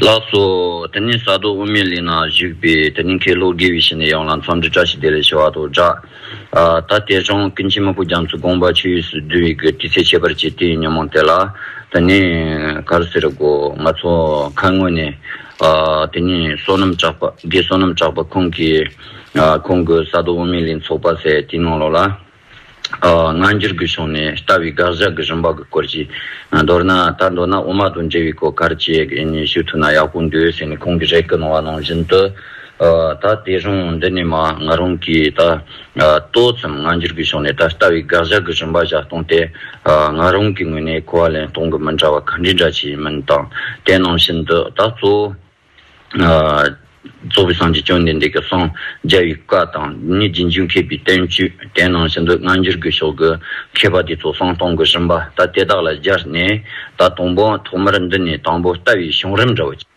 ལགས་སོ། དེ་ནས་ས་རྡོ་དབུ་མའི་གླིང་ན་བཞུགས་པའི་དེ་རིང་ཁེ་ལྷོ་དགེ་བའི་ཞིང་ནས་ཡོང་ལ་མཚམས་འདྲི་བཀྲ་ཤིས་བདེ་ལེགས་ཞུ་བ་དང་སྦྲགས། ད་ལྟའི་གཞུང་ཀུན་མཁྱེན་མ་ཕུ་རྒྱ་མཚོ་དགོངས་པ་ཆོས་ཡུས་སུ་བསྡུ་བའི་དགེ་བསྐྲི་ཚེ་ཁྱད་པར་བྱེད་དེའི་ཉོན་མོངས་དེ་ལ་དེ་ནས་གར་ཟེར་དགོ་ང་ཚོ་ཁ་སྔོན་ནས་དེ་ནས་བསོད་ནམས་གྲགས་པ་དགེ་བསོད་ནམས་གྲགས་པ་ཁོང་གིས་ཁོང་གི་ས་རྡོ་དབུ་མའི་གླིང་ཚོགས་པ་ཟེར་དེའི་ནང་ལོགས་ལ། སྔ་འགྱུར་གྱི་གཞུང་ནས་ལྟ་བའི་དགག་བཞག་གི་རིམ་པ་གྱི་སྐོར་ཞིག་མདོར་ན་ད་མདོར་ན་དབུ་མ་དང་འབྲེལ་བའི་སྐོར་གར་བྱེད་ཡིན་ནི་ཞུ་ཐུབ་ན་ཡག་པོ་འདུག་ཟེར་ནས་ཁོང་གིས་རེ་སྐུལ་གནང་བ་ནང་བཞིན་དུ། ད་དེ་རིང་འདི་ནས་མ་ང་རང་གིས་ད་ཏོག་ཙམ་སྔ་འགྱུར་གྱི་གཞུང་ནས་ད་ལྟ་བའི་དགག་བཞག་གི་རིམ་པ་བཞག་སྟངས་དེ་ང་རང་གི་ངོས་ནས་གོ་བ་ལེན་སྟངས་ཀྱི་མི་འདྲ་བ་ག་འདྲའི་འདྲ་ཆེ་ཡིན་མིན་དང་དེ་ནང་བཞིན་དུ་ད་གཙོ་བོ། གཙོ་བོ་སངས་རྒྱས་བཅོམ་ལྡན་འདས་ཀྱི་གསང་རྒྱ་ཡི་བཀའ་དང་ནི་རྗེས་འཇུག་མཁས་པའི་བསྟན་བཅོས་དེ་ནང་བཞིན་དུ་སྔ་འགྱུར་གྱི་ཕྱོགས་ཀྱི་མཁས་པ་དེ་ཚོ་གསང་སྟོང་གི་རིམ་པ་ལྟ་དེ་དག་ལ་སྦྱར་ནས་ད་དུང་བོ་ཐོག་མར་འདི་ནས་དང་པོ་ལྟ་བའི་བྱུང་རིམ་འདྲ་བོ་གཅིག་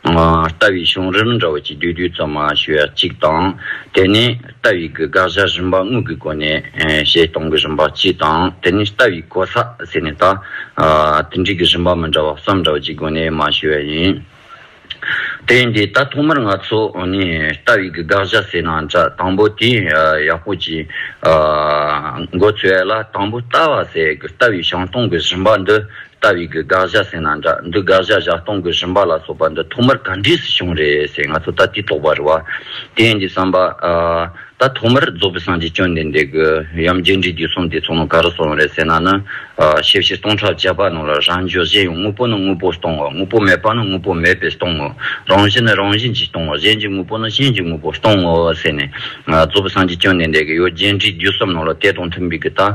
ལྟ་བའི་བྱུང་རིམ་འདྲ་བོ་གཅིག་བསྡུས་བསྡུས་ཙམ་མ་ཞུ་བ་གཅིག་དང་དེ་ནས། རྟ་ཡིག་གི་དགག་བྱ་རིམ་པ་དངོས་ཀྱི་སྒོ་ནས་བཤད་སྟངས་ཀྱི་རིམ་པ་སྤྱི་དང་དེ་ནི་རྟ་ཡིག་གོ་ས་ཟེར་ནས་ད་དེ་འབྲེལ་གྱི་རིམ་པ་མི་འདྲ་བ་གསུམ་འདྲ་བ་གཅིག་སྒོ་ནས་མ་ཤེས་པ་ཡིན། དེ་ཡིན་དུས་ད་ཐོག་མར་ང་ཚོ་ནི་རྟ་ཡིག་གི་དགག་བྱ་ཟེར་ན་འདྲ་དང་པོ་དེ་ཡག་པོ་གྱིས་མགོ་ཚོས་ལ་དང་པོ་རྟ་བ་ཟེར་གི་རྟ་བའི་བྱང་སྟངས་ཀྱི་རིམ་པ་འདི་ལྟ་བའི་གི་དགག་བཞག་ཟེར་ན་འདྲ་འདི་དགག་བཞག་བཞག་སྟོང་གི་ཞུམ་པ་ལ་སོགས་པ་འདི་ཐོག་མར་ག་འདྲིས་སུ་བྱུང་རེད་ཟེར་ང་ཚོ་ད་དུས་དོགས་པ་རེད་བ། དེ་ཡིན་གྱི་བསམ་པ། ད་ཐོག་མར་རྫོགས་པའི་སངས་རྒྱས་སྐྱོན་འདི་འདེགས་གི་ཡམ་རྒྱལ་འབྲི་རྒྱུ་གསུམ་དེ་ཚོ་ནང་ག་རུ་སོང་རེད་ཟེར་ན་ནི། ཞེ་བཞི་སྟོང་ཕྲག་བརྒྱད་པ་ནང་ལ་རང་འཇོག་གཞན་ཡང་དངོས་པོ་ནི་དངོས་པོས་སྟོང་ངོ་དངོས་པོ་མེད་པ་ནི་དངོས་པོ་མེད་པས་སྟོང་ངོ། རང་བཞིན་ནི་རང་བཞིན་གྱིས་སྟོང་ངོ་གཞན་གྱི་དངོས་པོ་ནི་གཞན་གྱི་དངོས་པོས་སྟོང་ངོ་ཟེར་ནས། རྫོགས་པའི་སངས་རྒྱས་སྐྱོན་འདི་འདེགས་གི་ཡོད་རྒྱལ་འབྲི་རྒྱུ་གསུམ་ནང་ལ་དེ་དང་མཐུན་པའི་གི་ལྟ།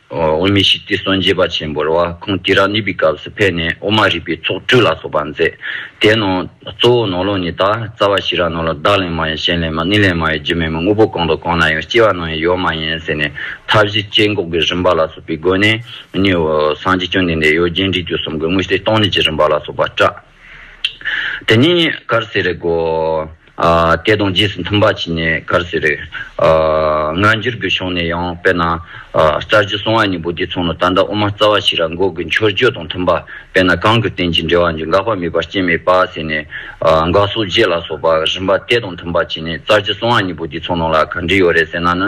དབུས་མི་ཞིག་སྟེ་སྲོན་རྗེ་པ་ཆེན་པོར་བ་ཁོང་དི་ར་ནི་པའི་སྐབས་སུ་ཕེབས་ནས་དབུ་མ་རིག་པའི་ཚོགས་སྤྲུལ་ལ་སོགས་པ་མཛད། དེའི་ནང་གཙོ་བོ་ནོར་ལོངས་ནི་ད་རྩ་བ་ཤི་ར་ནོར་ལ་བདག་ལས་མ་ཡིན་གཞན་ལས་མ་ནི་ལས་མ་ཡིན་རྒྱུ་མེད་མོད་དངོས་པོ་གང་དང་གང་ན་ཡང་སྐྱེ་བ་ནང་ཡང་ཡོད་མ་ཡིན་ཟེར་ནས་མཐའ་བཞི་སྐྱེ་འགོག་གི་རིམ་པ་ལ་སོགས་པའི་སྒོ་ནས་ནི། སངས་རྒྱས་སྐྱོན་ལྡན་འདས་ཡོད་རྒྱན་འབྲིང་བཅུ་གསུམ་གྱི་དངོས་སྟེ་སྟོང་ཉིད་ཀྱི་རིམ་པ་ལ་སོགས་པ་བཀྲལ། དེ་ནས་ཀར་སེ་རི་སྒོ་དེ་དང་རྗེས་སུ་མཐུན་པར་བྱས་ནས་ཀར་སེ་རི་སྔ་འགྱུར་གྱི་གཞུང་ནས་ཡང་དཔེར་ན་རྩྭ་ཆུ་སྲུང་བ་ནི་བུ་དེ་ཚོ་ནི་ད་ལྟ་དབུ་མ་རྩ་བ་ཞིག་ར་འགོག་གི་མཆོད་བརྗོད་དང་མཐུན་པ་དཔེར་ན་གང་གི་རྟེན་ཅིང་འབྲེལ་བ་འཇུག་འགག་པ་མེད་པར་སྐྱེ་མེད་པ་ཟེར་ནས་འགག་སོགས་རྗེས་ལ་སོགས་པ་རིམ་པ་དེ་དང་མཐུན་པར་བྱས་ནས་རྩྭ་ཆུ་སྲུང་བ་ནི་བུ་དེ་ཚོ་ནང་ལ་ག་འདྲི་ཡོད་རེད་ཟེར་ན་ནི།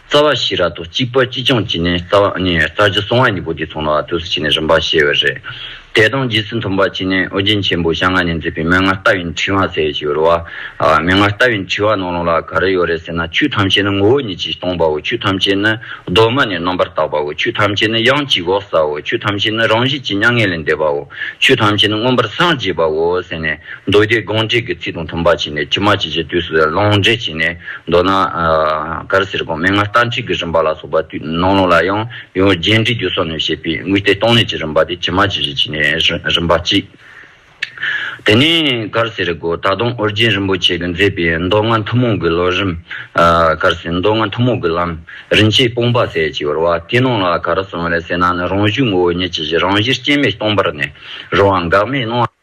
རྩ་བ་ཤེས་ར་དོ་གཅིག་པ་ཅི་ཅང་ཅི་ནས་རྩ་བ་ཨ་ནི་ཡའི་རྩ་རྒྱུ་སོང་བ་གཉིས་པོ་དེ་ཚོང་ལ་ཨ་ཐུགས་སུ་བྱས་ནས་རིམ་པར་ཤེས་བས་རེད། དད་དང་རྗེས་སུ་མཐུན་པར་བྱས་ནས་ཨོ་རྒྱན་ཆེན་པོ་ཞག་ལྔ་ནས་མཛད་པའི་མན་ངག་ལྟ་བའི་འཁྲིལ་བ་ཟེར་བ་ཞིག་ཡོད་རེད་བ། མན་ངག་ལྟ་བའི་འཁྲིལ་བ་ནང་ལུང་ལ་ག་རེ་ཡོད་རེད་ཟེར་ན་ཆོས་ཐམས་ཅད་ནི་ངོ་བོ་ཉིད་ཀྱིས་སྟོང་པའོ་ཆོས་ཐམས་ཅད་ནི་གདོད་མ་ནས་རྣམ་པར་དག་པའོ་ཆོས་ཐམས་ཅད་ནི་དབྱངས་ཀྱི་འོག་སའོ་ཆོས་ཐམས་ཅད་ནི་རང་བཞིན་གྱིས་མྱ་ངན་ལས་འདས་པའོ་ཆོས་ཐམས་ཅད་ནི་མངོན་པར་སངས་རྒྱས་པའོ་ཟེར་ནས། རྡོ་རྗེ་དགོངས་བཅས་ཀྱི་ཚིག་དང་མཐུན་པ་བྱས་ནས་ཕྱི་མ་ཇི་བཞིན་དུས་སུ་ལོངས་སྤྱད་བྱས་ནས་མདོར་ན། གར་སེར་གོང་མའི་སྔར་ལྟར་འཁྲིག་གི་རིམ་པ་ལ་སོགས་པ་དུས་སྣང་ལུང་ལ་ཡང་ཡང་རྗེས་འདྲིས་རྒྱུ་སོགས་ནས་བཤད་པའི་དངོས་སྟེ་སྟོང་ལས་ཀྱི་རིམ་པ་དེ་ཕྱི་མ་ཇི་བཞིན་བྱས་ནས་རིམ་པ་གཅིག། དེ་ནས་གར་སེར་སྒོ་ད་དུང་ཨོ་རྒྱན་རིན་པོ་ཆེས་མཛད་པའི་མདོ་སྔགས་ཐུན་མོང་གི་ལོ་རིམ། གར་སེར་མདོ་སྔགས་ཐུན་མོང་གི་ལམ་རིམ་ཆེས་སྤོང་པ་ཟད་ཅིག་བར་བ་དེའི་ནང་ལ་གར་སོང་བས་སེར་སྣ་ནི་རང་བཞུགས་ངོ་བོ་ཉིད་ཀྱི་གཞི་རང་བཞིན་སྐྱེ་མེད་སྟོང་པར་གནས། རོ་འགག་མེད་སྣང་བ།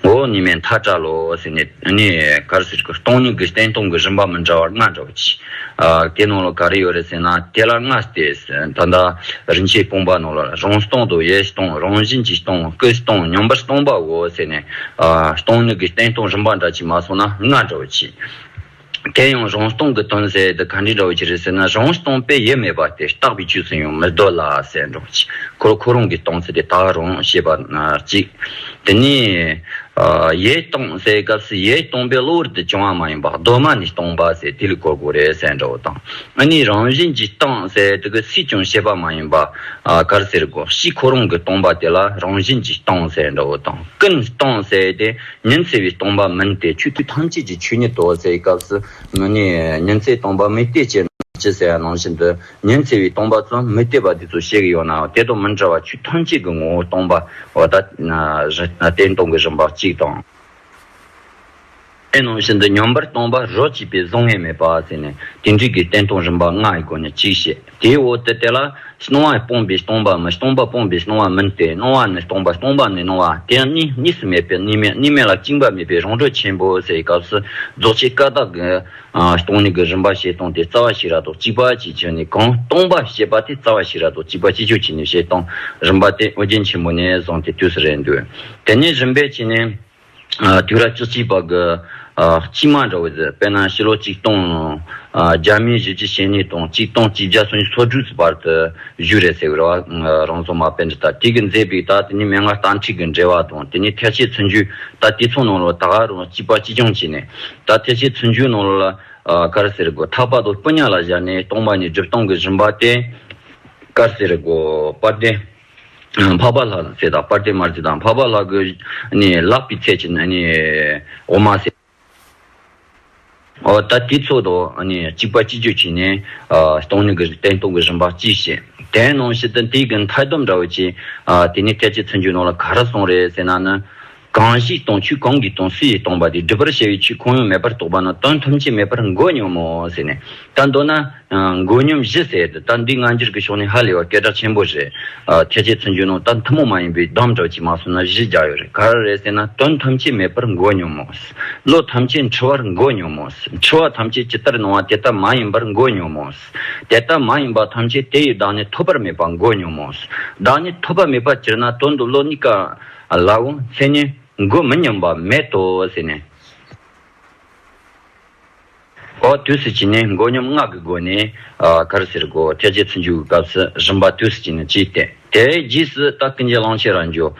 འོག་ནས་མེ་མཐའ་བཀྲལ་ལོ་ཟེར་ནས་ནི་གར་ཟེར་གྱི་སྟོང་ཉིད་ཀྱི་སྟན་སྟོང་གི་རིམ་པ་མི་འདྲ་བར་ལྔ་འདྲ་བ་གྱིས་བཀའི་ནང་ལ་ག་རེ་ཡོད་རེད་ཟེར་ན་དེ་ལ་ལྔ་སྟེ། ད་ལྟ་རིན་ཆེན་སྤུངས་པ་ནང་ལ་རང་སྟོང་དང་ཡེ་སྟོང་རང་བཞིན་གྱི་སྟོང་སྐུའི་སྟོང་སྙོམས་པར་སྟོང་པའོ་ཟེར་ནས་སྟོང་ཉིད་ཀྱི་སྟན་སྟོང་རིམ་པ་འདྲ་གྱིས་མ་སོང་ན་ལྔ་འདྲ་བ་གྱིས། དེ་ཡང་རང་སྟོང་གི་དོན་ཟེར་དེ་ག་འདྲའི་འདྲ་བོ་ཅི་རེད་ཟེར་ན་རང་སྟོང་དཔེ་ཡོད་མེད་པ་དེ་རྟག་པའི་ཆོས་སུ་ཡང་མི་འདོད་ལ་ཟེར་འགྲོ་གི་ཁོ་ཁོ་རང་གི་སྟོང་ཟེར་དེ་དག་རང་ཞེས་པ་ན་གཅིག་དེ་ནས་ཡས་སྟོང་ཟེར་སྐབས་སུ་ཡས་སྟོང་པའི་གློ་བུར་དུ་བྱུང་བ་མ་ཡིན་པ་གདོད་མ་ནས་སྟོང་པ་ཟེར་དེ་ལས་གོ་དགོས་རེད་ཟེར་འདྲ་བོ་དང་ཨ་ནི་རང་བཞིན་གྱིས་སྟོང་ཟེར་དེ་གི་སུས་ཀྱང་ཤེས་པ་མ་ཡིན་པ་གར་ཟེར་དགོས་ཤིག་ཁོ་རང་གི་སྟོང་པ་དེ་ལ་རང་བཞིན་གྱིས་སྟོང་ཟེར་འདྲ་བོ་དང་ཀུན་སྟོང་ཟེར་དེ་ཉིན་བརྩེ་བའི་སྟོང་པ་མིན་ཏེ་ཆོས་སྐུ་ཐམས་ཅད་ཀྱི་ཆོས་ཉིད་དོ་ཟེར་བའི་སྐབས་སུ་མི་ནི། ཉིན་བརྩེའི་སྟོང་པ་མི་གཏད་ཅེས་ཅི་ཟེར་ཡང་ནང་བཞིན་དུ་ཉིན་བརྩེ་བའི་སྟོང་པ་ཙམ་མི་གཏད་པ་འདི་ཚོ་བཤད་གི་ཡོད་ནའང་དེ་དང་མི་འདྲ་བར་ཆོས་ཐམས་ཅད་ཀྱི་ངོ་བོ་སྟོང་པ་བ་ད་གཏན་སྟོང་གི་རིམ་པ་གཅིག་དང། དེ་ནང་བཞིན་དུ་ཉམས་པར་སྟོང་པ་རོ་གཅིག་པས་གཟུང་ངེས་མེད་པ་ཟེར་ནས་དེ་འདྲིས་ཀྱི་གཏན་སྟོང་རིམ་པ་ལྔའི་སྒོ་ནས་གཅིག་བཤད། དེའི་འོག་ཏུ་དེ་ལ། སྣང་བ་སྤངས་པའི་སྟོང་པའམ་སྟོང་པ་སྤངས་པའི་སྣང་བ་མིན་ཏེ་སྣང་བ་ནི་སྟོང་པ་སྟོང་པ་ནི་སྣང་བ་དེ་ཡང་གཉིས་གཉིས་སུ་མེད་པས་གཉིས་མེད་གཉིས་མེད་ལ་བཅིངས་པ་མེད་པའི་རང་གྲོལ་ཆེན་པོ་སའི་སྐབས་སུ་རྫོགས་ཆེན་ཀ་དག་གི། སྟོང་ཉིད་ཀྱི་རིམ་པ་ཞེས་སྟོང་དེ་རྩ་བ་ཤེས་རབ་རྡོ་གཅིག་པ་ཅེས་བྱས་ནས་གང་སྟོང་པ་ཞེས་པ་དེ་རྩ་བ་ཤེས་རབ་རྡོ་གཅིག་པ་ཅི་ཕྱོགས་ཀྱི་ནི་ཞེས་སྟོང་རིམ་པ་དེ་ཨོ་རྒྱན་ཆེན་པོ་ནས་བཟུང་སྟེ་དུས་སུ་རེ་འདོད་དེ་ནི་རིམ་པས་བྱས་ནས། དུས་རབས་བཅུ་གཅིག་པ་གི་དཔྱིད་དམག་འདྲ་བོ་དེ་དཔལ་ནང་ཕྱི་ལོ་ཆིག་སྟོང་བརྒྱ་མེད་བཞི་བཅུ་ཞེ་གཉིས་དང་ཆིག་སྟོང་བཅིས་བརྒྱ་སོ་གཉིས་སོ་དྲུག་ཚུ་བར་དུ་བཞུགས་རེད་ཟེར་བའི་རེ་བ་རང་བཟོ་མ་དཔེ་འདི་ལྟར་དུས་ཀྱི་མཛེས་པའི་རྟགས་དེ་ནི་མན་ངག་གཏམ་ཁྲིད་ཀྱི་འགྲེལ་བ་དང་དེ་ནི་ཐལ་ཆེ་ཚུལ་འཇུག་ད་དེ་ཚོ་ནང་ལ་ད་ག་རང་སྐྱིད་པ་སྐྱིད་སྐྱོང་བྱས་ནས་ད་ཐལ་ཆེ་ཚུལ་འཇུག་ནང་ལ་དཀར་ཟེར་དགོས་ཐག་པ་དང་སྤུ་ཉག་ལ་བཞག་ནས་སྟོང་པ་ནས་སྒྲིབ་སྟོང་གི་རིམ་པ་བསྟན་དཀར་ཟེར་དགོས་པར་བདེན། འཕགས་པ་ལྷ་ཚེ་དང་པར་ཏེ་མར་ཚེ་དང་འཕགས་པ་ལྷ་གོས་བརླག་པའི་ཚད་ཀྱི་འོ་མ་བསྲེགས། ད་དེའི་ཚོགས་དང་གཅིག་པ་ཅི་བརྗོད་བྱས་ནས། སྟོང་ཉིད་ཀྱི་སྟན་སྟོང་གི་རིམ་པ་ཅིའི་ཕྱིར། དེའི་ནང་བཞིན་དུ་དེའི་གིས་མཐའི་སྡོམ་འདྲ་བོ་བྱས། དེ་ནས་ཐེག་ཆེན་ཚུན་ཆོད་ནང་ལ་ག་རེ་གསུངས་རེད་ཟེར་ན་ནི། གང་ཞིག་སྟོང་ཆོས་གང་གིས་སྟོང་སུ་ཡིས་སྟོང་པ་དེ་སྒྲུབ་པར་བྱ་བའི་ཆོས་གང་ཡང་མེད་པར་རྟོགས་པ་ན་དོན་ཐམས་ཅད་མེད་པར་མགོ་སྙོམ་མོ་ཟེར་ནས་ད་མདོར་ན། མགོ་སྙོམ་བཞི་ཟེར་ད་འདི་སྔ་འགྱུར་གྱི་ཕྱོགས་ནས་ཧ་ལས་བ་སྐད་གྲགས་ཆེན་པོ་རེད། ཐེག་ཆེན་ཚུལ་འཇུག་ནང་ད་ཐུན་མོང་མ་ཡིན་པའི་གདམས་གྲགས་ཀྱིས་མ་སོང་ན་བཞི་བརྒྱ་ཡོད་རེད་ག་རེ་རེད་ཟེར་ན་དོན་ཐམས་ཅད་མེད་པར་མགོ་སྙོམ་མོ། བློ་ཐམས་ཅད་འཁྲུལ་བར་མགོ་སྙོམ་མོ། འཁྲུལ་བ་ཐམས་ཅད་ཇི་ལྟར་སྣང་བ་དེ་ལྟ་མ་ཡིན་པར་མགོ་སྙོམ་མོ། དེ་ལྟ་མ་ཡིན་པ་ཐམས་ཅད་དེ་ཡི་བདག་ནི་ཐོབ་པར་མེད་པར་མགོ་སྙོམ་མོ། བདག་ནི་ཐོབ་པ་མེད་པར་གྱུར་ན་དོན་དུ་བློ་གཉིས་ཀ། ལགས། མཚན་ཉིད་དགུ་མི་སྙོམས་པ་མེད་དོ་ཟེར་ནས། ཨོ་དུས་སུ་བྱིན་ནི་མགོ་སྙོམས་སྔགས་ཀྱི་སྒོ་ནས་གར་ཟེར་སྒོ་ཐལ་བྱེད་ཚུར་འཇུག་གི་སྐབས་སུ་རིམ་པ་དུས་སུ་བྱིན་ནི་གཅིག་སྟེ་དེའི་རྗེས་སུ་རྟགས་ཀུན་རྗེས་གླང་ཆེན་རང་བྱོན།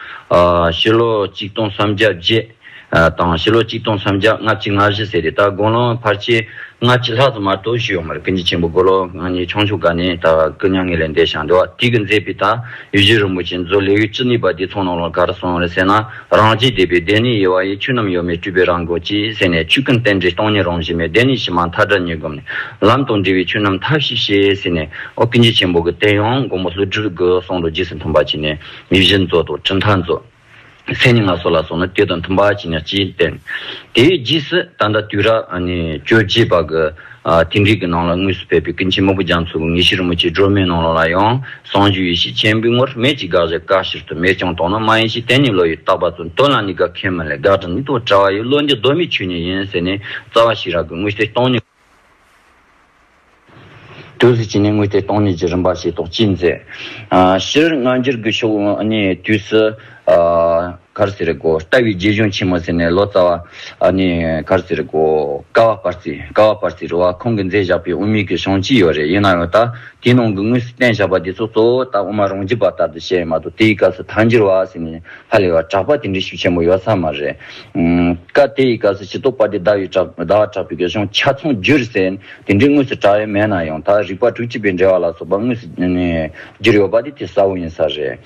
ཕྱི་ལོ་གཅིག་སྟོང་སུམ་བརྒྱ་བརྒྱད། དང་ཕྱི་ལོ་གཅིག་སྟོང་སུམ་བརྒྱ་ལྔ་བཅུ་ལྔ་བཞི་ཟེར་རེད་ད་དགུང་ལོ་འཕར་ཆེད་ལྔ་བཅུ་ལྷག་ཙམ་མ་གཏོགས་བཞུགས་ཡོང་མ་རེད་ཀུན་གྱི་ཆེན་པོ་དགུ་ལོ་ང་ཉིད་ཆུང་ཆུང་ག་ནས་ད་སྐུ་མྱ་ངན་ལས་འདས་ཞག་འདི་བ་དུས་ཀྱི་མཛད་པའི་དང་ཡུལ་གཞི་རིན་པོ་ཆེ་མཛོད་ལེགས་ཡུལ་ཅི་ནུས་པ་དེ་ཚོང་ནང་ལོག་གར་སོང་རེད་ཟེར་ན་རང་རྗེས་དད་པའི་བདེན་གནས་ཡེ་བ་ཡི་ཆོས་རྣམས་ཡོད་མེད་སྤྲུལ་པའི་རང་དགོངས་ཀྱིས་ཟེར་ནས་ཆོས་ཀུན་རྟེན་འབྲེལ་སྟོང་ཉིད་རང་བཞིན་མེད་བདེན་གནས་ཕྱི་མ་མཐའ་དགྲ་གཉིས་བསྒོམས་ནས་ལམ་དང་འབྲེལ་བའི་ཆོས་རྣམས་ཐབས་ཤེས་ཤེས་ཟེར་ནས་ཨོ་ཀུན་གྱི་ཆེན་པོ་གི་བསྟན་ཡང་དགོངས་པ་ལྷུ་སྒྲུབ་དགོས་གསུངས་འདུག་རྗེས་སུ་མཐུན་པ་བྱས་ནས་ཡུལ་གཞི་མཛོད་དང་སྤྲིན་མཐའ་མཛོད། མཚན་ཉིད་སྣ་ཚོགས་ལ་སོགས་ནི་དེ་དང་མཐུན་པར་བགྱིད་ན་ཅིའི་བརྟེན། དེའི་རྗེས་སུ་ད་ལྟ་དུས་རབས་བཅོ་བརྒྱད་པ་གི་དེང་རིག་གི་ནང་ལ་དངོས་སུ་ཕེབས་པའི་ཀུན་མཁྱེན་མ་བུ་རྒྱ་མཚོ་གི་ངེས་ཤེས་རིན་པོ་ཆེའི་སྒྲོན་མེའི་ནང་ལོགས་ལ་ཡང་བཟང་སྤྱོད་ཡེ་ཤེས་ཆེན་པོའི་ངོར་མེད་ཀྱི་དགག་བཞག་དཀའ་ཕྱིར་དུ་མེད་ཀྱང་དོགས་ན་མ་ཡིན་ཞེས་དེ་ཉིད་བློ་ཡིས་བརྟགས་པ་ཚུར་འདོན་ལ་ནི་དགག་མཁན་མི་ལས་དགག་དྲང་ནི་དོགས་བྲལ་བ་ཡི་བློ་འདི་གདོད་མའི་ཆོས་ཉིད་ཡིན་ཟེར་ནས་རྩ་བ་ཞི་རགས་ཀྱི་དངོས་གཞི་སྟོང་ཉིད། དུས་སུ་བྱིན་ནས་དངོས་ཏེ་སྟོང་ཉིད་ཀྱི་རིམ་པ་ཞེས་དོགས་གཅིག་མཛད། ཕྱིར་སྔ་འགྱུར་དགུ་ཤོ་ནི་དུས་སུ། གར་སེར་སྒོ་རྟ་བའི་རྗེས་གཞུང་ཆེན་མོ་ཟེར་ནས་ལོ་ཙཱ་བ། ནི་གར་སེར་སྒོ། ཀ་བ་པར་ཙི། ཀ་བ་པར་ཙི་རུ་བ་ཁོང་གིས་མཛད་བཞག་པའི་དབུ་མེད་ཀྱི་གཞུང་ཅི་ཡོད་རེད་ཡིན་ན་ཡང་ད་དེའི་ནང་གི་དངོས་སུ་བསྟན་བཞག་པ་དེ་ཚོ་གཙོ་བོ་ད་དབུ་མ་རང་རྒྱུད་པ་ལྟར་དུ་བཤད་ཡོད་མ་གཏོགས་དེའི་སྐབས་སུ་ཐང་འགྱུར་བ་ཟེར་ནས་ཧ་ལས་པ་གྲགས་པ་དེ་འདྲའི་ཤུགས་ཆེན་པོ་ཡོད་ས་མ་རེད། སྐབས་དེ་ཡི་སྐབས་སུ་ཇི་ཏོག་པ་དེ་ཟླ་བས་གྲགས་པའི་གཞུང་ཆ་ཚང་བསྒྱུར་ཟེར་ནས་དེ་འདྲའི་དངོས་སུ་གྲགས་ཡོད་མེད་ན་ཡང་ད་རིག་པ་དྲུག་གཅིག་པའི་འགྲེལ་བ་ལ་སོགས་པ་དངོས་སུ་བསྒྱུར་ཡོད་པ་དེ་དེ་གསལ་བོ་ཡིན་ས་རེད།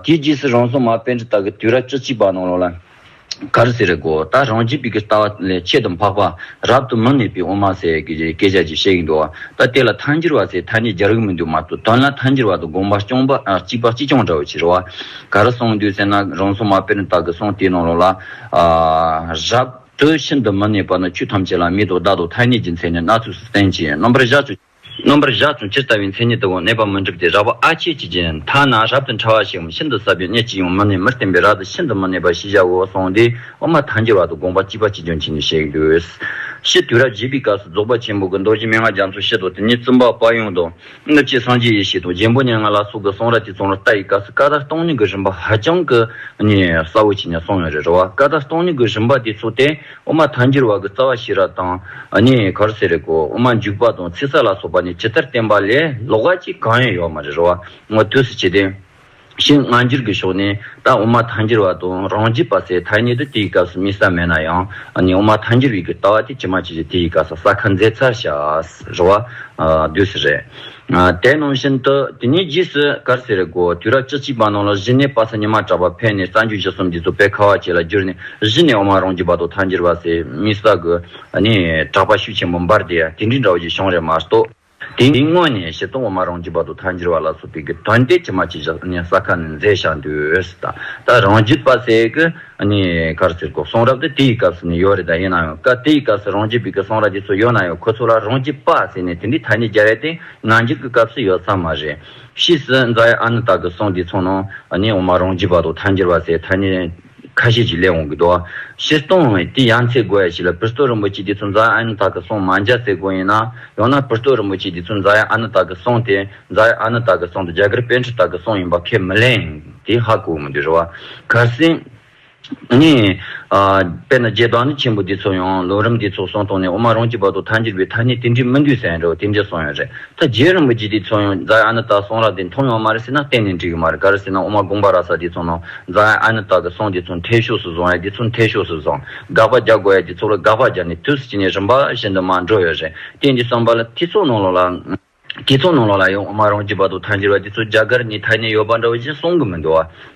དེའི་རྗེས་སུ་རང་སྲོང་མ་དཔལ་འབྲི་སྟག་གིས་དུས་རབས་བཅུ་གཅིག་པ་ནང་ལོགས་ལ། གར་ཟེར་དགོས་ད་རང་རྒྱལ་བོད་ཀྱི་ལྟ་བ་ལས་ཆེད་དུ་འཕགས་པ་རབ་ཏུ་མི་གནས་པའི་དབུ་མ་ཟེར་བའི་སྐད་ཆ་ཅིག་བཤད་ཀྱི་འདུག་ད་དེ་ལ་མཐའ་འགྱུར་བ་ཟེར་ཐ་སྙད་རྒྱག་རིགས་མི་འདུག་མ་གཏོགས་དོན་ལ་མཐའ་འགྱུར་བ་དང་དགོངས་པ་གཅིག་པ་གཅིག་རྐྱང་འདྲ་བའི་ཕྱིར་རོ། གར་སོང་དུས་ཟེར་ན་རང་སོང་མ་དཔེར་ན་བདག་གི་སོང་དེའི་ནང་ལོགས་ལ། རབ་ཏུ་ཤིན་ཏུ་མི་གནས་པ་ན་ཆོས་ཐམས་ཅད་ལ་མེད་དོ་བདག་དང་ཐ་སྙད་ཀྱི་མཚན་ནི་སྣ་ཚོགས་སུ་བསྟན་ཅིང་རྣམ་པར་གཞག་ཅིང། རྣམ་པར་གཞག་ཅིང་ཇི་ལྟ་བའི་མཚན་ཉིད་དུའང་གནས་པ་མི་འགྲུབ་སྟེ་རགས་པ་ཨ་ཕྱེད་ཀྱི་རྗེས་མཐའ་ན་རབ་ཏུ་ཕྲ་བ་ཞིགའམ་ཤིན་ཏུ་ཟབ་པའི་གནས་གཅིག་ཡང་མི་གནས་མི་བརྟན་པས་རགས་ཏུ་ཤིན་ཏུ་མི་གནས་པ་ཞེས་བྱ་བའོ་སོང་དེས་དབུ་མ་ཐལ་འགྱུར་བ་དང་དགོངས་པ་གཅིག་པ་གཅིག་ཀྱང་བྱིན་ནས་བཤད་དགོས། ཕྱིས་དུས་རབས་བཞི་པའི་སྐབས་སུ་རྫོགས་པ་ཆེན་པོ་དགུ་རྡོ་རྗེ་མན་ངག་རྒྱ་མཚོ་ཞེས་དང་དེ་ཉིད་བཙུན་པ་དཔའ་ཡུམ་དང། སྔགས་ཀྱི་སངས་རྒྱས་ཡེ་ཤེས་དང་རྒྱལ་པོ་སྙན་ངག་ལ་སོགས་ཀྱི་གསུང་རབ་ཀྱི་ཚོགས་རྣམས་རྟ་ཡི་སྐ་སྲི་ཀ་དག་སྟོང་ཉིད་ཀྱི་རིམ་པ་ཧ་ཅང་གི་གསལ་བོ་ཆེ་ནས་གསུངས་ཡོད་རེད་རེ་བ་ཀ་དག་སྟོང་ཉིད་ཀྱི་རིམ་པ་དེ་ཚོ་སྟེ་དབུ་མ་ཐང་འགྱུར་བ་གྱི་རྩ་བ་ཤེས་རབ་དང་གར་གསལ་རེ་གོ་དབུ་མ་འཇུག་པ་དང་ཚིག་གསལ་ལ་སོགས་པ་ནི་ཇི་ལྟར་བསྟན་པ་ལས་ལོགས་ཀ་གཅིག་གང་ཡང་ཡོད་མ་རེད་རེ་བ་ངོ་ཐུགས་སུ་ཆུད་དེ། ཞེས་སྔ་འགྱུར་གྱི་ཕྱོགས་ནས་ད་དབུ་མ་ཐལ་འགྱུར་བ་དང་རང་རྒྱུད་པ་ཚོས་ཐལ་ཉེ་དུ་དེའི་སྐབས་སུ་དམིགས་ས་མེད་ན་ཡང་ནི་དབུ་མ་ཐལ་འགྱུར་བའི་གྱི་ལྟ་བ་དེ་ཇི་མ་ཇི་བཞིན་དེའི་སྐབས་སུ་ས་ཁ་མཛད་ཚར་ཤཱས་རི་བ། བདུད་སི་རེད། དེ་ནང་བཞིན་དུ་དེ་ནས་རྗེས་སུ་ཀར་སི་རེ་དགོ་དུས་རབས་བཅུ་གཅིག་པ་ནང་ལ་གཞི་ནས་དཔག་ཚད་ཉི་མ་གྲགས་པ་ཕལ་ནས་རྩ་འགྱུར་བཞི་གསུམ་འདི་ཚོ་དཔེ་ཁ་བ་བྱེད་ལ་བསྒྱུར་ནས་གཞི་ནས་དབུ་མ་རང་རྒྱུད་པ་དང་ཐལ་འགྱུར་བ་ཚོས་དམིགས་ས་གི་ནི་གྲགས་པ་ཤུགས་ཆེན་པོ་འབར་དེ་དེ་འདྲའི་འདྲ་བོ་ཞིག་བྱུང་རེད་མ་གཏོགས། དེ་ནི་དངོས་གནས་བཤད་སྟོང་བ་མ་རང་གྱི་བར་དུ་མཐའ་འགྱུར་བ་ལ་སོགས་པའི་གི་དོན་ཏེ་ཕྱི་མ་ཅི་བཞག་ནས་ས་ཁ་ནས་མཛེས་བཞག་འདུས་ད་ལྟ་རང་རྒྱུད་པ་ཟེ་གི་ནི་གར་ཟེར་གོ་གསུང་རབ་ཏུ་དེའི་སྐབས་སུ་ནི་ཡོད་རེད་ད་ཡིན་ན་ཡང་ཀ་དེའི་སྐབས་སུ་རང་རྒྱུད་པའི་གི་གསུང་རབ་ཀྱི་ཚུལ་ཡོད་ན་ཡང་ཁོ་ཚོ་ལ་རང་རྒྱུད་པ་ཟེར་ནས་དེ་འདྲའི་ཐ་སྙད་རྒྱལ་བའི་སྟེ་ང་འགྱུར་གི་སྐབས་སུ་ཡོད་ས་མ་རེད། ཕྱིས་སུ་རྫ་ཡ་ཨ་ནུ་དག་གི་གསུང་དེའི་ཚུལ་ནང་ནི་འོ་མ་རང་རྒྱུད་པ་དང་མཐའ་འགྱུར་བ་ཟེར་ཐ་སྙད་ཁ་ཤས་ཀྱིས་ལས་དབང་གི་རྡོ་བ། ཤེལ་སྟོང་ལོང་ཡིན་དུས་ཡང་ཚེ་སྒོ་ཡ་ཞིག་ལ་པིར་སྟོད་རིན་པོ་ཆེ་འདི་ཚོ་འཛག་ཨ་ནི་ད་གི་སོང་མ་འཇའ་ཚེ་སྒོ་ཡིན་ན་ཡང་ན་པིར་སྟོད་རིན་པོ་ཆེ་འདི་ཚོ་འཛག་ཡ་ཨ་ནི་ད་གི་སོང་སྟེ་འཛག་ཡ་ཨ་ནི་ད་གི་སོང་དུ་རྒྱ་གར་དཔལ་ཁྲི་ད་གི་སོང་ཡིན་པ་ཁས་མི་ལེན། དེ་ཧ་གོ་མི་འདོད་རེད་བ། གལ་སྲིད། ངས། དཔེར་ན་རྒྱལ་བདག་ནི་ཆེན་པོ་འདི་ཚོ་ཡང་ལོ་རིམ་འདི་ཚོ་སོང་སྟོང་ནས་འོ་མ་རང་གི་བར་དུ་ཐ་འགྱུར་བའི་ཐ་སྙད་དེ་འབྲི་མི་འདོད་ཟེར་ཡ་འདྲ་བ་དེ་འདྲས་སོང་ཡོད་རེད། ད་རྗེ་རིན་པོ་ཆེ་དེ་ཚོ་ཡང་རྫ་ཨ་ནི་ཏག་སོང་ར་དེ་མཐོང་ཡོང་མ་རེད་ཟེར་ན་གཏན་ནས་འགྲིག་གི་མ་རེད་ག་རེ་ཟེར་ན་ཨོ་མ་དགོངས་པ་ར་ས་དེ་ཚོ་ནང་རྫ་ཨ་ནི་ཏག་གི་སོང་དེ་ཚོ་མཐའི་ཕྱོགས་སུ་བཟུང་ཡ་དེ་ཚོ་མཐའི་ཕྱོགས་སུ་བཟང་དགག་པ་རྒྱག་དགོ་ཡ་དེ་ཚོ་ལ་དགག་པ་རྒྱག་ནས་དུས་ཀྱི་ནས་རིམ་པ་བཞིན་དུ་མ་འགྲོ་ཡོད་རེད་གཏན་དེ་སོང་པ་ལ་དེ་ཚོ་ནང་ལོག་ལ་དེ་ཚོ་ནང་ལོག་ལ་ཡང་ཨོ་མ་རང་གི་བར་དུ་ཐ་འཇིག་ར་དེ་ཚོ་རྒྱ་གར་ནས་ཐ་ནས་ཡོད་པ་འདྲ་བ་བཞིན་སོང་གི་མི་འདུག་བ།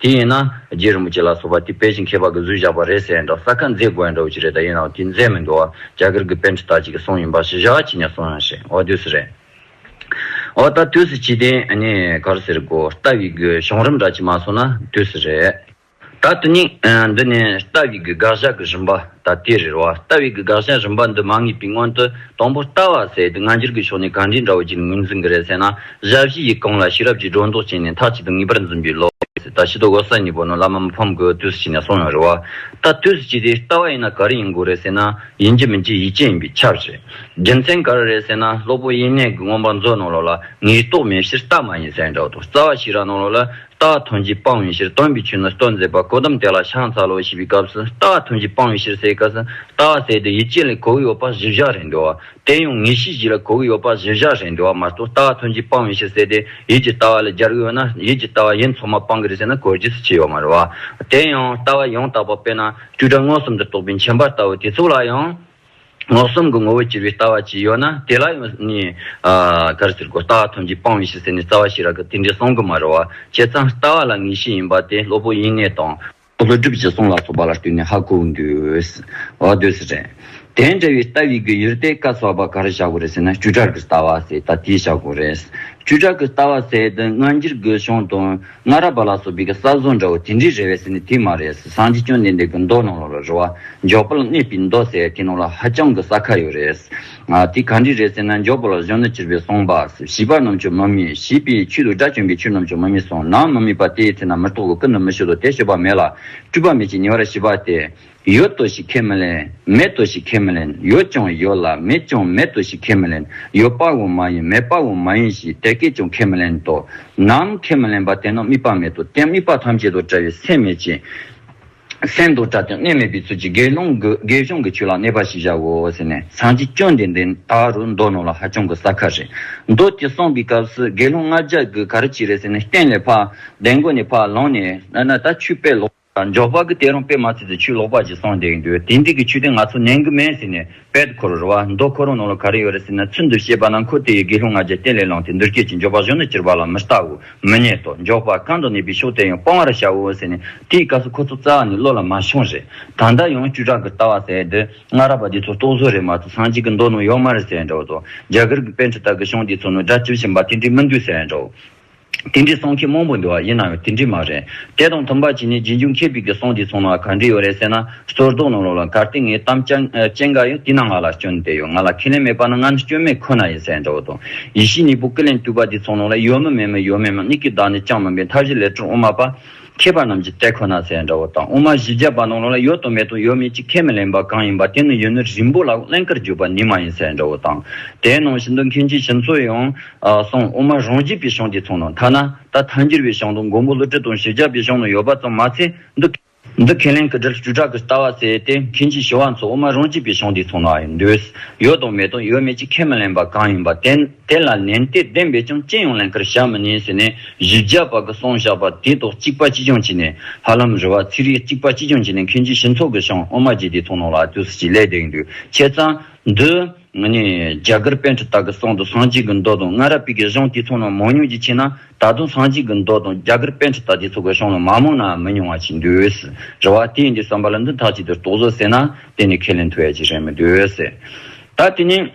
དེ་ཡིན་ན་རྗེ་རིན་པོ་ཆེ་ལ་སོགས་པ་དེ་པེ་ཅིང་ཁྱད་པར་གྱི་གཟུགས་བཞག་པ་རེད་ཟེར་ཡིན་དྲག་ས་ཁ་མཛེས་དགོས་ཡིན་འདྲ་བོ་ཅིག་རེད་ད་ཡིན་ནའོ་དེ་མཛེས་མི་འདུག་ཨ་རྒྱ་གར་གྱི་དཔེ་འདྲི་དག་ཅིག་གི་གསུང་ཡིན་པ་ཞེ་བཞག་ཅིག་ནས་གསུང་ཡང་ཤེས་འོ་དུས་སུ་རེད་འོ་ད་དུས་སུ་ཇི་སྟེ་ནི་གར་ཟེར་དགོ་རྟ་བྷི་དགོས་གཞུང་རིམ་འདྲ་ཅིག་མ་སོང་ན་དུས་སུ་རེད་ད་དུས་ནི་འདི་ནི་རྟ་བྷི་དགོས་དགག་བཞག་གི་རིམ་པ། ད་ལྟའི་རེ་བ་ལྟ་བའི་གི་དགག་བྱ་རིམ་པ་འདི་མ་ངེས་པའི་སྔོན་དུ་དང་པོ་ལྟ་བ་ཟད་དེ་སྔ་འགྱུར་གྱི་ཕྱོགས་ནས་ག་འདྲའི་འདྲ་བོ་ཅིག་ངོས་འཛིན་གི་རེད་ཟེར་ན་གཞའ་བཞི་ཡིག་གང་ལ་ཤེས་རབ་ཀྱིས་སྒྲོ་འདོགས་བཅད་ནས་མཐའ་གཅིག་ཏུ་ངེས་པར་འཛིན་པའི་བློ་ཟད་ད་ཤི་དོ་གོ་ས་གཉིས་པོ་ནི་བླ་མ་མི་ཕམ་དགུའི་དུས་སུ་བྱས་ནས་སོང་ཡང་རེ་བ་ལྟ་དུས་སུ་བྱས་དེ་ལྟ་བ་ཡིན་ན་ག་རེ་ཡིན་དགོས་རེད་ཟེར་ན་ཡིན་གྱི་མིན་གྱི་ཡིད་ཆེས་ཡིན་པའི་ཁྱབ་བྱེད་རྒྱུ་མཚན་ག་རེ་རེད་ཟེར་ན་སློབ་བུ་དབྱེ་གནས་གི་མངོན་པ་མཛོད་གནང་ལོག་ལ་ངེས་རྟོགས་མེད་ཕྱིར་ལྟ་མ་ཡིན་ཟེར་འདྲ་བོ་དང་རྩ་བ་ཤེས་རབ་གནང་ལོག་ལ་རྟགས་ཐམས་ཅད་སྤང་བའི་ཕྱིར་སྟོན་པའི་ཆོས་ནི་སྟོན་མཛད་པ་ཀོ་དམ་དེ་ལ་ཤངས་ཚ་ལོ་ཞེས་པའི་སྐབས་སུ་རྟགས་ཐམས་ཅད་སྤང་བའི་ཕྱིར་སའི་སྐབས་སུ་རྟགས་བསལ་ཏེ་ཡིད་ཅན་ལས་གོ་བའི་ཡོད་པ་བཞི་བཞག་རེ་འདོད་བ། དེ་ཡང་ངེས་ཤེས་བཞི་ལ་གོ་བའི་ཡོད་པ་བཞི་བཞག་རེ་འདོད་བ་མ་གཏོགས་རྟགས་ཐམས་ཅད་སྤང་བའི་ཕྱིར་བསལ་ཏེ་ཡིད་ཀྱི་ལྟ་བ་ལས་སྦྱར་གྱི་ཡོད་ན་ཡིད་ཀྱི་ལྟ་བ་ཡིན་ཚོགས་མ་སྤང་གི་རེད་ཟེར་ན་གོ་རྒྱུ་སུ་ཆེ་ཡོད་མ་རེད་བ། དེ་ཡང་ལྟ་བ་ཡང་དག་པ་དཔེར་ན་བཅུ་ཕྲག་མངོན་སུམ་དུ་རྟོགས་པའི་མཆན་པར་ལྟ་བུ་དེ་ཚོ་ལ་ཡང། ངོ་གསུམ་གྱི་ངོ་བོ་གྱུར་པའི་ལྟ་བ་ཅི་ཡོད་ན་དེ་ལ་ཡང་ནི། གར་ཟེར་གོ། ལྟ་བ་ཐམས་ཅད་སྤངས་བའི་ཕྱིར་ཟེར་ནས་རྩ་བ་ཞིག་རག་གི་དེ་འདྲའི་གསུང་གི་མ་རེད་བ། བྱས་ཙང་ལྟ་བ་ལ་ངེས་ཤེས་ཡིན་པ་དེ་སློབ་བུ་དབྱིན་གནས་དང། ལྷོ་སྒྲུབ་ཀྱི་གསུང་ལ་སོགས་པ་ལ་ལྟོས་ནས་ཧ་གོ་འདོད་འདོད་རེད། དེ་འདྲ་བའི་ལྟ་བའི་གི་ཡུལ་ཏེ་བཀའ་སོགས་པ་གར་བཞག་གོ་རེད་ཟེར་ན་བཅུ་ཕྲག་གི་ལྟ་བ་ཟེར་ད་དེ་བཞག་གོ་རེད། བཅུ་ཕྲག་གི་ལྟ་བ་ཟེར་དུས་སྔ་འགྱུར་གྱི་གཞུང་དང། སྔ་རབས་པ་ལ་སོགས་བི་ག་ས་བཟོ་འདྲ་བོ་དེ་འདྲའི་རེ་བས་ཟེར་ནས་དེ་མ་རེད་ཟེར་སངས་རྒྱས་སྐྱོན་ལྡན་འདས་ཀྱི་མདོ་ལམ་ལམ་ལ་རེ་བ་འཇོག་པ་ལ་གནས་པའི་མདོ་ཟེར་དེ་ནང་ལ་ཧ་ཅང་གི་ས་ཁ་ཡོད་རེད། དེ་ག་འདྲས་རེད་ཟེར་ན་འཇོག་པ་ལ་གཞོན་ནུ་བྱིར་བས་གསུངས་པ། བྱིས་པ་རྣམས་ཆུ་མི་མིད་བྱིས་པའི་ཆུ་དུག་སྒྲ་གྱོན་པའི་ཆུ་རྣམས་ཆུ་མི་མིད་གསུངས་ནའང་མི་མིད་པ་དེའི་ཚེ་ན་མི་རྟོག་གོ་ཀུན་ཏུ་མི་ཤེས་སོ་དེ་ཤེས་པ་མེད་ལ་སྤྲུལ་པ་མེད་ཅིང་ཉེ་བར་ཤེས་པ་སྟེ། ཡོད་དོ་ཞེས་ཁས་མི་ལེན། མེད་དོ་ཞེས་ཁས་མི་ལེན། ཡོད་ཀྱང་ཡོད་ལ་མེད་ཀྱང་མེད་དོ་ཞེས་ཁས་མི་ལེན། ཡོད་པའང་མ་ཡིན་མེད་པའང་མ་ཡིན་ཞེས་དེ་སྐད་ཀྱང་ཁས་མི་ལེན་ཏོ། ནམ་མཁའི་མི་ལེན་པ་དེ་རྣམས་དམིགས་པ་མེད་དོ། དེ་དམིགས་པ་ཐམས་ཅད་དང་བྲལ་བའི་སེམས་མེད་ཅིང། སེམས་དང་བྲལ་ཏེ་གནས་མེད་པའི་ཚུལ་གྱིས་དགེ་སློང་གི་དགེ་སྦྱོང་གི་ཆོས་ལ་གནས་པ་ཞིག་བྱའོ་ཟེར་ནས་སངས་རྒྱས་བཅོམ་ལྡན་འདས་ད་རུ་མདོ་ནོར་ལ་ཧ་ཅང་གི་ཟ་ཁ་རེད། མདོ་དེ་གསུངས་པའི་སྐབས་སུ་དགེ་སློང་ལྔ་བརྒྱ་གིས་ག་རེ་བྱེད་རེད་ཟེར་ནས་སྟན་ལས་འཕགས། གདན་སྒོ་ནས་འཕགས་ལངས་ནས། ད་ཆུ་དཔལ་ལོ། འཇོག་པ་གི་དེ་རང་དཔེ་མ་ཚིག་ཏུ་ཆུ་ལོག་པ་ཅིག་སོང་བསྡད་ཀྱི་འདུག་དེ་འདི་གི་ཆུ་དེ་ང་ཚོ་ནན་གི་མེད་ཟེར་ནས་པད་ཁོ་རོ་ར་བ་མདོ་ཁོ་རང་ནང་ལ་ག་རེ་ཡོད་རེད་ཟེར་ན་ཚུལ་འདུ་ཤེས་པ་ན་ཁོ་དེ་ཡི་དགེ་སློང་ང་རྒྱལ་བསྟན་ལས་ལངས་ཏེ་འདུར་སྐྱེལ་གྱིས་འཇོག་པ་གཞོན་ནུ་སྤྱིར་བ་ལ་མི་ལྟ་འོ་མི་གནས་ཏོ་འཇོག་པ་གང་དུ་གནས་པའི་ཕྱོགས་དེ་ཡང་སྤང་བ་ར་བྱ་འོ་ཟེར་ནས་དེའི་སྐབས་སུ་ཁོ་ཚོ་རྩ་བ་ནས་བློ་ལ་མ་ཤོང་རེད་ད་ལྟ་ཡང་བཅུ་ཕྲག་གི་ལྟ་བ་ཟེར་འདི་སྔ་ར་བ་འདི་ཚོ་རྟོག་བཟོ་རེད་མ་ཚོ་སང་གཅིག་གི་མདོ་ནང་ཡོག་མ་རེད་ཟེར་འདྲ་འོ་དོ་རྒྱ་གར་གི་དཔེ་འཁྲི་དག་གི་གཞུང་འདི་ཚོ་ནང་སྒྲ་བཅུ་བཞིན་པ་དེ་འདྲའི་མི་འདུག་ཟེར་འདྲ་འོ། དེ་འདྲའི་སོང་ཁྱི་མང་པོ་འདུ་བ་ཡིན་ན་ཡང་དེ་འདྲའི་མ་རེད། དེ་དང་མཐུན་པར་གྱིས་ནི་རྗེས་འཇུག་ཁྱེད་ཕིག་གི་སོང་དེའི་ཚོང་ལ་ག་འདྲི་ཡོད་རེད་ཟེར་ན་སོར་རྟོག་གནང་རོགས་ལ་གར་སྟེ་ངའི་གཏམ་ཅན་འགའ་ཡང་དེ་ན་ང་ལ་སྐྱོན་དེ་ཡོད་ང་ལ་ཁས་ལེན་མེད་པ་ན་ང་ནི་སྐྱོན་མེད་ཁོ་ན་ཡིན་ཟེར་འདྲ་བོ་དང། ཡེ་ཤེས་གཉིས་པོ་ཀི་ལན་བཏུས་པ་དེའི་ཚོང་ལོག་ལ་ཡོད་མི་མེད་མི་ཡོད་མེད་མི་གཉིས་ཀྱི་བདག་ནི་ཅང་མིན་པའི་མཐའ་བཞི་ལས་ཁྲོ་འོ་མ་པ། མཁས་པ་རྣམས་ཀྱི་ལྟད་ཁོ་ན་ཟས་འདྲ་བོ་དང་དབུ་མ་བཞི་བརྒྱ་པ་རྣམས་ལ་ལ་ཡོད་དང་མེད་དང་ཡོད་མེད་ཅིག་ཁས་མི་ལེན་པ་གང་ཡིན་པ་དེ་ནི་ཡུན་ནི་རིང་པོ་ལ་ཀླན་ཀར་གྱུར་པ་ནི་མ་ཡིན་ཟས་འདྲ་བོ་དང། དེའི་ནང་བཞིན་དུ་མཁན་ཆེན་བྱིན་མཚོ་ཡང། གསུངས་དབུ་མ་རང་རྒྱས་པའི་ཞིང་དེ་ཚང་ན་ཐ་ན་ད་ལྟ་མཐའ་འགྱུར་བའི་ཞིང་དང་མགོན་པོ་ཀླུ་སྤྲུལ་དང་བཞི་བརྒྱ་པའི་ཞིང་ན་ཡོད་པ་ཙམ་མ་ཚད་འདི། འདི་ཁས་ལེན་གྱི་དྲིལ་བཅུ་ཕྲག་གི་ལྟ་བ་བསལ་ཏེ་མཁན་ཆེན་ཞི་བ་འཚོ་དབུ་མ་རང་རྒྱས་པའི་ཞིང་དེ་ཚང་ན་འདུས། ཡོད་དང་མེད་དང་ཡོད་མེད་ཅིག་ཁས་མི་ལེན་པ་གང་ཡིན་པ་དེ། དེ་ལ་ལན་སྟེ་བདེན་པའི་ཆང་སྐྱེས་ཡོང་ལན་ཁར་བཞག་མི་ཉན་ཟེར་ནས་བཞི་བརྒྱ་བ་གི་སོང་བཞག་པ་དེ་དོག་གཅིག་པ་ཅི་བྱུང་བྱས་ནས་ཧ་ལམ་རི་བ་ཚིག་རིས་གཅིག་པ་ཅི་བྱུང་བྱས་ནས་མཁན་ཆེན་ཞི་འཚོ་གི་ཞང་དབུ་མ་རྗེ་དེའི་ཐུགས་ནང་ལ་ཨ་ཏུ་སི་ཅི་ལས་དེང་དུས་ཁྱེད་ཚང་འདི་ནི་རྒྱ་གར་དཔོན་ཁྲི་དག་གི་སྲང་དུ་ཟངས་གཅིག་གི་མདོག་དང་སྔ་རབས་པིག་གི་ཞང་དེའི་ཚོགས་རྣམས་མང་ཉུང་ཅིག་མཆིས་ན་ད་དུང་ཟངས་གཅིག་གི་མདོག་དང་རྒྱ་གར་དཔོན་ཁྲི་དག་དེའི་ཚོགས་ཀྱི་ཞང་རྣམས་མ་མང་ནའང་མི་ཉུང་བ་མཆིས་འདུས། རེ་བ་དེ་ཡིན་དུས་བསམ་པ་ལ་འདི་དག་ཅིག་དེར་གཏོགས་བཟོ་ཟེར་ན་དེ་ནི་ཁས་ལེན་ཐུབ་ཡ་ཅིག་རེད་མི་འདུས། ད་དེ་ནས།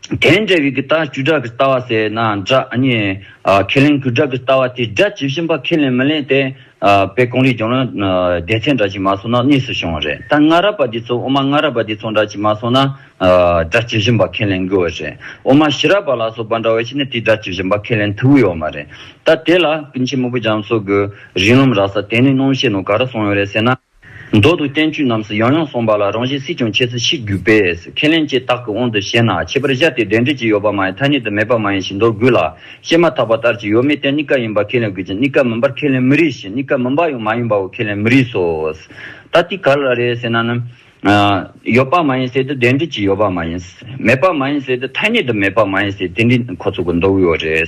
དེའི་འབྲས་བུའི་གི་ལྟ་བཅུ་སྒྲ་གི་ལྟ་བ་ཟེར་ན་སྒྲ་གཉིས། ཁས་ལེན་གྱི་སྒྲ་གི་ལྟ་བ་དེ་སྒྲ་ཇི་བཞིན་པ་ཁས་ལེན་མི་ལེན་དེ། པའི་གོང་རིག་སྦྱོར་ན། སྡེ་ཚན་འདྲ་གཅིག་མ་སོང་ན་གཉིས་སུ་བྱུང་བ་རེད་ད་སྔ་རབས་པ་དེ་ཚོ་དབུ་མ་སྔ་རབས་པ་དེ་ཚོ་འདྲ་གཅིག་མ་སོང་ན། སྒྲ་ཇི་བཞིན་པ་ཁས་ལེན་དགོས་བ་རེད་དབུ་མ་ཕྱི་རབས་པ་ལ་སོགས་པ་འདྲ་བ་ཞིག་ནི་དེ་སྒྲ་ཇི་བཞིན་པ་ཁས་ལེན་ཐུབ་ཀྱི་ཡོད་མ་རེད་ད་དེ་ལ་ཀུན་མཁྱེན་མོ་པོ་འཇམ་སོགས་ཀྱི་རིགས་ལམ་རག་ས་དེ་ནི་སྣང་བཤད་ནང་ག་རེ་གསུངས་ཡོད་རེད་ཟེར་ན། མདོ་དང་བསྟན་བཅོས་རྣམས་སུ་ཡང་ཡང་གསུངས་པ་ལ་རང་བཞིན་སྲིད་ཀྱང་ཁྱད་གསོད་ཤིག་རྒྱུ་པས་ཁས་ལེན་བཅས་རྟགས་ཀྱི་དབང་དུ་བྱས་ན་ཁྱད་པར་གཞལ་ཏེ་འབྲེལ་འབྲེལ་གྱི་ཡོད་པ་མ་ཡིན་ཐ་སྙད་དུ་མེད་པ་མ་ཡིན་ཞེས་མདོར་བསྒོས་ལ་བཤད་མ་ཐག་པ་ལྟར་གྱི་ཡོད་མེད་དེ་གཉིས་ཀ་ཡིན་པར་ཁས་ལེན་དགོས་ཀྱི་གཉིས་ཀ་མིན་པར་ཁས་ལེན་མི་རིགས་ཤིང་གཉིས་ཀ་མིན་པ་ཡང་མ་ཡིན་པའོ་ཁས་ལེན་མི་རིགས་སོ། ད་ལྟའི་ག་ལ་རེད་ཟེར་ན་ནི། ཡོད་པ་མ་ཡིན་ཟེར་དུས་འབྲེལ་འབྲེལ་གྱི་ཡོད་པ་མ་ཡིན། མེད་པ་མ་ཡིན་ཟེར་དུས་ཐ་སྙད་དུ་མེད་པ་མ་ཡིན་ཟེར་དེ་འདྲའི་ཁོ་ཚོ་གི་མདོ་དབུས་བ་རེད།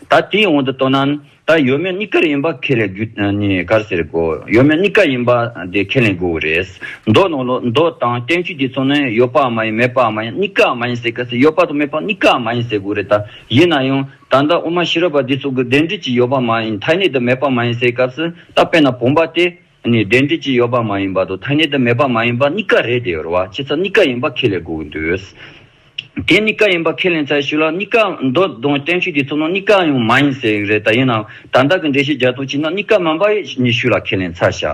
ད་དེའི་དབང་དུ་བཏོན་ན། ད་ཡོད་མེད་གཉིས་ཀར་ཡིན་པ་ཁས་ལེན་རྒྱུ་ནི་གར་ཟེར་དགོས། ཡོད་མེད་གཉིས་ཀ་ཡིན་པ་དེ་ཁས་ལེན་དགོས་པ་རེད། མདོར་ན་ལོ་མདོ་དང་བསྟན་བཅོས་ཀྱི་ཚོགས་ནི་ཡོད་པའང་མ་ཡིན་མེད་པའང་མ་ཡིན་གཉིས་ཀའང་མ་ཡིན་ཟེར་ག་ཟེ་ཡོད་པ་དང་མེད་པ་གཉིས་ཀའང་མ་ཡིན་ཟེར་དགོས་རེད་ད། ཡིན་ན་ཡང། ད་ལྟ་དབུ་མ་ཤེས་རབ་པ་འདི་ཚོ་གི་བདེན་འབྲེལ་གྱི་ཡོད་པ་མ་ཡིན་ཐ་སྙད་དུ་མེད་པ་མ་ཡིན་ཟེར་སྐབས་སུ་ད་དཔེར་ན་བུམ་པ་སྟེ། ནས་བདེན་འབྲེལ་གྱི་ཡོད་པ་མ་ཡིན་པ་དང་ཐ་སྙད་དུ་མེད་པ་མ་ཡིན་པ་གཉིས་ཀ་རེད་དེ་ཡོད་རེད་བ་ཁྱེད་ཚོ་གཉིས་ཀ་ཡིན་པ་ཁས་ལེན་དགོས་ཀྱི་འདུག་དེ་གཉིས་ཀ་ཡིན་པ་ཁས་ལེན་ཚར་ཞུ་ལ་གཉིས་ཀ་མདོ་དང་བསྟན་བཅོས་ཀྱི་ཚོགས་ནང་གཉིས་ཀ་ཡང་མ་ཡིན་ཟེར་ཡི་རེད་ད་ཡིན་ནའང་ད་ལྟ་གི་འགྲེལ་བཤད་རྒྱ་སྟོན་བྱས་ན་གཉིས་ཀ་མིན་པ་ཡིན་ཞུ་ལ་ཁས་ལེན་ཚར་ཞུ་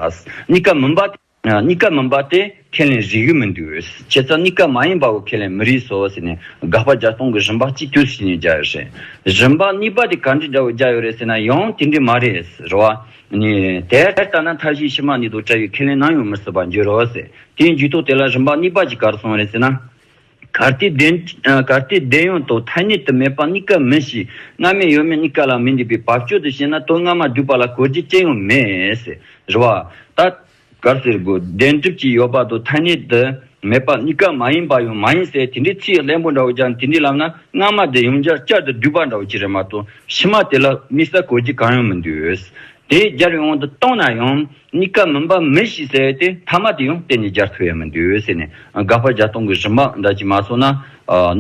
གཉིས་ཀ་མིན་པ་གཉིས་ཀ་མིན་པ་དེ། ཁས་ལེན་རིགས་ཡོད་མི་འདུག་བྱས་ཙང་གཉིས་ཀ་མ་ཡིན་པའོ་ཁས་ལེན་མི་རིགས་སོ་ཟེར་ནས་དགག་པ་བརྒྱ་སྟོང་གི་རིམ་པ་གཅིག་གྱུར་བྱས་ནས་བརྒྱ་ཡོད་རེད། རིམ་པ་གཉིས་པ་དེ་ག་འདྲའི་འདྲ་བོ་བརྒྱ་ཡོད་རེད་ཟེར་ན་ཡང་དེ་འདྲའི་མ་རེད་ཟེར་རོ། དེ་ལྟ་ན་མཐའ་བཞིའི་ཕྱི་མ་ནི་དོ་ཅའི་ཁས་ལེན་ནམ་ཡང་མི་སྲིད་པར་འགྱུར་རོ། དེའི་མཇུག་ཐོག་དེ་ལ་རིམ་པ་གཉིས་པ་གཅིག་གར་སོང་རེད་ཟེར་ན། གར་སྟེ་བདེན་ཡོད་དོ་ཐ་སྙད་དུ་མེད་པ་གཉིས་ཀ་མི་སྲིད། སྔ་མས་ཡོད་མེད་གཉིས་ཀ་ལ་མི་འདུས་པའི་བབ་ཅོལ་དུ་བཤད་ན་དོན་སྔ་མ་བསྒྲུབ་པ་ལ་གོ་རྒྱུ་ཅི་ཡང་མེད། རེད་བ། ད། གར་ཟེར་དགོས་བདེན་གྲུབ་ཀྱི་ཡོད་པ་དང་ཐ་སྙད་དུ་མེད་པ་གཉིས་ཀ་མ་ཡིན་པ་ཡང་མ་ཡིན་ཟེར་དེ་འདྲའི་ཚིག་གླེན་པོ་འདྲ་བོ་ཀྱང་དེ་འདྲའི་ལམ་ན་སྔ་མ་དེ་ཡང་འཇར་ཅར་དུ་བསྒྲུབས་པ་འདྲ་བོ་ཅི་རེད་མ་གཏོགས་ཕྱི་མ་དེ་ལ་དམིགས་ས་གོ་གི་གང་ཡང་མི་འདུག་དེ་སྦྱར་བའི་དབང་དུ་བཏང་ན་ཡང་གཉིས་ཀ་མིན་པ་མི་ཤེས་ཟེར་ཏེ་མཐའ་མ་དེ་ཡང་གཏན་ནས་སྦྱར་ཐུབ་ཡ་མི་འདུག་ཟེར་ནས་དགག་པ་བརྒྱ་སྟོང་གི་རིམ་པ་འདྲ་གཅིག་མ་སོང་ན་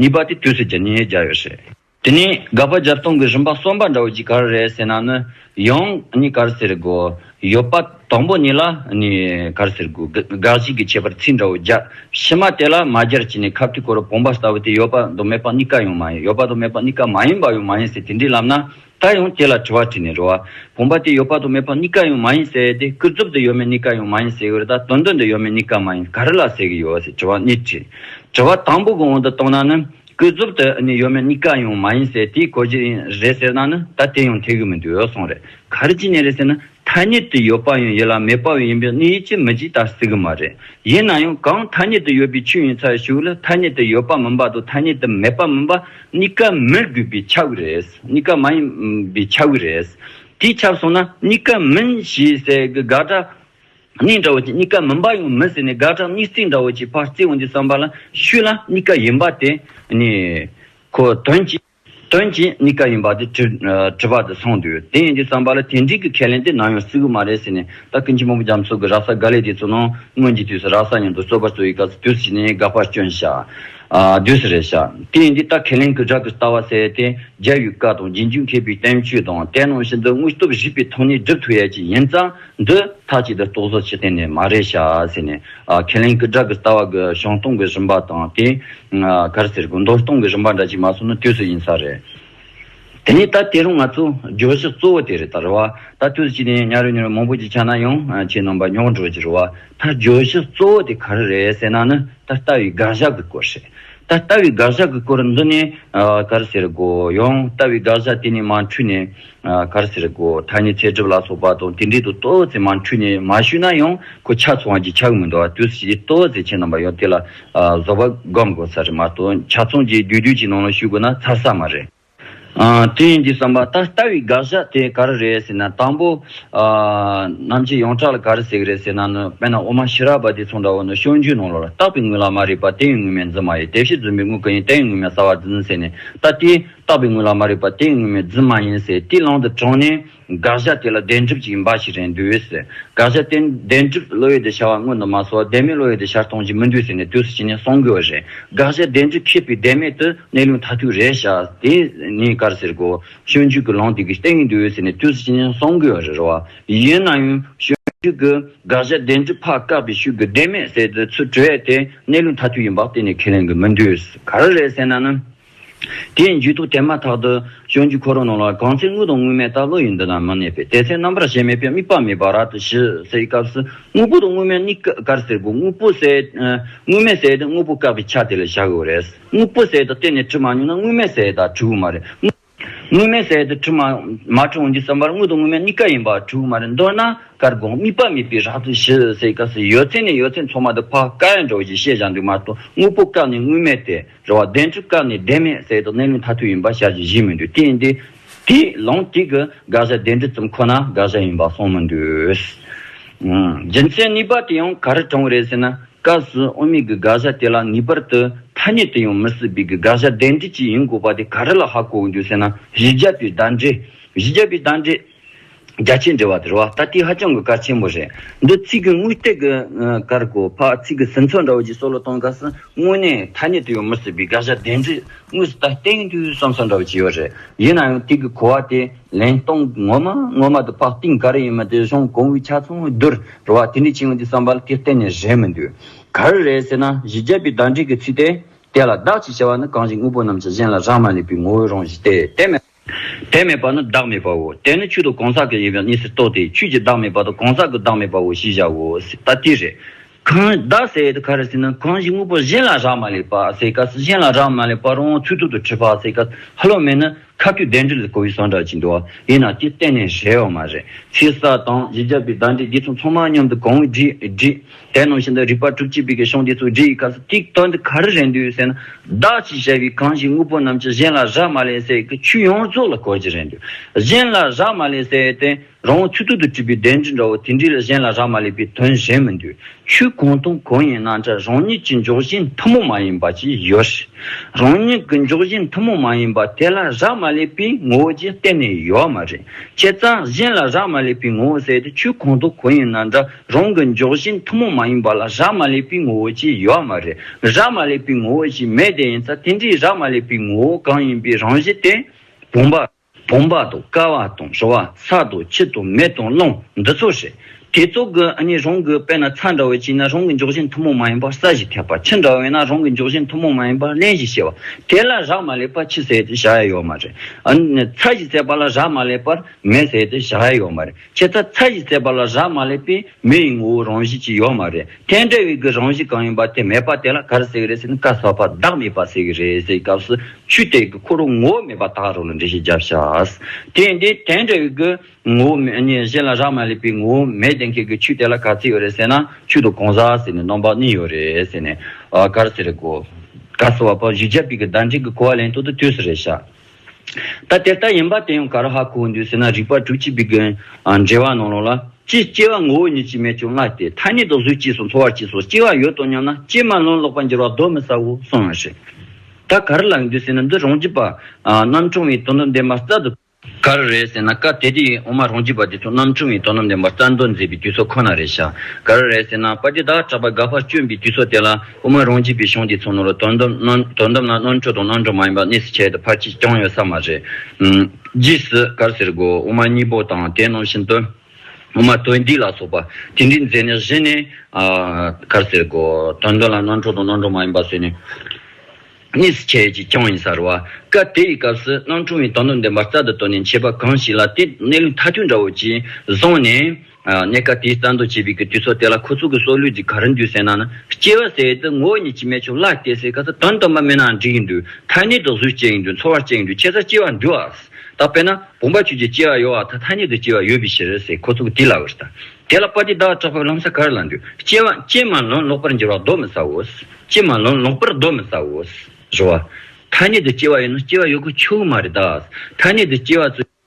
ནུས་པ་དེ་དུས་སུ་སྦྱར་ཉེས་སྦྱར་ཡོད་རེད། དེ་ནས་སྒ་པ་སྦྱར་སྟོང་གི་རིམ་པ་གསུམ་པ་འདྲ་བོ་གཅིག་གར་རེད་ཟེར་ན་ནི་ཡང་ནི་གར་ཟེར་དགོས། ཡོད་པ་དང་པོ་གཉིས་ལ་ནི་གར་ཟེར་དགོས། དགག་གཞི་གི་ཁྱད་པར་ཚིག་འདྲ་བོ་སྦྱར་ཕྱི་མ་དེ་ལ་མ་སྦྱར་གྱི་ནི་ཁ་བསྟི་གོ་རུ་བོང་བ་ལྟ་བུ་དེ་ཡོད་པ་དང་མེད་པ་གཉིས་ཀ་ཡང་མ་ཡིན་ཡོད་པ་དང་མེད་པ་གཉིས་ཀ་མ་ཡིན་པ་ཡང་མ་ཡིན་ཟེར་དེ་འདྲའི་ལམ་ན་ད་ཡང་དེ་ལ་དྲི་བ་དྲིས་ནས་རོ། བོང་བ་དེ་ཡོད་པ་དང་མེད་པ་གཉིས་ཀ་ཡང་མ་ཡིན་ཟེར་དེ་སྐུ་རྫོབ་ཏུ་ཡོད་མེད་གཉིས་ཀ་ཡང་མ་ཡིན་ཟེར་གྱི་རོ་ད་དོན་དོན་དུ་ཡོད་མེད་གཉིས་ཀ་མ་ཡིན་ག་རེ་ལ་ཟེར་གྱི་ཡོད་ཟེར་དྲི་བ་གཉིས་དྲིས། དྲི་བ་དང་པོ་གི་དབང་དུ་བཏང་ན་ནི་སྐུ་ཚབ་དེ་ནི་ཡོད་མེད་གཉིས་ཀ་ཡང་མ་ཡིན་ཟེར་དེའི་གོ་རྒྱུ་ཡིན་རེད་ཟེར་ན་ནི་ད་དེ་ཡང་ཐེག་གི་མི་འདུག་ཡོད་སོང་རེད་ག་རེ་ཅི་ཉེས་རེད་ཟེར་ན་ཐ་སྙད་དུ་ཡོད་པ་ཡང་ཡིན་ལ་མེད་པ་ཡང་ཡིན་པས་ནི་ཡིད་ཆེས་མི་བགྱིད་ད་སྲིད་གི་མ་རེད་ཡིན་ན་ཡང་གང་ཐ་སྙད་དུ་ཡོད་པའི་ཆོས་ཡིན་ཚར་ཞུགས་ལ་ཐ་སྙད་དུ་ཡོད་པ་མིན་པ་དང་ཐ་སྙད་དུ་མེད་པ་མིན་པ་གཉིས་ཀ་མི་དགོས་པའི་ཆ་གི་རེད་གཉིས་ཀ་མ་ཡིན་པའི་ཆ་གི་རེད་དེ་ཁྱབ་སོང་ན་གཉིས་ཀ་མིན་ཞེས་ཟེར་གི་དགག་སྒྲ། གཉིས་འདྲ་བོ་ཅིག་གཉིས་ཀ་མིན་པ་ཡང་མིན་ཟེར་ནས་དགག་གྲངས་གཉིས་བརྩེགས་འདྲ་བོ་ཅིག་ཕར་བརྩེགས་འོང་དུས་བསམ་པ་ལ་ཤུ་ལ་གཉིས་ཀ་ཡིན་པ་དེ་ནི། ཁོ་དོན་གྱིས། དོན་གྱིས་གཉིས་ཀ་ཡིན་པ་དེ་དྲི་བ་དེ་སོང་དུས་དེ་ཡིན་དུས་བསམ་པ་ལ་དེ་འགྲིག་གི་ཁས་ལེན་དེ་ནམ་ཡང་སྲིད་གི་མ་རེད་ཟེར་ནས་ད་ཀིན་ཆེན་པོ་འབུམ་རྒྱ་མཚོ་གི་ར་ས་ག་ལེ་དེ་ཚོ་ནང་སྔོན་གྱི་དུས་སུ་ར་ས་སྙམ་དུ་རྩོད་པ་རྩོད་ཡི་ག་ཚོ་དུས་སུ་བྱས་ནས་དགག་པར་སྐྱོན་བཞག་དུས་སུ་རེད་བཞག་དེ་ཡིན་དུས་ད་ཁས་ལེན་གི་རག་གི་ལྟ་བ་གསལ་ཡས་དེ་རྒྱལ་ཡུལ་བཀའ་དང་རྗེས་འཇུག་མཁས་པའི་བསྟན་བཅོས་དང་དེ་རྣམས་བཞིན་དུ་དངོས་སྟོབས་བཞི་པའི་ཐོག་ནས་སྒྲུབ་ཐུབ་ཡས་ཀྱི་ཡིན་ཙང། འདི་མཐའ་གཅིག་ཏུ་རྟོག་བཟོ་བྱེད་གཏན་ནས་མ་རེད་ཤག་ཟེར་ནས་ཁས་ལེན་ཀི་དྲག་གི་ལྟ་བ་གི་གཞུང་སྟོང་གི་རིམ་པ་དང་དེ་གར་ཟེར་དགོས་མདོར་སྟོང་གི་རིམ་པ་འདྲ་གཅིག་མ་སོང་ན་དུས་སུ་ཡིན་ས་རེད། དེ་ནས་ད་དེ་རུང་ང་ཚོ་བརྗོད་གཞི་གཙོ་བོ་དེ་རེད་ད་རེད་བ་ད་དུས་སུ་ཅི་ནས་ཉར་ཡོད་ཉར་ཡོད་མང་པོ་ཅིག་ཆགས་ན་ཡང་ཁྱེད་རྣམ་པ་རྙོག་འགྲོ་གི་རེད་བ་ད་བརྗོད་གཞི་གཙོ་བོ་དེ་ག་རེ་རེད་ཟེར་ན་ནི་ད་ལྟ་བའི་དགག་བཞག་གི་སྐོར་རེད་ད་ལྟ་བའི་དགག་བཞག་གི་སྐོར་འདི་ནས་ག་རེ་ཟེར་དགོས་ཡང་ལྟ་བའི་དགག་བཞག་དེ་ནས་མ་འཁྲུལ་ནས། ཁར་སེར་སྒོ་ཐ་སྙད་ཚད་གྲུབ་ལ་སོགས་པ་དང་དེ་འབྲེལ་དུ་ལྟོ་བོ་ཟེར་མ་འཁྲུལ་ནས་མ་ཞུས་ན་ཡང་ཁོ་ཆ་ཚང་བ་གྱི་ཆ་གི་མི་འདུག་བ་དུས་སུ་ཇི་ལྟོ་བོ་ཟེར་ཆེད་རྣམ་པ་ཡང་དེ་ལ་བཟོ་བ་སྒོམ་དགོས་ས་རེད་མ་གཏོགས་ཆ་ཚང་གྱི་རྒྱུ་རྒྱུ་གྱི་ནང་ལ་ཞུས་དགོས་ན་ཚར་ས་མ་རེད། དེ་ཡིན་གྱི་བསམ་པ་ད་ལྟ་བའི་དགག་བཞག་དེ་ག་རེ་རེད་ཟེར་ན་དང་པོ། རྣམ་འབྱེད་ཡོངས་གྲགས་ལ་ག་རེ་ཟེར་གི་རེད་ཟེར་ན་ནི་དཔེར་ན་འོ་མ་ཞི་རགས་པ་དེ་ཚོང་འདྲ་བོ་ནི་ཤོག་འཇུའི་ནང་ལོགས་ལ་བཏགས་པའི་དངུལ་ལ་མ་རིག་པ་དེ་ཡི་དངུལ་མེད་འཛིན་མ་ཡིན་དེ་བཞིན་རྫུན་པའི་དངུལ་ག་ཡིན་དེ་ཡི་དངུལ་མེད་ཟ་བར་འཛིན་ཟེར་ནས་ད་དེའི་བཏགས་པའི་དངོས་ལ་མ་རིག་པ་དེ་དངོས་མེད་རྫུན་མ་ཡིན་ཟེར་དེའི་ལམ་དུ་དྲངས་ནས་དགག་བཞག་དེ་ལ་བདེན་གྲུབ་ཅིག་ཡིན་པ་ཞིག་རེད་འདོད་ཟེར་དགག་བཞག་དེ་བདེན་གྲུབ་བློ་ཡོད་དེ་བྱ་བ་དངོས་དུ་མ་སོགས་བདེན་མེད་བློ་ཡོད་དེ་བྱར་གཏོང་བྱེད་མི་འདོད་ཟེར་ནས་དུས་སུ་བྱས་ནས་གསུང་དགོས་པ་རེད་དགག་བཞག་བདེན་གྲུབ་ཁེགས་པའི་བདེན་མེད་དུ་གནས་ལུགས་མཐའ་ཐུག་རེད་བྱ་དེ་ནི་དཀར་ཟེར་གོ་སྤྱོད་འཇུག་གི་ལམ་དེ་གི་སྟེང་ཡིན་འདོད་ཟེར་ནས་དུས་སུ་བྱས་ནས་གསུང་དགོས་པ་རེད་རོ། ཡིན་ན་ཡང་སྤྱོད་འཇུག་གི་དགག་བཞག་བདེན་གྲུབ་ཕ་བཀག་པའི་ཤུགས་ཀྱི་བདེན་མེད་ཟེར་དུས་ཚུལ་གྲོལ་བས་དེ་གནས་ལུགས་མཐའ་ཐུག་ཡིན་པ་གཏན་ནས་ཁས་ལེན་དགོས་མི་འདོད་ག་རེ་རེད་ཟེར་ན་ནི། དེ་ཡི་འཇུག་ཐོག་དེ་མ་ཐག་ཏུ། བྱང་ཆུབ་འཁོར་ལོ་རྣམས་ལ་གང་ཚེ་དངུལ་དང་དངུལ་མེད་སྟག་ལོ་ཡི་འདི་དང་མི་གནས་པས་དེ་ཚེ་རྣམ་པར་ཞེན་མེད་པའི་དམིགས་པ་མེད་པར་ར་ཏི་ཞི་སའི་སྐབས་སུ་དངུལ་པོ་དང་དངུལ་མེད་གཉིས་ཀར་བསྲེ་དགོས་དངུལ་པོ་བསྲེ། དངུལ་མེད་བསྲེས་ཏེ་དངུལ་པོ་བཀག་པའི་ཆ་དེ་ལས་བྱ་དགོས་པ་རེད། དངུལ་པོ་བསྲེས་ཏེ་གཏན་ནས་བྲི་མ་མྱོང་ན་དངུལ་མེད་བསྲེས་དང་བྲི་དགོས་མ་རེད། དངུལ་མེད་བསྲེས་ཏེ་བྲི་མ་མ་བྲི་འོང་རྒྱུའི་བསམ་པར་དངུལ་དང་དངུལ་མེད་གཉིས་ཀ་ཡིན་པར་བྲི་དགོས་མ་རེད་མདོར་ན་དཀར་དགོངས་དམིགས་པ་མེད་པའི་ར་ཏི་ཞི་སའི་སྐབས་སུ་ཡོད་ཚད་ནས་ཡོད་ཚད་མཚོ་མ་དེ་ཕ་ཀ་ཡང་འགྲོ་ཞེས་བཤད་བཞག་འདུག་མ་གཏོགས་དངུལ་པོ་བཀག་ནས་དངུལ་མེད་དེ། རེ་བ་བདེན་བཅུ་སྐབས་ནི་བདེན་མེད་ཟད་དོ་གནས་ལུགས་མཐའ་ཐུག་ཡིན་པ་ཤར་གྱི་གཞི་མི་འདུག་དེ་ཡིན་དུས་དེ་ལོངས་སྤྲུལ་གྱི་དགག་བཞག་བདེན་གྲུབ་ཙམ་ཁོ་ན་དགག་བཞག་ཡིན་པ་སོང་མི་འདུག། རྒྱུ་མཚན་གཉིས་པ་དེ་ཡང་ག་རེ་དྲང་བ་རེད་ཟེར་ན་སྐབས་སུ་དབུ་མེད་ཀྱི་དགག་བཞག་དེ་ལ་ངེས་པར་དུ་ཐ་སྙད་དུ་ཡང་མི་སྲིད་པའི་གི་དགག་བཞག་བདེན་འགྲིག་ཅིག་ཡིན་དགོས་པ་དེ་ག་རེ་ལ་ཧ་གོ་འོང་འདུག་ཟེར་ན་གཞི་རྒྱ་བོད་བདག་འདྲེ། གཞི་རྒྱ་བོད་བདག་འདྲེ། རྒྱ་ཆེའི་འགྲེལ་བ་དེར་བ་ད་ལྟའི་ཧ་ཅང་གི་དཀའ་ཆེན་པོ་རེད་འདི་ཚིག་གི་དངུལ་སྟེགས་ཀྱི་ཀར་གོ་ཕ་ཚིག་གི་ཟིན་ཚོད་འདྲ་བོ་ཅིག་སོགས་ལ་གཏོང་དཀའ་སྲིད་དངོས་གནས་ཐ་སྙད་དུ་ཡོད་མི་སྲིད་པའི་དགག་བྱ་དེ་འདྲའི་དངོས་སུ་ད་སྟེང་དུས་བསམ་བསམ་འདྲ་བོ་ཅིག་ཡོད་རེད་ཡིན་ན་ཡང་དེ་གི་གོ་བ་དེ་ལན་གཏོང་ངོ་མ་ངོ་མ་དུ་ཕ་ཏིང་ག་རེ་ཡིན་མི་དེ་གཞུང་གོང་བུའི་ཆ་ཚང་བས་བསྡུར་རུ་བ་དེ་འདྲའི་ཆིངས་དེ་བསམ་པར་དེ་གཏན་ནས་རེད་མི་འདུག་ག་རེ་རེད་ཟེར་ན་གཞི་རྒྱ་བའི་བརྡ་འགྲེལ་གྱི་ཚིག་སྟེ་དེ་ལ་བདག་ཅེས་བྱ་བ་ནི་གང་ཞིག་དངོས་པོ་རྣམས་ཀྱི་གཞན་ལ་རག་མ་ལས་པའི་ངོ་བོའི་རང་བཞིན་ཏེ་དེ་མེད་དེ་མེད་པ་ནི་བདག་མེད་པའོ། དེ་ནི་ཆུ་དང་གང་ཟག་གི་ཡིན་པའི་གནས་སུ་གཏོགས་ཏེ་ཆུ་གྱི་བདག་མེད་པ་དང་གང་ཟག་གི་བདག་མེད་པའོ་ཞེས་བྱའོ། ད་ལྟའི་རེ། གང་བདག་སེལ་ཡད་ཁ་ར་སི་ན་གང་ཞིག་དངོས་པོ་གཞན་ལ་རག་མ་ལས་པ་སེལ་སྐབས་སུ་གཞན་ལ་རག་མ་ལས་པར་འོང་ཚུལ་ཐུར་དུ་ཁྲིད་པ་སེལ་སྐབས་ཧ་ལོ་མེད་ན་ཁ་ཐུག་བདེན་འདྲིལ་གོ་བའི་ཟངས་འདྲ་ཅིག་འདུག་ཡིན་ན་དེ་གཏན་ནས་ཞེ་བ་མ་རེད་ཚེ་ས་དང་བཞི་བརྒྱ་པའི་བདག་འདྲིལ་དགེ་ཚོང་ཚང་མ་མཉམ་དུ་གང་བའི་འདྲིལ། དེ་ནང་བཞིན་དུ་རིག་པ་གྲུབ་ཅེས་པའི་གི་ཤོང་དེ་ཚུལ་འདྲི་ཡི་ཁ་ཟས་ཀྱིས་བསྟོད་འདི་ག་རེ་རེད་འདུག་ཟེར་ན། བདག་ཅེས་བྱ་བའི་གང་ཞིག་དངོས་པོ་རྣམས་ཀྱི་གཞན་ལ་རག་མ་ལས་ཟེར་གི་ཆོས་ཡོངས་རྫོགས་ལ་གོ་རྒྱུ་རེད་འདུག་གཞན་ལ་རག་མ་ལས་ཟེར་ཏེ། རང་བོ་ཚུལ་ཐུག་ཏུ་བྲིས་པའི་བདེན་འདྲི་འདྲ་བོ་དེ་འདྲའི་ལ་གཞན་ལ་རག་མ་ལས་པའི་དོན་གཞན་མི་འདུག་ཆོས་གང་དང་གང་ཡིན་ན་འདྲ་རང་ཉིད་ཀྱི་འཇོག་གཞི་མཐུན་མོང་མ་ཡིན་པ་ཅིག་ཡོད་རེད། རང་ཉིད་ཀྱི་འཇོག་གཞི་མཐུན་མོང་མ་ཡིན་པ་དེ་ལ་རག་མ་ལས་པའི་ངོ་བོ་ཅིག་གཏན་ནས་ཡོད་མ་རེད། བྱས་ཙང་གཞན་ལ་རག་མ་ལས་པའི་ངོ་བོ་ཟེར་ཏེ་ཆོས་གང་དང་གང་ཡིན་ན་འདྲ། རང་གི་འཇོག་བཞིན་ཐུན་མོང་མ་ཡིན་པ་ལ་རག་མ་ལས་པའི་ངོ་བོ་ཅིག་ཡོད་མ་རེད། རག་མ་ལས་པའི་ངོ་བོ་ཞིག་མེད་དེ་ཡིན་ཚ་དེ་འདྲའི་རག་མ་ལས་པའི་ངོ་བོ་གང་ཡིན་པའི་རང་བཞིན་དེ། བུམ་པ། བུམ་པ་དང་སྐ་བ་དང་ཞོ་བ་ས་དང་ཁྱི་དང་མེ་དང་རླུང་འདི་ཚོ་རེད། དེ་ཚོ་གི་གཉིས་རང་གི་དཔེ་ན་ཚ་འདྲ་བ་ཅིག་ན་རང་གི་འཇོག་བཞིན་ཐུན་མོང་མ་ཡིན་པར་ས་ཞིག་ཁྱབ་པ་ཁྱི་འདྲ་བས་ན་རང་གི་འཇོག་བཞིན་ཐུན་མོང་མ་ཡིན་པར་གླེན་ཞིག་བྱེད་པ་དེ་ལ་རག་མ་ལས་པ་ཁྱི་ཟེར་ཏེ་བྱ་ཡ་ཡོད་མ་རེད། ཚ་ཞིག་ཟེར་པ་ལ་རག་མ་ལས་པར་མེ་ཟེར་ཏེ་བྱ་ཡ་ཡོད་མ་རེད། ཁྱེད་ཚ་ཚ་ཡིས་བརྩད་པ་ལ་རག་མ་ལས་པས་མི་ཡི་ངོ་བོའི་རང་བཞིན་ཅིག་ཡོད་མ་རེད་ཐལ་འབྲས་བའི་གི་རང་བཞིན་གང་ཡིན་པ་དེ་མེད་པ་དེ་ལ་གར་ཟེར་གི་རེད་ཟེར་ནས་བཀའ་ཟག་པ་བདག་མེད་པ་ཟེར་གི་རེད་ཟེར་གི་སྐབས་སུ་ཆུ་དེ་གི་ཁོ་རོ་ངོ་བོ་མེད་པ་དག་རོ་ལ་འགྲེལ་བཤད་བརྒྱབ་ཤགས། དེ་འདི་ཐལ་འབྲས་བའི་གི་ངོ་བོ་མེད་ཉེས་གཞན་ལ་རག་མ་ལས་པའི་ངོ་བོ་མེད་དེ་མཁན་གི་ཆུ་དེ་ལ་ག་ཚིག་ཡོད་རེད་ཟེར་ན་ཆུ་དང་གང་ཟག་ཟེར་ནས་སྣང་བ་གཉིས་ཡོད་རེད་ཟེར་ནས་གར་ཟེར་གི་གོ། བཀའ་ཟེར་བ་པོ་བཞི་བརྒྱ་པའི་གི་བདག་འབྲས་གི་གོ་བ་ལེན་ཐོག་ཏུ་དུས་སུ་རེད་ཤགས། ད་དེ་ལྟར་ཡིན་པ་དེ་ཡང་ག་ར་ཧ་གོ་བོ་འདུག་ཟེར་ན་རིགས་པ་དྲུག་གཅིག་པའི་འགན་འབྲེལ་བ་ནང་ལོགས་ལ། ཅི་སྐྱེ་བ་ངོ་བོ་ཉིད་ཀྱིས་མེད་ཀྱང་སྔ་སྟེ་ཐ་སྙད་དང་གཟུགས་སྐྱེས་སོགས་འཚོ་བར་སྐྱེས་སོགས་སྐྱེ་བ་ཡོད་དོ་སྙམ་ན་སྐྱེས་མ་ལོན་ལོག་པར་འགྱུར་བ་གདོན་མི་ཟའོ་གསུང་བ་རེད། ད་ག་ར་ལགས་འདུག་ཟེར་ན་འདི་རང་རྒྱུད་པ། རྣམ་གྲངས་བའི་དོ་ནུབ་འདེམས་པ་རྩ་དོ། ག་ར་རེད་ཟེར་ན་སྐབས་དེ་དུས་ཡིན་འོ་མ་རང་རྒྱུད་པ་འདི་ཚོ་རྣམ་གྲངས་བའི་དོ་ནུབ་འདེམས་པ་རྩ་མདོ་མཛད་པའི་དུས་ཚོད་ཁོ་ན་རེད་བཞག་ག་ར་རེད་ཟེར་ན་པ་ཏི་དག་གྲགས་པ་དགའ་བར་སྤྱོན་པའི་དུས་ཚོད་དེ་ལ། དབུ་མ་རང་རྒྱལ་པའི་གཞུང་དེ་ཚོ་ནང་ལ་དོན་དམ་ན་དོན་དམ་ན་རྣོན་འཕྲོ་དང་རྣོན་འཕྲོ་མ་ཡིན་པ་གནས་སུ་ཁྱེར་ཏེ་ཕར་ཆེར་བསྐྱངས་ཡོད་ས་མ་རེད། རྗེས་སུ་གར་ཟེར་དགོས་དབུ་མ་གཉིས་པོ་དང་དེ་ནང་བཞིན་དོན་དབུ་མ་དོན་སྡིག་ལ་སོགས་པ་དེ་འདྲའི་མཛད་ནས་གཞི་ནས་གར་ཟེར་དགོས་དོན་དོན་ལ་རྣོན་འཕྲོ་དང་རྣོན་འཕྲོ་མ་ཡིན་པ་བཟོས་ནས་གནས་སུ་ཁྱེར་ཅིག་བསྐྱངས་ཡིན་ས་རེད། སྐབས་དེ་ཡི་སྐབས་སུ་རྣོན་འཕྲོ་བའི་དོན་དུ་འདི་འབར་རྩལ་དུ་བཏོན་ནས་མཆེད་པ་གང་ཞིག་ལ་དེ་གནས་ལུགས་མཐའ་དོན་འདྲ་བོ་གཅིག་བཟུང་ནས། གནད་ཀ་དེའི་རྩ་མདོ་བྱེད་པའི་གི་དུས་སོགས་དེ་ལ་ཁོ་ཚོ་གི་སྲོག་ལུས་ཀྱི་ག་རེ་འདུས་ཟེར་ན་ནི་སྐྱེ་བ་ཟེར་དུས་ངོ་བོ་ཉིད་ཀྱིས་མེད་ཆོག་གླགས་སྐྱེ་སའི་ག་ས་དོན་སྟོན་པ་མེད་ནའང་འགྲིག་གི་འདུག་མཐའ་སྙེད་དུ་གཟུགས་སྐྱེ་གི་འདུག་ཚོར་བ་སྐྱེ་གི་འདུག་ཁྱེད་ཚོ་སྐྱེ་བ་འདུལ་བ་ཟེར་ད་དཔེར་ན་བུམ་པ་ཆོས་ཀྱི་སྐྱེ་བ་ཡོད་བ་དང་མཐའ་སྙེད་དུ་སྐྱེ་བ་ཡོད་པའི་ཕྱིར་ཟེར་ཁོ་ཚོ་གི་དེ་ལ་འུར་ད་དེ་ལ་པ་ཏི་བདག་གྲགས་པོས་ལམ་ས་ག་རེ་ལ་འདུག་སྐྱེ་བ་སྐྱེ་མ་ལོན་ལོག་པར་འགྱུར་བ་གདོན་མི་ཟའོ། སྐྱེ་མ་ལོན་ལོག་པར་གདོན་མི་ཟའོ། བཞི་བ། མཐའ་སྙེད་དུ་སྐྱེ་བ་ཡོད་ན་སྐྱེ་བ་ཡོད་ཁུལ་ཆོག་གི་མ་རེད་ད། མཐའ་སྙེད་དུ་སྐྱེ་བ་ཚོས།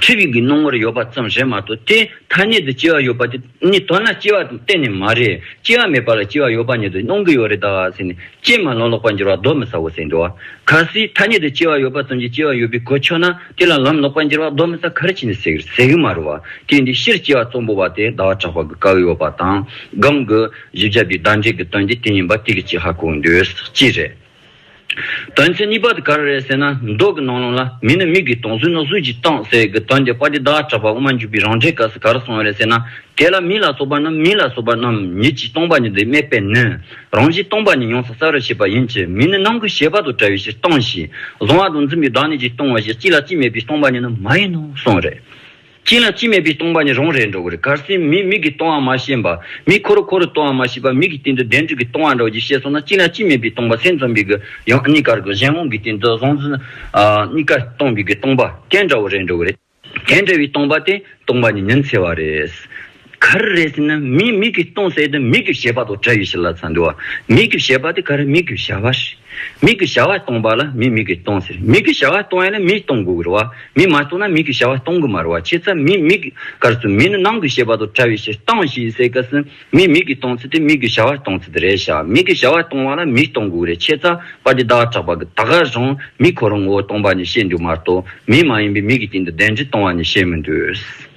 འཁྲིད་ཡིག་གི་རྣོ་ངར་ཡོད་པ་ཙམ་ཞིག་མ་གཏོགས་དེ་ཐ་སྙད་དུ་སྐྱེ་བ་ཡོད་པ་དེ་ནི་མདོར་ན་སྐྱེ་བ་དང་གཏན་ནས་མ་རེད། སྐྱེ་བ་མེད་པ་ལ་སྐྱེ་བ་ཡོད་པ་ཉིད་དུ་སྣང་གི་ཡོད་རེད་ད། ཅེས་མ་ལོག་ལོག་པར་འགྱུར་བ་གདོན་མི་ཟ་བོ་ཟེར་འདུག་བ། གལ་སྲིད་ཐ་སྙད་དུ་སྐྱེ་བ་ཡོད་པ་ཙམ་གྱིས་སྐྱེ་བ་ཡོད་པའི་གོ་ཆོད་ན་དེ་ལ་ལམ་ལོག་པར་འགྱུར་བ་གདོན་མི་ཟ་གལ་ཆེ་ནི་ཟེར་གི་མ་རེད་བ། དེས་འདི་ཕྱིར་སྐྱེ་བ་གཙོ་འབོ་བ་དེ་ཟླ་བ་གྲགས་པ་གི་བཀའ་ཡོད་པ་དང་སྒམ་གི། བཞི་བརྒྱ་པའི་ཟླ་འགྲེལ་གྱི་དོན་གྱི་དེ་ཉིན་པ་དེ་གི་ཅི་ཧ་གོ་འདོད་ཅི་རེད། དོན་ཚན་གཉིས་པ་དེ་ག་རེ་རེད་ཟེར་ན་མདོག་གི་ནང་ལོང་ལ་མི་ནི་མིག་གིས་དོང་སུས་ནག་སུས་ཀྱིས་བཏང་ཟེར་གི་དོན་དེ་པ་ཏི་བདག་གྲགས་པ་དབུ་མ་འཇུག་པའི་རང་འགྲེལ་ག་ས་ག་རུ་སོང་བ་རེད་ཟེར་ན་དེ་ལ་མི་ལ་སོགས་པ་རྣམས་མི་ལ་སོགས་པ་རྣམས་ཉིད་ཀྱིས་སྟོང་པ་ཉིད་དུ་སྨྲས་པས་ནི་རང་བཞིན་སྟོང་པ་ཉིད་ཡོངས་སུ་གསལ་བར་བྱེད་པ་ཡིན་གྱི་མི་ནི་ནང་གི་ཤེས་པ་དང་བྲལ་བའི་ཕྱིར་སྟོང་ཞེས་གཟུང་བ་དང་འཛིན་པའི་བདག་ཉིད་ཀྱིས་སྟོང་བ་ཞེས་གཅིག་ལ་གཅིག་སྨྲས་པའི་སྟོང་པ་ཉིད་ནི་མ་ཡིན་ནོ་གསུངས་རེད། གཅིན་ལ་གཅིན་མེད་པའི་སྟོང་པ་ནི་རང་རེད་འགྲོ་གི་རེད་གར་སེམས་མིག་མིག་གི་སྟོང་བ་མ་ཤེས་པ། མིག་ཁོ་རུ་ཁོ་རུ་སྟོང་བ་མ་ཤེས་པ་མིག་གི་སྟེང་དུ་བདེན་གྲུབ་ཀྱི་སྟོང་བ་འགྲོ་ཞེས་བཤད་སོང་ན་གཅིན་ལ་གཅིན་མེད་པའི་སྟོང་པ་སེམས་རྩོམ་པའི་གི་ཡང་གཉིས་ཀར་གི་གཞན་དབང་གི་སྟེང་དུ་གཟུང་འཛིན་གཉིས་ཀ་སྟོང་པའི་གི་སྟོང་པ་སྐད་འདྲ་བོ་རེད་འགྲོ་གི་རེད། དེ་འདྲ་བའི་སྟོང་པ་དེ་སྟོང་པ་ནི་མིན་ཚེ་བ་རེད། ག་རེ་རེད་ཟེར་ན་མིའི་མིག་གིས་སྟོང་ཟད་དུ་མིག་གི་ཞེས་པ་དང་སྦྲེལ་ཡོད་ཞེས་ལབ་ཚར་འདུག་མིག་གི་ཞེས་པ་དེ་ག་རེ་མིག་གི་བྱ་བ། མིག་གི་བྱ་བ་སྟོང་པ་ལ་མིའི་མིག་གིས་སྟོང་ཟེར་མིག་གི་བྱ་བ་སྟོང་ཡ་ལ་མིས་སྟོང་དགོས་ཀྱི་རེད་བ། མིས་མ་སྟོང་ན་མིག་གི་བྱ་བ་སྟོང་གི་མ་རེད་བ་ཁྱེད་ཚ་མིའི་མིག་གར་སོང་མི་ནི་ནང་གི་ཞེས་པ་དང་བྲལ་བའི་ཕྱིར་སྟངས་ཞེས་ཟེར་སྐབས་སུ་མིའི་མིག་གིས་སྟོང་ཚུལ་དེ་མིག་གི་བྱ་བ་སྟོང་ཚུལ་དེ་རེད་བྱ་མིག་གི་བྱ་བ་སྟོང་བ་ལ་མིས་སྟོང་དགོས་ཀྱི་རེད་ཁྱེད་ཚ་པ་འདི་བདག་གྲགས་པ་གི་ད་གར་སོང་མིས་ཁོ་རང་ངོ་བོ་སྟོང་པ་ནས་བཤད་འདུག་མ་གཏོགས་མིས་མ་ཡིན་པའི་མིག་གི་སྟེང་དུ་གདན་ཁྲི་སྟོང་བ་ནས་བཤད་མི་འདུག།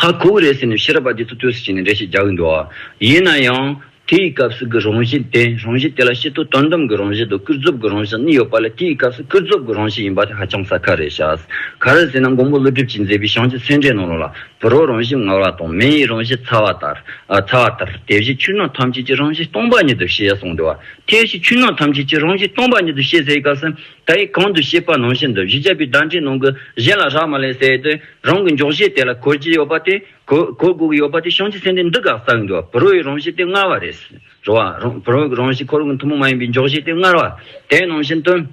ཧ་གོ་གི་རེད་ཟེར་ནས་ཕྱི་རབས་པ་དེ་ཚོ་ལྟོས་ཟེར་བྱས་ནས་འགྲེལ་བཤད་རྒྱག་གི་འདུག་ཨ། ཡིན་ན་ཡང། དེའི་སྐབས་སུ་གི་རང་བཞིན་དེ་རང་བཞིན་དེ་ལ་ཤེས་རྟོགས་དོན་དམ་གི་རང་བཞིན་དང་ཀུན་རྫོབ་ཀྱི་རང་བཞིན་གཉིས་ཡོད་པ་ལས་དེའི་སྐབས་སུ་ཀུན་རྫོབ་ཀྱི་རང་བཞིན་ཡིན་པ་དེ་ཧ་ཅང་ཟ་ཁ་རེད་ཤག། ག་རེ་ཟེར་ན་མགོན་པོ་ཀླུ་སྒྲུབ་ཀྱིས་མཛད་པའི་ཞང་སྤྱི་ཚེ་འབྲས་ནང་ལོགས་ལ་བུ་རོག་རང་བཞིན་ངར་བ་དང་མེ་ཡི་རང་བཞིན་ཚ་བ་ལྟར། ཚ་བ་ལྟར་དེ་བཞིན་ཆུ་སྣང་ཐམས་ཅད་ཀྱི་རང་བཞིན་སྟོང་པ་ཉིད་དུ་ཤེས་གསུངས་འདུག་ཨ། དེ་བཞིན་ཆུ་སྣང་ཐམས་ཅད་ཀྱི་རང་བཞིན་སྟོང་པ་ཉིད་དུ་ཤེས་ཟེར་བའི་སྐབས་སུ། ད་ཡིག་གང་དུ་ཤེས་པ་ནང་བཞིན་དུ་གཞི་བྱས་པའི་བརྡ་འཕྲིན་ནང་གི་གཞན་ལ་རག་མ་ལས་ཟེར་ཏེ་རང་གི་འཇོག་གཞི་དེ་ལ་གོ་གྱི་ཡོད་པ་དེ་གོ་གོ་དགོས་ཀྱི་ཡོད་པ་དེ་བྱང་ཆུབ་སེམས་དེ་འདི་ག་ཟག་གི་འགྲོ་བ་བུ་རོ་ཡི་རང་བཞིན་དེ་མངར་བ་རེད། རོ་བ། བུ་རོ་གི་རང་བཞིན་ཁོར་གི་ཐུན་མོང་མ་ཡིན་པའི་འཇོག་གཞི་དེ་མངར་བ། དེ་ནང་བཞིན་དུ།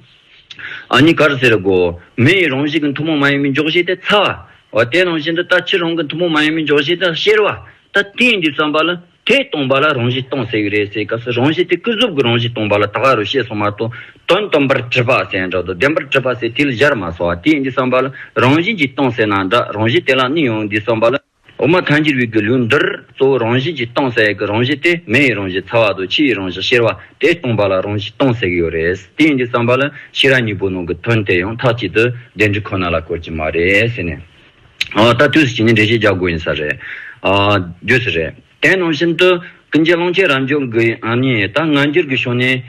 ཨ་ནི་གར་ཟེར་དགོས། མེ་ཡི་རང་བཞིན་གྱི་ཐུན་མོང་མ་ཡིན་པའི་འཇོག་གཞི་དེ་ཚ་བ། བ་དེ་ནང་བཞིན་དུ་ལྟ་ཕྱིར་རང་གི་ཐུན་མོང་མ་ཡིན་པའི་འཇོག་གཞི་དེ་གཤེར་བ། ད་ཐེངས་འདིའི་བརྩམས་པ་ལ་དེ་སྟོང་པ་ལ་རང་བཞིན་སྟོང་ཟེར་གྱི་རེད་ཟེར་སྐབས་སུ་རང་བཞིན་དེ་སྐུ་གཟུགས་ཀྱི་རང་བཞིན་སྟོང་པ་ལ་ད་ག་རུ་བཤད་སོང་མ་གཏོགས་དོན་སྟོང་པར་བྲི་བ་ཟེར་ན་འདྲ་འདུག་བདེན་པར་བྲི་བ་ཟེར་དུས་ལ་གཞར་མ་སོང་བ་དེས་འདི་བསམ་པ་ལ་རང་བཞིན་གྱིས་སྟོང་ཟེར་ན་འདྲ་རང་བཞིན་དེ་ལ་ནི་ཡང་འདི་བསམ་པ་ལ། འོ་མ་མཐའ་འཁྱེར་བའི་དགེ་ལུགས་འདིར་གཙོ་བོ་རང་བཞིན་གྱིས་སྟོང་ཟེར་ཡག་གི་རང་བཞིན་དེ་མེ་ཡི་རང་བཞིན་ཚ་བ་དང་ཕྱི་ཡི་རང་བཞིན་གཤེར་བ་དེ་སྟོང་པ་ལ་རང་བཞིན་སྟོང་ཟེར་གྱི་ཡོད་རེད་དེས་འདི་བསམ་པ་ལ་ཕྱི་ར་གཉིས་པོ་ནང་གི་དོན་དེ་ཡང་མཐའ་གཅིག་ཏུ་བདེན་འབྲི་ཁོ་ན་ལ་དཀོལ་གྱི་མ་རེད་ཟེར་ནས། ད་དུས་སུ་ཇི་ནས་འགྲེལ་བཤད་རྒྱག་དགོས་ཡིན་ས་རེད། རྒྱུས་སུ་རེད། དེ་ནང་བཞིན་དུ། ཀུན་མཁྱེན་ཀློང་ཆེན་རབ་འབྱོར་གྱིས་ཨ་ནི་ད་སྔ་འགྱུར་གྱི་ཤོག་ནས།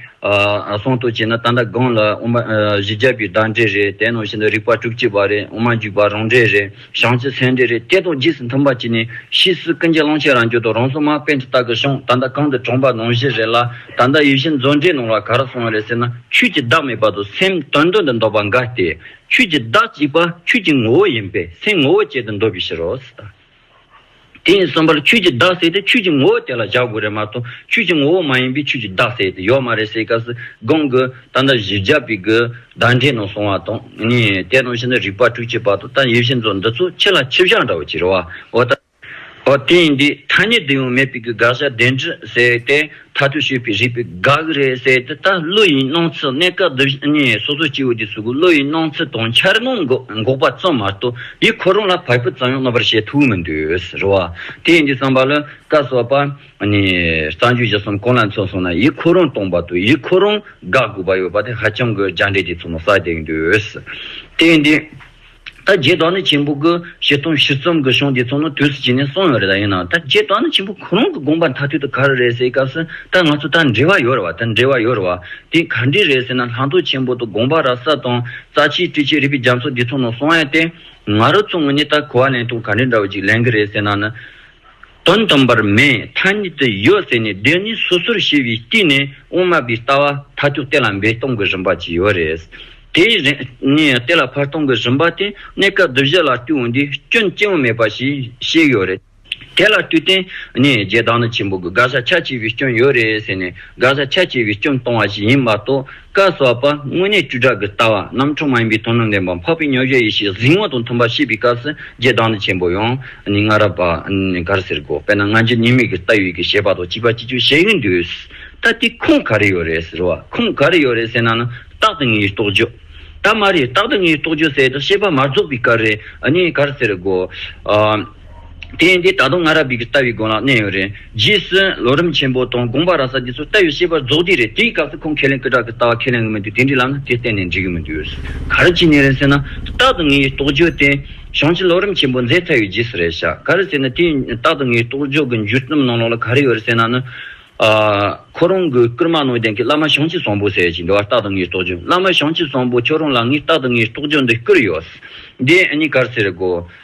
གསུང་དུ་བྱས་ན་ད་ལྟ་སྒང་ལ་དབུ་མ་བཞི་བརྒྱ་པའི་བདག་འགྲེལ་རེད་དེ་ནང་བཞིན་དུ་རིག་པ་དྲུག་གཅིག་པ་རེད་དབུ་མ་འཇུག་པ་རང་འགྲེལ་རེད་ཞང་ཚིག་ཚན་འགྲེལ་རེད་དེ་དང་རྗེས་སུ་མཐུན་པ་བྱས་ནས་ཕྱིས་སུ་ཀུན་མཁྱེན་ཀློང་ཆེན་རབ་འབྱོར་དང་རང་སྲོག་མ་དཔལ་གྱི་རྟགས་ཀྱི་ཤོག་ད་ལྟ་གང་དུ་གྲོངས་པ་ནང་བཞིན་རེད་ལ་ད་ལྟ་ཡུལ་གཞན་མཛོད་འགྲེལ་ནང་ལ་ག་རེ་སོང་བ་རེད་ཟེར་ན་ཆོས་ཀྱི་བདག་མེད་པ་དང་སེམས་དོན་དོན་དུ་འདོགས་པ་འགའ་སྟེ། ཁྱོད་ཀྱི་བདག་གཅིག་པ་ཁྱོད་ཀྱི་ངོ་བོ་ཡིན་པས་སའི་ངོ་བོ་བཅད་དེ་འདོགས་པའི་ཕྱིར་རོ། དེ་ཡིན་གསུམ་པར་ཁྱོད་ཀྱི་བདག་བསལ་ཏེ་ཁྱོད་ཀྱི་ངོ་བོ་དེ་ལ་བཞག་དགོས་རེད་མ་གཏོགས་ཁྱོད་ཀྱི་ངོ་བོ་མ་ཡིན་པས་ཁྱོད་ཀྱི་བདག་བསལ་ཏེ་ཡོད་མ་རེད་ཟེར་སྐབས་སུ་དགོངས་དགོས་ད་ལྟ་གཞི་བརྒྱ་པའི་དགོས་གདངས་འགྲེལ་ནང་སོང་བ་དང། དེ་དང་ཕྱི་ནང་རིག་པ་དྲུག་ཅེས་པ་དང་ད་ཡེ་ཤེས་མཚོ་འདི་ཚོ་ཁྱེད་ལ་ཁྱི་བཞག་འདྲ་བོ་གྱི་རེད་བ་འོ་ད། ཨོ་དེ་ཡིན་དུས་ཐ་སྙད་དུ་ཡང་མེད་པའི་གི་དགག་བྱ་བདེན་འདྲི་ཟེར་དེ་མཐའ་དོན་ཤོད་པའི་རིགས་པའི་དགག་རེད་ཟེར་དེ་ལྟར་བློ་ཡི་སྣང་ཚུལ་གནས་སྐབས་འདི་བཞིན་གཉིས་སོ་སོ་སྐྱེ་བོ་དེ་ཚོ་གི་བློ་ཡི་སྣང་ཚུལ་དང་འཆར་སྣང་གི་འགོག་པ་ཙམ་མ་གཏོགས་ཡིད་ཁོ་རང་ལ་བག་ཕེབས་ཙམ་ཡང་གནོད་པར་བྱེད་ཐུབ་མི་འདུག་རེད་བ། དེ་ཡིན་དུས་བསམ་པ་ལ་བཀའ་སོགས་པ་ནས་གསང་རྒྱུད་ཀྱི་སམ་གང་ལ་མཚོན་སོང་ན་ཡིད་ཁོ་རང་སྟོང་པ་དང་ཡིད་ཁོ་རང་དགག་དགོས་པ་ཡོད་པ་དེ་ཧ་ཅང་གི་རྒྱ་འགྲེལ་དེ་ཚོ་ནང་བསགས་བསྡད་ཀྱི་འདུག་དེ་ཡིན་དུས། ད་རྗེས་དོགས་ནི་ཆེན་པོ་དགུ། བཞི་སྟོང་བཞི་བརྩོམ་གྱི་གཞུང་འདི་ཚོ་ནི་དུས་སུ་བྱས་ནས་སོང་ཡོད་རེད་ད་ཡིན་ནའང་ད་རྗེས་དོགས་ནི་ཆེན་པོ་གོ་རང་གི་དགོངས་པ་མཐའ་ཐུག་ཏུ་ག་རེ་རེད་ཟེར་སྐབས་སུ་ད་ང་ཚོ་ད་འབྲེལ་བ་ཡོད་རེད་བ་ད་འབྲེལ་བ་ཡོད་རེད་བ། དེ་ག་འདྲས་རེད་ཟེར་ན་ལྷག་མཐོང་ཆེན་པོ་དུ་དགོངས་པ་ར་ས་དང་རྩ་ཆེའི་བཀྲིས་ཆེ་རིགས་པའི་རྒྱ་མཚོ་འདི་ཚོ་ནང་སོང་ཡས་ཏེ། ང་རུ་མཚུངས་ངོས་ནས་ད་གོ་བ་ལེན་སྟངས་ག་འདྲས་འདྲ་བོ་ཅིག་ལེན་གི་རེད་ཟེར་ན་ནི། དོན་དམ་པར་མེད་མཐའ་ཉིད་དུ་ཡོད་ཟེར་ནས་བདེན་གཉིས་སོ་སོར་ཤེས་པའི་སྟེང་ནས་དབུ་མ་པའི་ལྟ་བ་མཐའ་དུས་གཏན་ལ་འབེབས་གཏོང་གི་རིམ་པ་ཅིག་ཡོད་རེད། དེའི་རིང་ནས་དེ་ལ་བར་སྟོང་གི་རིམ་པ་དེ་གནས་སྐབས་བསྡུ་བཞི་ལ་བསྟུན་འོས་འདི་སྐྱོན་སྐྱེ་བོ་མེད་པ་ཞིག་བཤད་ཡོད་རེད། དེ་ལ་དུས་གཏན་ནས་རྗེ་བདག་ན་ཆེན་པོ་གི་དགག་བྱ་ཁྱད་ཆེ་བའི་སྐྱོན་ཡོད་རེད་ཟེར་ནས་དགག་བྱ་ཁྱད་ཆེ་བའི་སྐྱོན་གཏོང་བ་ཞིག་ཡིན་མ་གཏོགས། བཀའ་སྩལ་པ། དངོས་གནས་བཅུ་ཕྲག་གི་ལྟ་བ་རྣམ་འཕྲུལ་མ་ཡིན་པའི་དོན་དུ་ལེན་པ་འཕགས་པའི་མྱོས་བྱེད་ཡེ་ཤེས་གཟིགས་ངོ་དང་མཐུན་པར་ཤེས་པའི་སྐབས་སུ་རྗེ་བདག་འདི་ཆེན་པོ་ཡང་ནི་སྔ་རབས་པ་གར་ཟེར་གོ་དཔེར་ན་སྔ་འགྱུར་ཉེས་དམིགས་ཀྱི་རྟ་ཡོད་ཀྱི་ཞེས་པ་དང་གཅིག་པ་གཅིག་ཆོད་བྱེད་ཀྱི་འདུག་ད་དེའི་ཁུངས་ག་རེ་ཡོད་རེད་ཟེར་བ་ཁུངས་ག་རེ་ཡོད་རེད་ཟེར་ན་ནི་རྟག་ཏུ་ངའི་རྟོགས་བརྗོད་ད་མ་རེད་རྟག་ཏུ་ངའི་རྟོགས་བརྗོད་ཟེར་དུ་བཤད་པ་མ་རྫོགས་པའི་སྐབས་རེད་ནི་གར་ཟེར་གོ། དེ་ཡིན་དུས་ད་དུང་ང་ར་བིག་གི་ལྟ་བའི་དགོན་ལག་གནས་ཡོད་རེད། རྗེས་སུ་ལོ་རིམ་ཆེན་པོ་དང་དགོངས་པ་ར་ས་འདི་ཚོ་ལྟ་བའི་ཤེས་པ་རྫོགས་དུས་རེད་དེའི་སྐབས་སུ་ཁོང་ཁས་ལེན་སྐུ་དྲག་གི་ལྟ་བ་ཁས་ལེན་གི་མི་འདུག་དེ་འདྲའི་ལམ་ན་དེ་གཏན་ནས་འགྲིག་གི་མི་འདུག་ཡོད་ག་རེ་བྱས་ནས་རེད་ཟེར་ན། རྟག་ཏུ་ངའི་རྟོགས་བརྗོད་དེ། བྱང་ཆུ་ལོ་རིམ་ཆེན་པོ་མཛད་ཚར་བའི་རྗེས་སུ་རེད་ཤག་ག་རེ་ཟེར་ན་དེ་རྟག་ཏུ་ངའི་རྟོགས་བརྗོད་གི་འགྱུར་རྩོམ་ནང་ལོགས་ལ་ག་རེ་ཡོད་རེད་ཟེར་ན་ནི། ཁོ་རང་གི་བསྐུར་མ་ནང་བསྟན་གྱི་བླ་མ་བྱང་ཆུ་བཟང་པོ་ཟེར་ཞིག་འདི་བ་རྟག་ཏུ་ངའི་རྟོགས་བརྗོད་བླ་མ་བྱང་ཆུ་བཟང་པོ་ཁྱོད་རང་ལ་ངས་རྟག་ཏུ་ངའི་རྟོགས་བརྗོད་འདི་བསྐུར་ཡོད། འདི་གཉིས་ག་རེ་ཟེར་དགོས།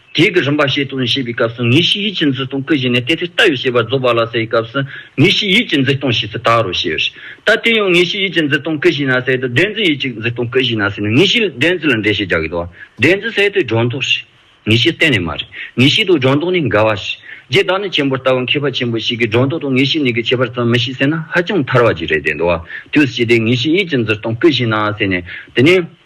དེའི་གི་རིམ་པ་ཞེས་དང་ཞེས་པའི་སྐབས་སུ་ངེས་ཤེས་ཡིད་ཀྱི་འཛིན་སྟོང་སྐུ་བཞི་ནི་དེ་དེ་ལྟ་བུའི་ཤེས་པ་རྫོགས་པ་ལ་ཟེར་བའི་སྐབས་སུ་ངེས་ཤེས་ཡིད་ཀྱི་འཛིན་སྟོང་ཞེས་སུ་དག་རོ་ཞེས་ད་དེ་ཡང་ངེས་ཤེས་ཡིད་ཀྱི་འཛིན་སྟོང་སྐུ་བཞི་ན་ཟད་དུ་བདེན་འཛིན་ཡིད་ཀྱི་འཛིན་སྟོང་སྐུ་བཞི་ན་ཟད་ནི་ངེས་ཤེས་བདེན་འཛིན་ལ་འགྲེལ་བཤད་རྒྱག་གི་འདུག་བདེན་འཛིན་ཟད་དུ་སྒྲོ་འདོགས་ཤིག། ངེས་ཤེས་གཏན་ནས་མ་རེད། ངེས་ཤེས་དང་སྒྲོ་འདོགས་ནི་འགལ་བ་ཞིག། རྗེ་བདག་ཉིད་ཆེན་པོར་ལྟ་བའི་མཁས་པ་ཆེན་པོ་ཞིག་གིས་སྒྲོ་འདོགས་དང་ངེས་ཤེས་གཉིས་ཀྱི་ཁྱད་པར་ཙམ་མི་ཤེས་ཟེར་ན་ཧ་ཅང་ཐར་བ་ཅིག་རེད་དེ་འདུག་དུས་ཕྱིས་དེ་ངེས་ཤེས་ཡིད་ཀྱི་འཛིན་སྟོང་སྐུ་བཞི་ན་ཟད་ནས་དེ་ནས།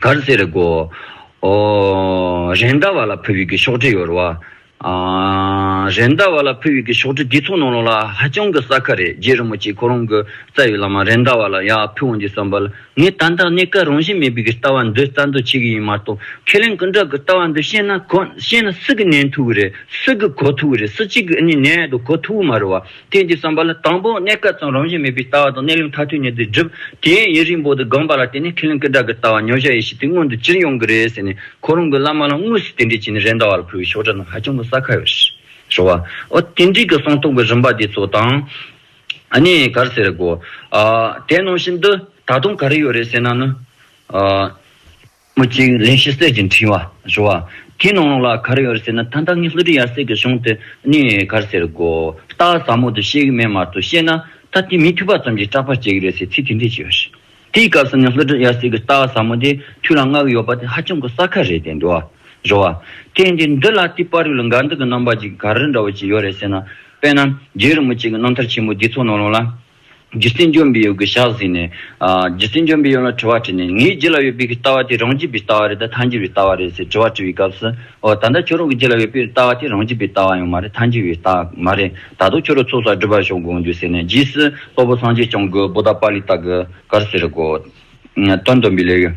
གར་སེར་སྒོ། རེད་མདའ་བ་ལ་ཕུ་བོད་ཀྱི་ཤོག་དྲིལ་ཡོད་རོ། རེད་མདའ་བ་ལ་ཕུ་བོད་ཀྱི་ཤོག་དྲིལ་འདི་ཚོ་ནང་ལོག་ལ་ཧ་ཅང་གི་ཟ་ཁ་རེད་རྗེ་རིན་པོ་ཆེ་ཁོ་རང་གི་རྩ་བའི་བླ་མ་རེད་མདའ་བ་ལ་ཡག་ཕུ་བོ་འདི་བསམ་པ་ལ་ངས་ད་ལྟ་གནས་སྐབས་རང་བཞིན་མེད་པའི་གི་ལྟ་བ་འདི་རྩ་འདོད་བྱེད་གི་ཡིན་མ་གཏོགས་ཁས་ལེན་ཀུན་དགའ་གི་ལྟ་བ་འདི་བཤད་ན་ཤེས་ན་སུ་གི་ནན་ཐུག་གི་རེད་སུ་གི་གོ་ཐུག་གི་རེད་སུ་གཅིག་གི་ཨ་ནི་ནད་དུ་གོ་ཐུག་གི་མ་རེད་བ་རྟེན་གྱི་བསམ་པ་ལ་དང་པོ་གནས་སྐབས་ཙམ་རང་བཞིན་མེད་པའི་ལྟ་བ་དང་གནས་ལུགས་མཐའ་ཐུན་ཉིད་དུ་སྒྲུབ། དེའི་ཡིན་རིང་པོ་དུ་སྒོམ་པ་ལ་བརྟེན་ནས་ཁས་ལེན་ཀི་སྒྲ་གི་ལྟ་བ་ཉོ་བྱ་ཡེ་ཤེས་དེ་མངོན་དུ་ཅིར་ཡོང་གི་རེད་ཟེར་ནས་ཁོ་རང་གི་བླ་མ་ལ་དངོས་སུ་དེ་འདྲས་བྱས་ནས་རེད་མདའ་བ་ལ་ཕུལ་བའི་ཤོག་སྒྲ་རྣམས་ཧ་ཅང་གི་གསལ་ཁ་ཡོད། ཞོ་བ། ཨོ། དེ་འདྲས་ཀི་གསང་རྟོགས་ཀི་རིམ་པ་དེ་ཚོ་དང། ནི་གར་ཟེར་རེད་གོ། དེ་ནང་བཞིན་དུ་ད་དུང་ག་རེ་ཡོད་རེད་ཟེར་ན་ནི། མོ་གཅིག་ལན་ཞིག་གསེར་གྱི་འཕྲེང་བ་བྱུགས། བ་དེའི་ནང་ལོགས་ལ་གར་ཡོད་ཟེར་ན་ད་ལྟ་ངའི་ལྷུ་གྲི་ཡར་སྲེག་གི་གཞུང་དེ་ནི་གར་ཟེར་དགོས། སྟག་ཟ་མོ་དེ་བཤད་གི་མེད་མར་དུ་བཤད་ན་ད་དེ་མི་ཐུབ་པ་ཙམ་གྱིས་སྐྲག་པར་བྱེད་ཀྱི་རེད་ཟེར་ཚིག་དེ་འདྲས་ཅིག་ཡོད། དེའི་སྐབས་སུ་ནི་ལྷུ་གྲི་ཡར་སྲེག་གི་སྟག་ཟ་མོ་དེ་ཐུགས་ལ་བསྔགས་ཡོད་པ་དེ་ཧ་ཅང་གི་གསར་ཁ་རེད་དེ་འདུག་བ། བྱུགས། བ་དེ་འདི་འདི་ལ་དེའི་པར་རིས་ལ་འགའ་འདི་གི་རྣམ་པ་གཅིག་གི་གར་རིས་འདྲ་བོ་ཅིག་ཡོད་རེད་ཟེར་ན། དཔེར་ན་རྒྱའི་རི་མོ་གཅིག་གི་རྣམ་ཐར་ཆེན་པོ་འདི་ཚོ་ནང་ལོགས་ལ། རྒྱུ་རྐྱེན་འཇོམས་པའི་ཡོ་གི་ཞག་གཟིགས་ནས། རྒྱུ་རྐྱེན་འཇོམས་པའི་ཡོན་ལ་དྲི་བ་དྲིས་ནས། ངའི་རྗེས་ལ་ཡོད་པའི་ཀྱི་ལྟ་བ་དེ་རང་རྒྱུད་པའི་ལྟ་བ་རེད་དམ་མཐའ་འགྱུར་བའི་ལྟ་བ་རེད་ཟེར་དྲི་བ་དྲི་བའི་སྐབས་སུ། འོ་ད་ལྟ་ཁྱོད་རང་གི་རྗེས་ལ་ཡོད་པའི་ཀྱི་ལྟ་བ་དེ་རང་རྒྱུད་པའི་ལྟ་བ་ཡང་མ་རེད་མཐའ་འགྱུར་བའི་ལྟ་མ་རེད་ད་དུང་ཁྱོད་རང་ཚོགས་བསགས་སྒྲུབ་པར་ཤོག་དགོངས་རྒྱུ་ཟེར་ནས་རྗེས་སུ་དཔའ་བོ་སངས་རྒྱས་བསྐྱངས་དགོས་བོ་ད་པཱ་ལི་ལྟ་གི་གར་ཟེར་གོ། སྟོན་དོན་པའི་ལས་ཡོད།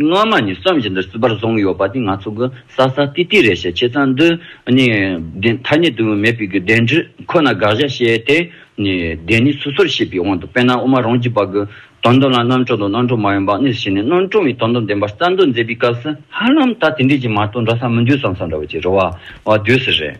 སྔ་མ་ནི་བསམ་བཞིན་དུ་བསིལ་བར་བཟུང་ཡོད་པ་དེ་ང་ཚོ་གི་ས་ས་ཏི་ཏི་རེད་ཞེས་བྱས་ཙང་འདི་ནི་བདེན་ཐ་སྙད་དུ་མེད་པའི་བདེན་འདྲི་ཁོ་ན་དགག་བཞག་བྱས་ཏེ་ནི་བདེན་ནི་སོ་སོར་ཤེས་པའི་དབང་དུ་དཔེར་ན་དབུ་མ་རང་རྒྱུད་པ་གི་དོན་དུ་ལ་རྣམ་གྲོལ་དང་རྣམ་གྲོལ་མ་ཡིན་པ་གཉིས་སུ་ཕྱེ་ནས་རྣམ་གྲོལ་བའི་དོན་དུ་བདེན་པ་རྩ་མདོ་མཛད་པའི་སྐབས་སུ་ཧ་ལམ་ད་དེ་འདྲས་ཀྱི་མ་གཏོགས་འདྲ་ས་མི་འདུག་བསམ་བསམ་འདྲ་བ་ཅིག་རེད་བ་བ་དུས་སུ་རེད།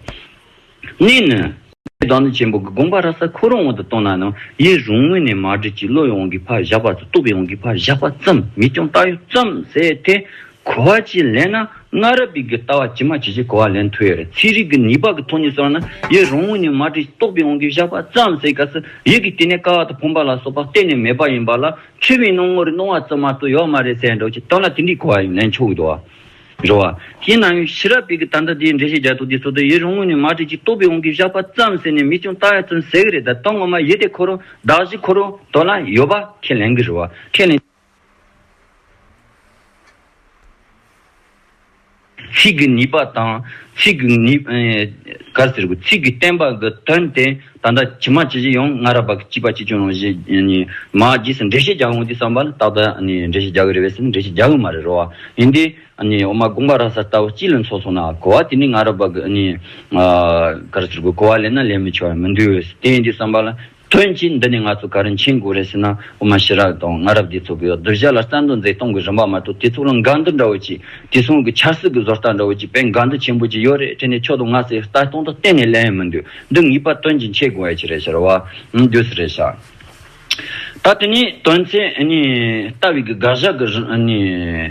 གནས་ནི། ཞེས་བདག་འཛིན་ཆེན་པོ་གི་དགོངས་པ་ར་ས་ཁོ་རང་དབང་དུ་གཏོང་ན་ནི་ཡེ་རུང་ངོས་ནས་མ་བསྒྲིབས་ཀྱི་བློ་ཡི་དབང་གིས་ཕར་བཞག་པ་དང་རྟོག་པའི་དབང་གིས་ཕར་བཞག་པ་ཙམ་མི་སྐྱོང་བལྟ་ཡུལ་ཙམ་ཟད་དེ། གོ་བ་གཅིག་ལེན་ན་སྔ་རབས་པའི་གི་ལྟ་བ་ཇི་མ་ཇི་བཞིན་གོ་བ་ལེན་ཐུབ་ཡོད་རེད་ཚིག་རིས་ཀྱི་ནུས་པ་གི་ཐོག་ནས་སོང་ན་ཡེ་རུང་ངོས་ནས་མ་བསྒྲིབས་ཀྱི་རྟོག་པའི་དབང་གིས་བཞག་པ་ཙམ་ཟད་ག་ཟེ་ཡིག་གི་དེ་ནས་ཀ་བ་དང་ཕོངས་པ་ལ་སོགས་པ་གཏན་ནས་མེད་པ་ཡིན་པ་ལ་ཆོས་མིན་སྣང་ངོ་རེ་སྣང་བ་ཙམ་མ་གཏོགས་ཡོད་མ་རེད་ཟེར་འགྲོ་ཅི་ལྟར་ན་དེ་འདྲའི་གོ་བ་ཡང་ལེན་ཆོག་གི་འདུག་བ། འགྲོ་བ། ཞེས་སྣང་ཡུལ་ཤེས་རབ་པས་ཀྱི་ད་ལྟ་དེའི་འགྲེལ་བཤད་རྒྱ་ཐུག་དེ་སོ་སོའི་ཡིད་རུང་ངོ་ནས་མ་བྲིས་ཅིག་རྟོགས་པའི་དབང་གིས་བཞག་པ་ཙམ་ཟེར་ནས་མི་ཅུང་བརྟག་ཡ་ཙམ་ཟེར་གི་རེད་ད་དོན་ངོ་མ་ཡིད་བདེ་འཁོར་རོ་བདག་གཞི་འཁོར་རོ་དོ་ལ་ཡོད་པ་ཁས་ལེན་གི་རེད་བ་ཁས་ལེན། ཚིག་གི་ནུས་པ་དང། ཚིག་གི་ནུས། ག་ཟེར་དགོས་ཚིག་གི་བསྟན་པ་གི་དོན་དེ། ད་ལྟ་ཁྱི་མ་ཁྱི་བྱི་ཡོང་ང་ར་བ་གི་སྐྱིད་པ་ཅི་ཅུང་རུང་ཞེས་མ་བགྱིས་སུ་འགྲེལ་བཤད་རྒྱག་འོང་དུས་བསམ་པར་ཏག་ཏག་འགྲེལ་བཤད་རྒྱག་གི་རེད་བས་སམ་འགྲེལ་བཤད་རྒྱག་གི་མ་རེད་རོ། ཡིན་ཏེ། འོ་མ་དགོངས་པ་ར་གསར་ལྟ་བུ་སྤྱི་ལ་འཚོགས་སོང་ན་གོ་བ་དེ་ནི་ང་ར་བ་གི་གར་ཚུར་གྱི་གོ་བ་ལས་ན་ལེན་མི་ཆོག་ཡང་མི་འདུག་དེ་ཡིན་དུས་བསམ་པ་ལ། དོན་གྱིས་འདི་ནི་ང་ཚོ་གར་མཁྱེན་དགོས་རེད་ཟེར་ན་འོ་མ་ཞི་རགས་དང་ང་ར་བ་དེ་ཚོ་གི་སྡུར་བྱ་ལ་རྩ་འདོ་མཛེས་གཏོང་གི་རིན་པ་མ་གཏོགས་དེ་ཚོ་ལ་འགལ་འདུ་འདྲ་བོ་ཅི་དེ་ཚོང་གི་ཆར་སྲིད་གི་བཟོ་ལྟ་འདྲ་བོ་ཅི་བས་འགལ་འདུ་ཆེན་པོ་ཅི་ཡོད་རེད་དྲན་ནས་ཕྱོགས་དང་ང་ཚོས་ལྟ་སྟངས་དང་གཏན་ནས་ལེན་ཡང་མི་འདུག། འདི་ངེས་པར་དོན་གྱི་འཆད་དགོས་ཨེ་ཅི་རེད་ཟེར་བ། ངས་བསྒྱུར་ཟེར་རེད་ཟེར། ད་དེ་ནས་དོན་ཚན་གཉིས་ལྟ་བའི་གི་དགག་བཞག་གི་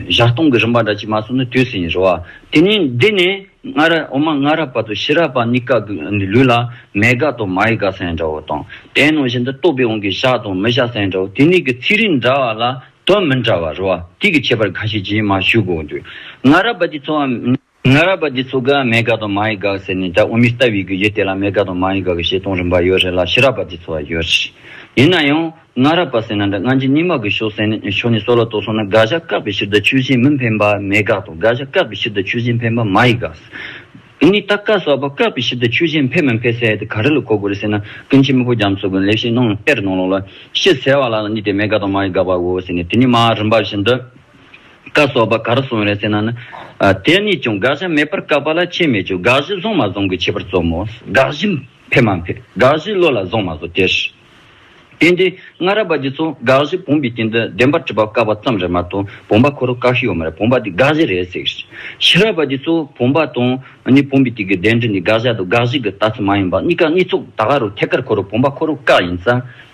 བཞག་སྟོང་གི་རིམ་པ་འདྲ་གཅིག་མ་གསུངས་ན་དུས་ཟིན་ཟེར་བ། དེ་ནས་འདི་ནས་སྔ་ར་འོ་མ་སྔ་ར་བར་དུ་ཕྱི་ར་བར་གཉིས་ཀ་གི་ལུས་ལ་མེད་དགག་དང་མ་ཡི་དགག་ས་ཡི་འདྲ་བོ་དང། དེའི་ནང་བཞིན་དུ་རྟོག་པའི་དབང་གིས་བཞག་དང་མི་བཞག་ས་ཡི་འདྲ་བོ་དེ་གཉིས་ཀྱི་ཚིག་རིས་འདྲ་བ་ལ་དོན་མི་འདྲ་བ་རེད་བ། དེའི་གི་ཁྱད་པར་ག་ཞིག་ཅིས་མ་ཞུ་དགོས་འདུག་སྔ་ར་བར་གྱི་འཚོ་བ། སྔ་རབས་པ་འདི་ཚོ་དགའ་མེད་དགའ་དང་མ་ཡི་དགའ་ཟེར་ནས་དགྲ་འུ་མི་ལྟ་བའི་གུ་གེ་དེ་ལ་མེད་དགའ་དང་མ་ཡི་དགའ་གི་བཤད་སྟོང་རིམ་པ་ཡོད་རེད་ལ་ཕྱི་རབས་པ་འདི་ཚོ་བ་ཡོད་རེད། ཡིན་ན་ཡང། སྔ་རབས་པ་ཟེར་ན་འདྲ་སྔ་འཇིག་རྙིང་མ་གི་ཕྱོགས་སེ་ནི་ཕྱོགས་ནི་སོགས་ལ་དོགས་སོང་ན་དགག་བཞག་བཀག་པའི་ཕྱིར་དག་ཆུ་བཞིན་མི་འཕེན་པ་མེད་དགག་དང་དགག་བཞག་བཀག་པའི་ཕྱིར་དག་ཆུ་བཞིན་འཕེན་པ་མ་ཡི་དགག། འདི་ནི་རྟགས་བཀག་སོགས་པ་བཀག་པའི་ཕྱིར་དག་ཆུ་བཞིན་འཕེན་མི་འཕེན་ཟེར་དེ་ག་རེ་ལ་གོ་དགོས་རེད་ཟེར་ན་ཀུན་མཁྱེན་མི་བོ་རྒྱ་མཚོ་གི་ལེགས་བཤད་རྣམས་ལ་དཔེར་གནང་ལོག་ལ། ཤེས་ཟེར་བ་ལ་ལ་འདི་དེ་མེད་དགག་དང་མ་ཡི་དགག་པའོ་ཟེར་ནས་དེ་ནི་མ་རིན་པ་བཞིན་དུ། བཀའ་སོགས་པ་གར་སོང་རེད་ཟེར་ན་ནི། དེ་གཉིས་ཀྱང་དགག་བྱ་མེད་པར་བཀག་པ་ལ་ཁྱད་མེད་ཀྱི་དགག་གཞི་བཟུང་མ་བཟུང་གི་ཁྱད་པར་རྩོམ་མོ། དགག་གཞི་འཕེལ་མ་འཕེལ་དགག་གཞི་བློ་ལ་བཟུང་མ་བཟུང་དེ་ཧྲིལ། དེ་འདྲའི་སྔ་རབས་པ་འདི་ཚོ་དགག་གཞི་བུམ་པའི་སྟེང་དུ་བདེན་པར་བྲིས་པ་བཀག་པ་ཙམ་རེད་མ་གཏོགས་བུམ་པ་ཁོ་རང་བཀག་ཤི་ཡོད་མ་རེད་བུམ་པ་འདི་དགག་གཞི་རེད་ཟེར་གི་རེད། ཕྱི་རབས་པ་འདི་ཚོ་བུམ་པ་དང་ནི་བུམ་པའི་སྟེང་གི་བདེན་འབྲི་འདི་དགག་བྱ་དང་དགག་གཞི་གི་ལྟ་ཚུལ་མ་ཡིན་པར་གཉིས་ཀ་གཉིས་ཚོགས་ད་ག་རུ་ཐད་ཀར་ཁོ་རང་བུམ་པ་ཁོ་རང་བཀག་ཡིན་ཙང།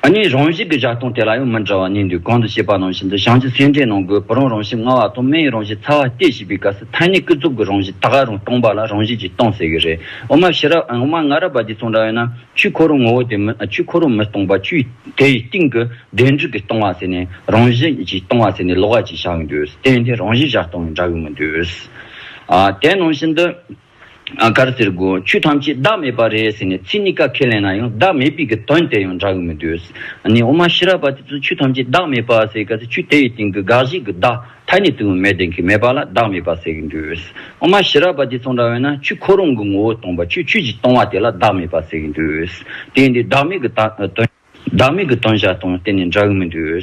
ཨ་ནི་རང་བཞིན་གྱི་བཞག་སྟངས་དེ་ལ་ཡང་མི་འདྲ་བ་གནས་འདུག་གང་དུ་བཤད་པ་ནང་བཞིན་དུ་བྱང་ཆུབ་སེམས་འགྲེལ་ནང་སྒོས་བུ་རང་རང་བཞིན་མངའ་བ་དང་མི་ཡི་རང་བཞིན་ཚ་བ་སྟེ་ཞེས་པའི་སྐབས་སུ་ཐ་སྙད་ཀུན་རྫོབ་ཀྱི་རང་བཞིན་དག་ཨ་རང་སྟོང་པ་ལ་རང་བཞིན་གྱི་སྟོང་ཟེར་གྱི་རེད། འོ་མ་ཤེས་རབ་འོ་མ་ང་རབ་པ་འདི་ཚོ་འདྲ་བས་ན་ཆུའི་ཁོར་རོ་ངོ་བོ་དེ་མིན་ཆུའི་ཁོར་རོ་མི་སྟོང་པ་ཆུའི་དེ་ཡི་སྟེང་གི་བདེན་གྲུབ་ཀྱི་སྟོང་བ་ཟེར་ནས་རང་བཞིན་གྱི་སྟོང་བ་ཟེར་ནས་ལོག་ཨ་ཅིག་བཞག་གི་འདུག་བསྟན་དེ་རང་བཞིན་བཞག་སྟངས་ཡང་འདྲ་གི་མི་འདུག་ཨ་དེ་ནང་བཞིན་དུ། གར་ཟེར་དགོས་ཆོས་ཐམས་ཅད་བདག་མེད་པ་རེད་ཟེར་ནས་ཚིག་གཉིས་ཀ་ཁས་ལེན་ན་ཡང་བདག་མེད་པའི་གི་དོན་དེ་ཡང་འདྲ་གི་མི་འདུག་ཨ་ནི་ཨོ་མ་ཤི་ར་བ་དེ་ཚོས་ཆོས་ཐམས་ཅད་བདག་མེད་པ་ཟེར་ག་ཚོད་ཆོས་དེ་ཡི་སྟེང་གི་དགག་གཞི་གི་བདག་ཐ་ནི་དུ་མས་དེ་གི་མེད་པ་ལ་བདག་མེད་པ་ཟེར་གི་འདུག་ཨོ་མ་ཤི་ར་བ་དེ་ཚོ་འདྲ་བས་ན་ཆོས་ཁོ་རང་གི་ངོ་བོ་སྟོང་པ་ཆོས་ཆོས་ཀྱིས་སྟོང་བ་དེ་ལ་བདག་མེད་པ་ཟེར་གི་འདུག་དེ་འདི་བདག་མེད་གི་དོན། བདག་མེད་ཀྱི་སྟོན་བྱ་དང་གཏན་ནས་འདྲ་གི་མི་འདུག།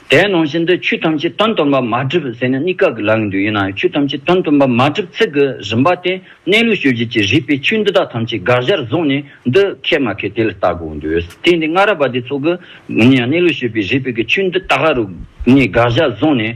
དེའི་ནང་བཞིན་དུ་ཆོས་ཐམས་ཅད་དོན་སྟོན་པ་མ་བསྒྲིབས་ཟེར་ནས་གཉིས་ཀ་གི་ལག་གི་འདུག་ཡིན་ནའང་ཆོས་ཐམས་ཅད་དོན་སྟོན་པ་མ་བསྒྲིབས་ཚིག་གི་རིམ་པ་དེ་གནས་ལུགས་ཤོད་བྱེད་ཀྱི་རིགས་པའི་ཆོས་འདི་དག་ཐམས་ཅད་དགག་བྱར་བཟུང་ནས་འདི་མཁས་མ་མཁས་དེ་ལ་བལྟ་དགོས་འདུག་དེ་འདི་སྔ་རབས་པ་དེ་ཚོ་གི་གནས་ལུགས་ཤོད་པའི་རིགས་པའི་ཀྱི་ཆོས་འདི་དག་ག་རུ་གནས་དགག་བྱར་བཟུང་ནས་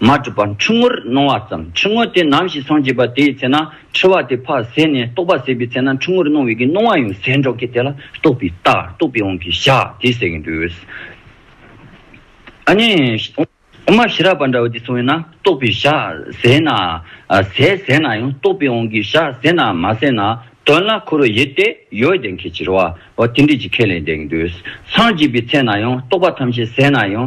མ་གྲུབ་པར་འཁྲུལ་ངོར་སྣང་བ་ཙམ་འཁྲུལ་ངོ་དེ་ནམ་ཞིག་སངས་རྒྱས་པ་དེའི་ཚེ་ན་འཁྲུལ་བ་དེ་ཕ་ཟད་ནས་རྟོགས་པ་ཟད་པའི་ཚེ་ན་འཁྲུལ་ངོར་སྣང་བའི་གི་སྣང་བ་ཡང་ཟད་འགྲོ་གི་དེ་ལ་རྟོགས་པའི་རྟགས་རྟོགས་པའི་དབང་གིས་བཞག་དེ་ཟད་ཀྱི་འདུག། ཨཱ་ནི། དབུ་མ་ཞི་རགས་པ་འདྲ་བ་དེ་སོང་བས་ན་རྟོགས་པའི་བཞག་ཟད་ན་ཟད་ཟད་ན་ཡང་རྟོགས་པའི་དབང་གིས་བཞག་ཟད་ན་མ་ཟད་ན་དོན་ལ་འཁོར་བའི་ཡུལ་དེ་ཡོད་བདེན་གྱི་ཕྱིར་བ་བ་དེ་འདྲིས་ཀྱི་ཁས་ལེན་བདེན་གྱི་འདུག་སངས་རྒྱས་པའི་ཚེ་ན་ཡང་རྟོགས་པ་ཐམས་ཅད་ཟད་ན་ཡང།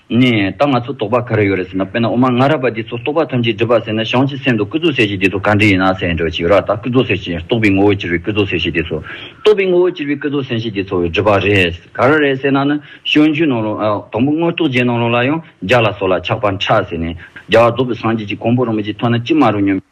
ནས། ད་ང་ཚོ་དོགས་པ་ག་རེ་ཡོད་རེད་ཟེར་ན་དཔེར་ན་འོ་མ་ང་ར་པ་འདི་ཚོ་རྟོགས་པ་ཐམས་ཅད་སྒྲིབ་པ་ཟེར་ན་གཞང་ཕྱི་སེམས་དང་སྐུ་གཟུགས་གསལ་བྱེད་འདི་ཚོ་གང་འདྲི་ཡིན་ན་ཟེར་འདྲི་ཞིག་ཡོད་ར་ད་སྐུ་གཟུགས་གསལ་བྱེད་རྟོགས་པའི་ངོ་བོ་གྱུར་པའི་སྐུ་གཟུགས་གསལ་བྱེད་འདི་ཚོ། རྟོགས་པའི་ངོ་བོ་གྱུར་པའི་སྐུ་གཟུགས་གསལ་བྱེད་འདི་ཚོ་སྒྲིབ་པ་རེད། ག་ར་རེད་ཟེར་ན་ནི་ཞོན་རྒྱུའི་ནང་ལོ། དང་པོ་དངོས་རྟོགས་རྗེས་གནང་ལོ་ལ་ཡང་རྒྱ་ལ་སོགས་ལ་ཆགས་པ་འཕྲ་ཟེར་ནས། རྒྱ་བ་རྫོགས་པའི་སངས་རྒྱས་ཀྱི་གོང་བུ་རིན་པོ་ཆེ་མཐོང་ན་ཅི་མ་རུང་སྙམ་པའི།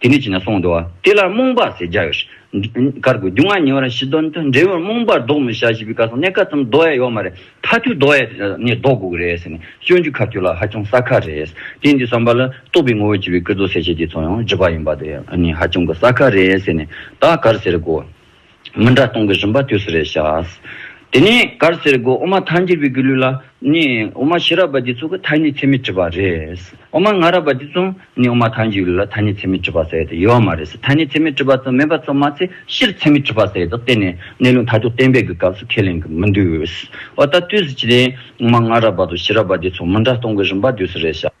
དེ་ནས་བྱིན་ན་སྲོག་འདོར་བ། དེ་ལ་རྨོངས་པ་ཟེར་བྱ་ཡོད། གར་དགོས་རྒྱུ་ང་ཉེ་བར་ཞི་དོན་དུ་འབྲས་བུར་རྨོངས་པར་བཟློག་མི་བྱ་ཞེས་པའི་བཀའ་གསང་གནད་འགག་ཙམ་བཟློག་ཡ་ཡོད་མ་རེད་མཐའ་ཐུག་བཟློག་ཡ་ནས་བཟློག་དགོས་ཀྱི་རེད་ཟེར་ནས་སྤྱོད་འཇུག་ཁ་ཐུག་ལ་ཧ་ཅང་གསལ་ཁ་རེད། དེ་འདི་བསམ་པ་ལ་རྟོགས་པའི་ངོ་བོ་བྱེད་པའི་སྐུ་རྫོགས་གསལ་བྱེད་དེ་ཚོ་ཡང་བརྗོད་པ་ཡིན་པ་དེ་ནི་ཧ་ཅང་གི་གསལ་ཁ་རེད་ཟེར་ནས་ད་གར་ཟེར་དགོས། མི་འདྲ་སྟོང་གི་རིམ་པ་དུས་སུ་རེ་བྱ། དེ་ནས་གར་སེར་སྒོ་དབུ་མ་མཐའ་འཁྱེར་བའི་གུ་ལུས་ལ་ནི་དབུ་མ་ཕྱི་རབས་པ་འདི་ཚོ་གི་ཐ་སྙད་ཚད་མེད་བྲིས་པ་རེད། དབུ་མ་སྔ་རབས་པ་འདི་ཚོ་ནི་དབུ་མ་མཐའ་འཁྱེར་གུ་ལུས་ལ་ཐ་སྙད་ཚད་མེད་བྲིས་པ་ཟེར་ཡོད་ཡོད་མ་རེད། ཐ་སྙད་ཚད་མེད་བྲིས་པ་ཚོ་མེད་པ་ཚོ་མ་ཚད་ཕྱིར་ཚད་མེད་བྲིས་པ་ཟེར་དོགས་གཏན་ནས་གནས་ལུགས་མཐའ་དོགས་གཏན་འབེབས་ཀྱི་སྐབས་སུ་ཁས་ལེན་གྱི་མི་འདུག་འོ་ད་དུས་སུ་ཇི་སྟེ་དབུ་མ་སྔ་རབས་པ་དང་ཕྱི་རབས་པ་འདི་ཚོ་མི་འདྲ་སྟོང་གི་རིམ་པ་དུས་སུ་རེ་བྱ།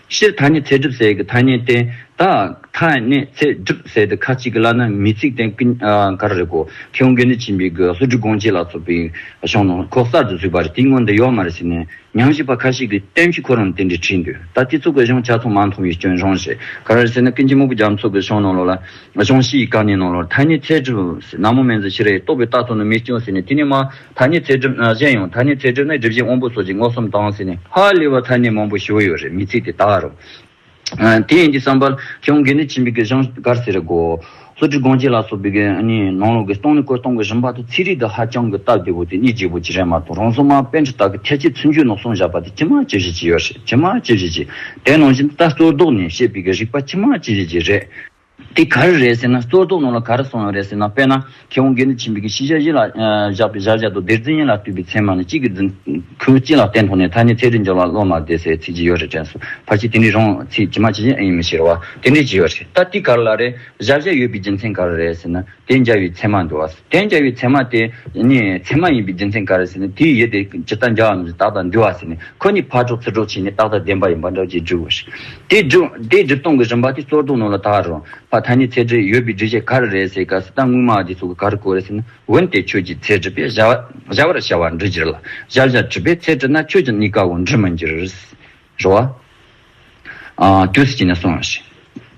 ཕྱིར་ཐ་སྙད་ཚད་གྲུབ་ཟེར་གྱི་ཐ་སྙད་བསྟན། ད་ཐ་སྙད་ཚད་གྲུབ་ཟེར་ཏེ་ཁ་ཅིག་གི་བླ་ན་མི་ཚིག་བསྟན་ཀི་ག་རེ་གོ། ཁྱེད་དབང་གིས་ནི་བྱིན་པའི་གོས་ལྷུ་གྲི་གོང་བྱས་ལ་སོགས་པའི་གཞུང་ནང་ཁོག་གསར་དུ་ཟུག་པ་རེད་དེའི་སྔོན་དུ་ཡོག་མ་རེད་ཟེར་ནས་ཉམས་ཞིབ་པ་ཁ་ཤས་ཀྱིས་གཏན་ཕྱི་ཁོ་རང་དེ་འདྲའི་བྲིས་འདུག་ད་དེ་ཚོ་གི་གཞུང་ཆ་ཚང་མ་མཐོང་བའི་སྐྱོན་གཞུང་ཞིག་ག་རེ་ཟེར་ན་ཀུན་མཁྱེན་སྨུག་པོ་རྒྱ་མཚོ་གི་གཞུང་ནང་ལོགས་ལ་གཞུང་བཞི་ཡི་བཀའ་ནན་ནང་ལོགས་ཐ་སྙད་ཚད་གྲུབ་ཟེར་ནག་མོ་སྨན་རྫས་ཕྱི་རས་རྟོགས་པའི་རྟགས་ཐོག་ནས་མི་སྐྱོན་ཟེར་ནས་དེ་ནས་མ། ཐ་སྙད་ཚད་གྲུབ། གཞན་ཡང་ཐ་སྙད་ཚད་གྲུབ་ནི་སྒྲིབ་བཞི་དབང་པོ་སོགས་ཀྱི་སྔགས་སུམ་དང་བསྲེས་ནས་ཧ་ལས་པ་ཐ་སྙད་མང་པོ་ཞི་བོ་ཡོད་རེད་མི་ཚིག་དེ་ལྟ་བ་རུ། དེ་ཡིན་གྱི་བསམ་པར་ཁྱོད་འགས་ནི་ཆིན་པི་གི་གཞང་དཀར་ཟེར་རེ་གོ། ལྷོ་ཁྲི་སྒང་སྐྱེས་ལ་སོགས་པའི་གི་ནི་ནང་ལོག་གི་སྟོང་ནི་སྐོར་སྟོང་གི་རིམ་པ་དང་ཚིག་རིས་དང་ཧ་ཅང་གི་སྟབས་བདེ་བོ་དེ་གཉིས་བརྗེ་བོ་ཅི་རེད་མ་གཏོགས་རང་སྲོག་མ་དཔེ་འདྲི་དག་གི་ཐལ་སྐྱེས་ཚུན་ཆོད་ནོག་སོང་བཞག་པ་དེ་ཅི་མ་ཅི་བཞིན་གྱི་ཡོད་རེད་ཅི་མ་ཅི་བཞིན་གྱི་དེ་ནང་བཞིན་ད་གཙོར་བཟློག་ནས་བཤད་པའི་གི་རིག་པ་ཅི་མ་ཅི་བཞིན་གྱི་རེད། དེ་གར་རེད་ཟེར་ན་གཙོ་རྟོག་ནང་ལ་གར་སོང་ཡོང་རེད་ཟེར་ན་དཔེར་ན་ཁྱེད་རང་དགེ་འདུན་ཆེན་པོའི་གི་ཤི་ཤ་བཞི་ལ་བཞག་པའི་བཞག་བཞག་དུ་བདེར་རྫུན་ཡན་ལག་བཏུས་པའི་མཚན་མ་ནི་གཅིག་གི་རྫུན། ཁུ་གཅིག་ལག་བསྟན་ཐོག་ནས་ཐ་ནི་ཚད་དུ་འཇོག་ལ་བློ་མ་བདེ་སའི་ཚིག་ཅི་ཡོད་རེད་དྲན་སོང་ཕར་ཕྱིན་དེ་འདྲའི་རང་ཚིག་ཇི་མ་ཇི་བཞིན་ཨེ་ཡིན་མི་ཤེས་རོ་བ་དེ་འདྲའི་ཅི་ཡོད་རེད་ད་དེ་གར་ལ་རེད་བཞག་བཞག་ཡོད་པའི་རྒྱུ་མཚན་ག་རེ་རེད་ཟེར་ན། རྟེན་བྱ་བའི་མཚན་མ་འགྲོ་བ། རྟེན་བྱ་བའི་མཚན་མ་དེ་ནི་མཚན་མ་ཡིན་པའི་རྒྱུ་མཚན་ག་རེ་ཟེར་ན་དེའི་ཡུལ་དེ་ཇི་ལྟར་འཇའ་བ་མི་ཟེར་ཏག་ཏག་འདུལ་བ་ཟེར་ནས་ཁོ་ནི་ཕར་འཕྲོག་ཚུར་འཕྲོག་བྱས་ནས་ཏག་ཏག་བདེན་པ་ཡིན་པ་འདྲ་ཅེས་བསྒྲུབ་བོ། དེ་སྒྲུབ་སྟངས་ཀྱི་རིམ་པ་དེ་གཙོར་བཟློག་ནོར་ལ་དག་རུང་བ་ད་ནི་ཚད་གྲི་ཡོད་པའི་སྒྲིག་གཞི་ག་རེ་རེད་ཟེར་སྐབས་སུ་ད་དངུལ་སྨྲ་བ་དེ་ཚོ་གི་ག་རེ་གོ་རེ་ཟེར་ན་འོན་ཏེ་ཁྱོད་ཀྱིས་ཚད་གྲི་པས་བཞག་བར་བྱ་བ་འབྲི་གྱིར་ལ་བཞག་བཞག་གྲི་པས་ཚད་གྲི་ན་ཁྱོད་ཀྱི་གནས་སྐབས་འོག་འབྲི་མི་འགྱུར། རོ། བདུད་རྩི་བྱིན་ནས་སོང་ཞིག།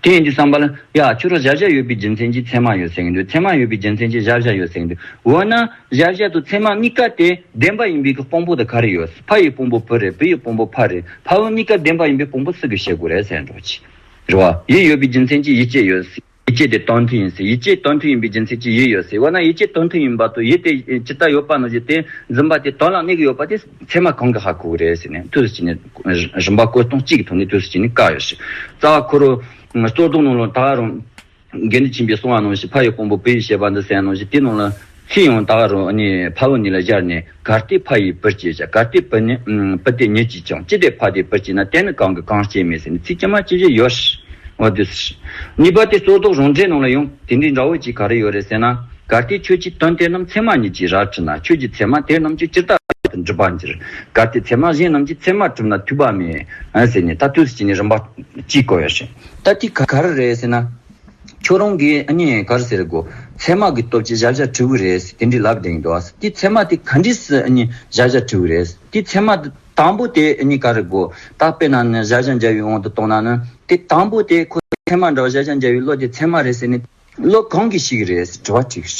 དེ་ཡིན་དུས་བསམ་པ་ལ། ཡ། ཆུ་རོ་བཞད་བཞད་ཡོད་པའི་རྒྱུ་མཚན་གྱིས་ཚེར་མ་ཡོད་ཟེར་གྱིན་འདུག་ཚེར་མ་ཡོད་པའི་རྒྱུ་མཚན་གྱིས་བཞད་བཞད་ཡོད་ཟེར་གྱིན་འདུག་འོ་ན། བཞད་བཞད་དང་ཚེར་མ་གཉིས་ཀ་དེ་ལྡན་པ་ཡིན་པའི་གི་དཔང་པོ་དེ་ག་རེ་ཡོད། ཕ་ཡི་དཔང་པོ་བུ་རེད་བུ་ཡི་དཔང་པོ་ཕ་རེད་ཕ་བུ་གཉིས་ཀ་ལྡན་པ་ཡིན་པའི་དཔང་པོ་སུ་གི་བྱེད་དགོས་རེད་ཟེར་འགྲོ། རོ། ཡིད་ཡོད་པའི་རྒྱུ་མཚན་གྱིས་ཡིད་སྐྱེད་ཡོད། ཡིད་ཆེས་དེ་རྟོགས་མཐུན་ཡིན་ཟེར་ཡིད་ཆེས་རྟོགས་མཐུན་ཡིན་པའི་རྒྱུ་མཚན་གྱིས་ཡིད་ཡོད་ཟེར་འོ་ན་ཡིད་ཆེས་རྟོགས་མཐུན་ཡིན་པ་དང་ཡིད་དེ་ཇི་ལྟར་ཡོད་པ་ནོར་རྒྱུ་དེ་འཛིན་པ་དེ་དོན་ལ་གནས་ཀྱི་ཡོད་པ་དེ་ཚད་མ་གང་གི་ཧ་གོ་གི་རེད་ཟེར་ནས་དུས་སུ་བྱས་ནས་རིམ་པ་བཀོད་སྟངས་གཅིག་གི་ཐོག་ནས་དུས་སུ་བྱས་ནས་བཀག་ཡོད་ཞིང། རྩ་བ་ཁོ་རུ། གཙོ་རྟོགས་ནང་ལ་ད་རུང། འགལ་འདུ་བྱིན་པའི་སྲུང་བ་ནང་བཞིན་ཕ་ཡི་དཔོན་པོ་བུ་ཡི་བྱེད་པ་འདི་ཟེར་ཡང་ནང་བཞིན་དེའི་ནང་ལ། ཚེ་ཡང་དག་རོ་ནི་ཕ་བོ་ནི་ལ་སྦྱར་ནས་གར་སྟེ་ཕ་ཡིས་བུར་བྱེད་བྱ་གར་སྟེ་བུ་ནི་བུ་སྟེ་ཉིད་ཀྱིས་ཀྱང་ཅི་སྟེ་ཕ་དེས་བུར་བྱེད་ན་དེ་ནི་གང་གིས་གང་སྐྱེད་མེད་ཟེར་ནས་ཚིག་ཅི་མ་ཅི་བཞི་ཡོད། འོ་དུས། གཉིས་པ་སྟེ་སོར་རྟོག་རང་འདྲའི་ནང་ལ་ཡང་དེ་འདྲའི་འདྲ་བོ་ཅིག་ག་རེ་ཡོད་རེད་ཟེར་ན། གར་སྟེ་ཁྱོད་ཀྱིས་དོན་དེ་རྣམས་ཚད་མ་ཉིད་ཀྱིས་རར་བྲི་ན་ཁྱོད་ཀྱི་ཚད་མ་དེ་རྣམས་ཀྱིས་ཅི་ལྟར་བར་དུ་འགྲུབ་པར་འགྱུར། གར་སྟེ་ཚད་མ་གཞན་རྣམས་ཀྱིས་ཚད་མ་གྲུབ་ན་འཐུས་པ་མེད། ཟེར་ནས་ད་དུས་ཀྱི་ནི་རིམ་པ་གཅིག་གོ་ཡོད། ད་དེ་ག་རེ་རེད་ཟེར་ན། ཁྱོད་རང་གིས་ཨ་མྱེས་གར་ཟེར་དགོས། ཚད་མ་གི་སྟོབས་ཀྱིས་བཞག་བཞག་བྲིས་བུ་རེད། དེ་འདྲི་ལབ་དེང་དུ་ཨ། དེ་ཚད་མ་དེ་ག་འདྲི་སི་ཨ་མྱེས་བཞག་བཞག་བྲིས་བུ་རེད། དེ་ཚད་མ་དེ་དང་པོ་དེ་ཨ་མྱེས་ག་རེ་དགོས། ད་དཔེ་ན་ནི་བཞག་བཞག་འཇའ་འོད་འོང་དུ་གཏོང་ན་ནི། དེ་དང་པོ་དེ་ཁོ་ཚད་མ་འདྲ་བ་བཞག་བཞག་འཇའ་འོད་བློ་དེ་ཚད་མ་རེད་ཟེར་ནི། བློ་གང་གི་ཞིག་རེད་ཟེར་དྲི་བ་དྲིས།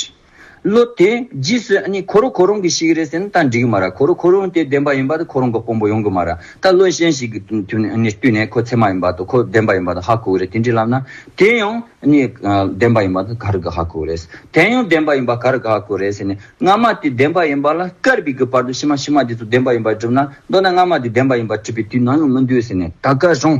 བློ་དེ་རྗེས་སུ་ནི་ཁོ་རང་ཁོ་རང་གི་ཞིག་རེད་ཟེར་ན་ད་འགྲིག་གི་མ་ར་ཁོ་རང་ཁོ་རང་དེ་བདེན་པ་ཡིན་པ་དང་ཁོ་རང་གི་དཔོན་པོ་ཡོང་གི་མ་ར་ད་བློ་གཞན་ཞིག་གི་བསྟུན་ནས་ཁོ་ཚད་མ་ཡིན་པ་དང་ཁོ་བདེན་པ་ཡིན་པ་དང་ཧ་གོ་གི་རེད་དེ་འདྲའི་ལབ་ན་དེ་ཡང་ནི་བདེན་པ་ཡིན་པ་དང་ག་རེ་གི་ཧ་གོ་རེད་དེ་ཡང་བདེན་པ་ཡིན་པ་ག་རེ་གི་ཧ་གོ་རེད་ཟེར་ནས་སྔ་མ་དེ་བདེན་པ་ཡིན་པ་ལ་སྐར་བི་གི་བར་དུ་ཕྱི་མ་ཕྱི་མ་དེ་ཚོ་བདེན་པ་ཡིན་པར་བསྒྲུབ་ན་མདོར་ན་སྔ་མ་དེ་བདེན་པ་ཡིན་པར་བསྒྲུབ་པའི་དུས་ནང་ཡང་མི་འདུག་ཟེར་ནས་ད་ག་རང་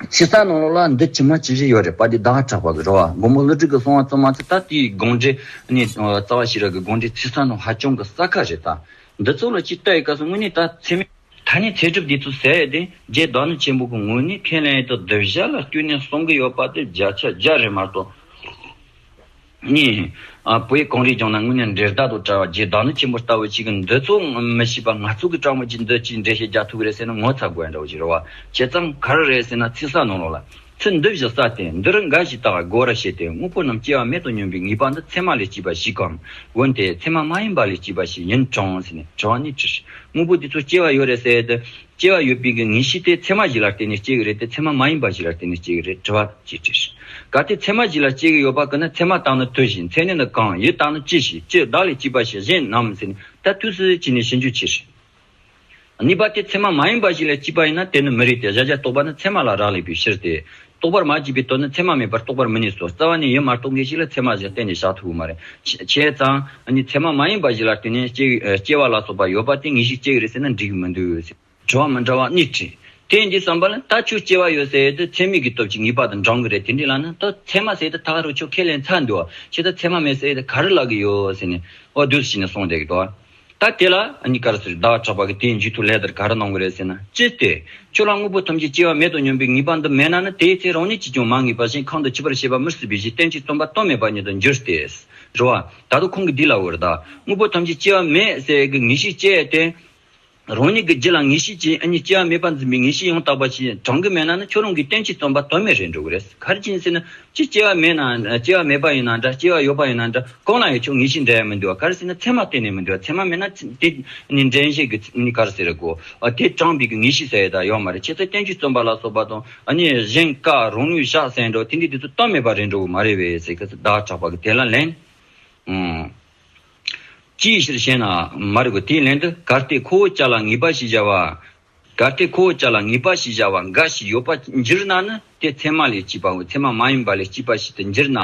ཕྱི་གསལ་ནང་ལོག་ལ་འདི་ཇི་མ་ཇི་བཞིན་ཡོད་རེད་པ་འདི་བདག་གྲགས་པ་གི་རོ་མགོན་པོ་བློ་གྲོས་ཀྱི་གསུང་བ་ཙམ་མ་ཚད་ད་དེའི་དགོངས་འགྲེལ་ནི་རྩ་བ་ཞི་རགས་ཀྱི་དགོངས་འགྲེལ་ཚིག་གསང་དང་ཧ་ཅང་གི་གསལ་ཁ་རེད་ད། འདི་ཚོ་ལ་སྤྱིར་བལྟ་ཡི་སྐབས་སུ་དངོས་གནས་ད་ཚད་མེད། ད་ནི་ཚད་གྲུབ་འདི་ཚོ་གསལ་ཡོད་དེ་རྗེ་བདག་ནི་ཆེན་པོ་གི་ངོས་ནས་ཁས་ལེན་ཡོད་དོ་འདི་བཞག་ལ་བསྐྱུར་ནས་གསུང་གི་ཡོད་པ་དེ་བརྒྱ་ཆ་བརྒྱ་རེད་མ་གཏོགས། གཉིས། བོད་གངས་རིའི་ལྗོངས་ན་དངོས་གནས་འབྲས་རྟག་ཏུ་བཀྲ་བ་རྗེ་བདག་ནི་ཆེན་པོ་ལྟ་བུ་ཅིག་གི་འདོད་གཙོ་མི་ཤེས་པ་ནག་ཚུགས་ཀྱི་སྤྲང་པོ་ཅིག་འདི་ཅིའི་འབྲས་ཤེས་རྒྱག་ཐུག་གི་རེད་ཟེར་ན་ངོ་ཚ་དགོས་འདྲ་བོ་ཅིག་རེད་བ་བྱས་ཙང་ག་རེ་རེད་ཟེར་ན་ཚིག་ཟ་ནོར་ལོག་ལ་ཚིག་འདི་བཞི་ཟ་སྟེ་འདི་རུ་འགའ་ཞིག་དག་གོ་ར་བྱས་ཏེ་དངོས་པོ་རྣམས་སྐྱེ་བ་མེད་དུ་སྙོམས་པའི་ངེས་པ་འདི་ཚད་མ་ལས་སྐྱེས་པ་ཞིག་གམ་འོན་ཏེ་ཚད་མ་མ་ཡིན་པ་ལས་སྐྱེས་པ་ཞིག་ཡིན་གྲང་ཟེར་ནས་དྲི་བ་ནི་དྲིས། དངོས་པོ་འདི་ཚོ་སྐྱེ་བ་ཡོད་རེད་ཟེར་ཏེ་སྐྱེ་བ་ཡོད་པའི་གི་ངེས་ཤེས་དེ་ཚད་མ་བཞི་ལ་བརྟེན་ནས་སྐྱེ་གི་རེད་དེ་ཚད་མ་མ་ཡིན་པ་བཞི་ལ་བརྟེན་ནས་སྐྱེ་གི་རེད་དྲི་བ། ཅེས་དྲིས། གལ་ཏེ་ཚད་མ་བཞི་ལ་སྐྱེ་གི་ཡོད་པ་ཀི་ན་ཚད་མ་བརྟགས་ན་དུ་བཞི་མཚན་ནི་ནི་གང་ཡིད་བརྟགས་ན་ཅི་ཞིག་ཅི་བདག་ལས་སྐྱེས་པ་ཞིག་གཞན་ནམ་ཟེར་ནས་ད་དུས་སུ་ཅི་ནས་ཤེས་འཇུག་བྱེད་ཞིག། གཉིས་པ་དེ་ཚད་མ་མ་ཡིན་པ་ཞིག་ལས་སྐྱེས་པ་ཡིན་ན་དེ་ནི་མི་རིགས་ཏེ་གཞལ་བྱ་རྟོགས་པ་ནི་ཚད་མ་ལ་རག་ལས་པའི་ཕྱིར་ཏེ། རྟོགས་པར་མ་བགྱིས་པའི་དོན་ནི་ཚད་མ་མེད་པར་རྟོགས་པར་མི་ནུས་སོ། རྩ་བ་ནས་ཡོད་མ་རྟོགས་མཁན་ཞིག་ལ་ཚད་མ་བཞིན་གཏན་ནས་བཞག་ཐུབ་བོ་མ་རེད། བྱས་ཙང། ཚད་མ་མ་ཡིན་པ་བཞི་ལ་དུས་ནས་སྐྱེ་བ་ལ་སོགས་པ་ཡོད་པ་དེ་ངེས་ཤིག་སྐྱེ་གི་རེད་ཟེར་ན་འགྲིག་གི་མི་འདུག། དྲི་བ་མི་འདྲ་བ་གཉིས་དྲིས། དེས་འདི་བསམ་པ་ལ་ད་ཁྱོད་སྐྱེ་བ་ཡོད་ཟེར་ཡོད་དུས་ཚད་མེད་ཀྱི་སྟོབས་ཀྱིས་ངེས་པ་དང་འབྲང་གི་རེད་དེ་འདྲའི་ལ་ནི་ད་ཚད་མ་ཟེར་ཏེ་ད་ག་རུ་ཁྱོད་ཁས་ལེན་ཚར་འདུག་བྱས་ཙང་ཚད་མ་མེད་ཟེར་ཡོད་དུས་ག་རུ་ལག་གི་ཡོད་ཟེར་ནས་འོ་དུས་སུ་བྱས་ནས་སོང་བསྡད་ཀྱི་འདུག། ད་དེ་ལ་གཉིས་ཀར་ཟེར་བདག་གྲགས་པ་གིས་དེའི་མཇུག་ཏུ་ལས་དེར་ག་རེ་གནང་དགོས་རེད་ཟེར་ན་ཅི་སྟེ། ཁྱོད་རང་དངོས་པོ་ཐམས་ཅད་སྐྱེ་བ་མེད་དོ་སྙམ་པའི་ངེས་པ་འདི་མེད་ན་ནི་དེའི་ཚེ་རང་ཉིད་ཀྱིས་ཀྱང་མ་ངེས་པ་བཞིན་གང་དུ་འཆི་བར་ཤེས་པ་མི་སྲིད་པའི་གཞི་གཏན་གྱི་རྩོམ་པ་སྟོང་མེད་པ་ཉིད་དུ་འགྱུར་ཏེ། རེ་བ། ད་དུ་ཁོང་གིས་འདི་ལ་འོས་བདག་དངོས་པོ་ཐམས་ཅད་སྐྱེ་བ་མེད་ཟེར་གྱི་ངེས་ཤེས་སྐྱེས་ཏེ། རང་ཉིད་ཀྱི་རྗེས་ལ་ངེས་ཤེས་ཀྱིས་གཉིས་སྐྱེ་བ་མེད་པ་འཛིན་པའི་ངེས་ཤེས་ཡང་དག་པ་ཞིག་བགྲང་གི་མེད་ན་ནི་ཁྱོད་རང་གི་སྟོན་གྱི་རྩོམ་པ་དོན་མེད་རེད་འགྲོ་གི་རེད་ག་རེ་བྱེད་ཟེར་ན་ཅི་སྐྱེ་བ་མེད་ན་སྐྱེ་བ་མེད་པ་ཡིན་ན་འདྲ་སྐྱེ་བ་ཡོད་པ་ཡིན་ན་འདྲ་གང་ལ་ཡང་ཆོ་ངེས་ཤེས་འདྲ་ཡང་མི་འདུག་ག་རེ་ཟེར་ན་ཚད་མ་གཏན་ནས་མི་འདུག་ཚད་མ་མེད་ན་དེ་ནི་འདྲེན་བྱེད་ཀྱི་ནི་ག་རེ་ཟེར་རེད་གོ་དེ་བགྲང་འབད་ཀྱི་ངེས་ཤེས་ཟེར་ཡོད་དང་ཡོད་མ་རེད་ཁྱེད་ཚོས་སྟོན་གྱི་རྩོམ་པ་ལ་སོགས་པ་དང་གཉིས་གཞན་ཀ་རང་ནུས་བཞག་ཟེར་འགྲོ་དེ་འདྲའི་དུས་ཚོད་གཏན་མེད་པ་རེད་འགྲོ་གི་མ་རེད་བས་ཟེར་གི་གདགས་དྲགས་པ་གི་དེ་ལ་ལན། ཅིའི་ཕྱིར་ཞེ་ན། མ་རིག་པ་དེའི་ལན་དུ་གར་སྟེགས་ཁོ་བོ་ཅག་ལ་ངེས་པ་ཞེས་བྱ་བ། གར་སྟེགས་ཁོ་བོ་ཅག་ལ་ངེས་པ་ཞེས་བྱ་བ་འགའ་ཞིག་ཡོད་པ་འགྱུར་ན་ནི་དེ་ཚད་མ་ལས་སྐྱེས་པའོ་ཚད་མ་མ་ཡིན་པ་ལས་སྐྱེས་པ་ཞིག་ཏུ་འགྱུར་ན་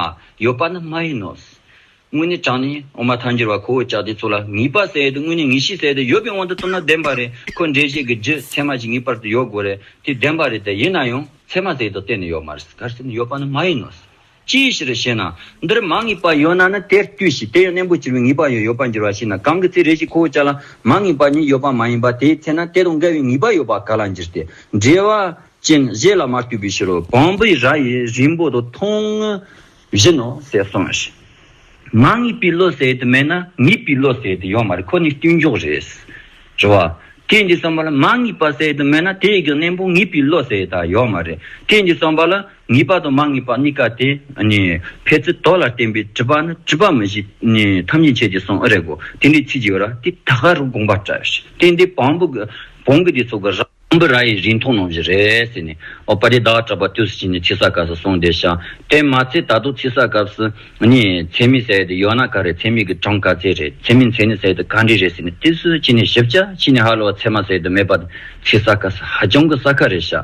ཡོད་པ་ནི་མ་ཡིན་ནོ། དངོས་གནས་གྲངས་ནི་འོག་མ་ཐལ་འགྱུར་བ་ཁོ་བོ་ཅག་དེ་ཚོ་ལ་ངེས་པ་ཟེར་ཡས་དུ་དངོས་གནས་ངེས་ཤེས་ཟེར་ཡས་དུ་ཡོད་པའི་དབང་དུ་བཏུབ་ན་བདེན་པ་རེད་ཁོ་འགྲེལ་བཤད་ཀྱི་རྒྱུ་ཚད་མ་ཞིག་ངེས་པར་དུ་ཡོད་དགོས་རེད་དེ་བདེན་པ་རེད་དེ་ཡིན་ན་ཡང་ཚད་མ་ཟེར་ཡས་དུ་གཏན་ནས་ཡོད་མ་རེད་གར་སྟེགས་ནི་ཡོད་པ་ནི་མ་ཡིན་ནོ། ཅིའི་ཕྱིར་ཞེ་ན། འདིར་མ་ངེས་པ་ཡོད་ན་ནི་དེར་ལྟོས་ཤིག་དེ་ཡང་གནས་འབུ་བྱེར་བའི་ངེས་པ་ཡང་ཡོད་པར་འགྱུར་བ་ཞིག་ན་གང་གི་ཚེ་རེ་ཞིག་ཁོ་བོ་ཅག་ལ་མ་ངེས་པ་ཉིད་ཡོད་པ་མ་ཡིན་པ་དེའི་ཚེ་ན་དེ་དང་འགལ་བའི་ངེས་པ་ཡོད་པ་ག་ལ་འགྱུར་ཏེ། འབྲེལ་བ་ཅན་གཞན་ལ་མ་ལྟོས་པའི་ཕྱིར་རོ། བོང་བུའི་རྭ་ཡི་རིང་པོ་དུ་མཐོང་བཞིན་ནོ་ཞེས་གསུངས། ང་ངེས་པའི་བློ་གསལ་དུ་མེད་ན་ངེས་པའི་བློ་གསལ་དུ་ཡོང་མ་རེད་ཁོ་ནི་བརྟུལ་འཇོག་རེད། རེད་བ། དེས་འདི་གསུངས་པ་ལ་མ་ངེས་པ་གསལ་དུ་མེད་ན་དེའི་གནས་པོ་ངེས་པའི་བློ་གསལ་དང་ཡོད་མ་རེད། དེས་འདི་གསུངས་པ་ལ་ངེས་པ་དང་མ་ངེས་པ་གཉིས་ཀ་དེ་ནི་ཕལ་ཚིག་དོག་ལ་བརྟེན་པའི་དྲི་བ་ནི་དྲི་བ་མི་བཞི་ཐམས་ཅད་འཆད་ཀྱི་གསུངས་ཨེ་རེད་གོ་དེ་འདྲའི་ཚིག་ཅིག་ར་དེ་ད་ག་རུ་དགོངས་པ་བཀྲ་ཤིས་དེ་འདི་བོང་བུ་བོང་བུ་དེ་ཚོ་གི་ར། ཨམ་བི་ར་ཡིས་རིང་ཐུང་ནོངས་བཞིན་རེད་ཟེར་ནས་ཨོ་པ་རེ་ད་གྲྭ་པ་དུས་སུ་ཕྱིན་ནས་ཚིག་གསག་སྐབས་སུ་གསུངས་བསྡད་ཤག་དེ་མ་ཚད་ད་དུང་ཚིག་གསག་སྐབས་སུ་ནི་མཚན་མི་ཟེར་དེ་ཡོད་ན་ག་རེ་མཚན་མི་གི་གྲངས་ག་ཚད་རེད་མཚན་མི་མཚན་ནི་ཟེར་དེ་ག་འདྲི་རེད་ཟེར་ནས་དུས་སུ་ཕྱིན་ནས་ཞིབ་ཆ་ཕྱིན་ནས་ཧ་ལོ་བ་ཚད་མ་ཟེར་དུ་མེད་པ་དེ་ཚིག་གསག་སྐབས་སུ་ཧ་ཅང་གི་གསག་ཁ་རེད་ཤག་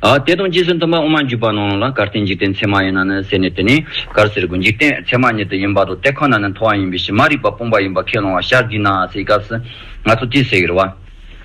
ཨ་དེ་དང་རྗེས་སུ་མཐུན་པ་ཨོ་མ་འཇུག་པ་ནང་ལ་གར་སྟེ་འཇིག་རྟེན་ཚད་མ་ཡིན་ན་ནི་ཟེར་ནས་དེ་ནི་གར་ཟེར་དགོས་འཇིག་རྟེན་ཚད་མ་ཉིད་དུ་ཡིན་པ་དང་དེ་ཁོ་ན་ནི་མཐོ་བ་ཡིན་པའི་ཕྱིར་མ་རིག་པ་སྤོང་པ་ཡིན་པ་ཁས་ལོང་བ་ཤག་འདི་ན་ཟེར་སྐབས་སུ་ང་ཚོ་དུས་ཟེར་བ།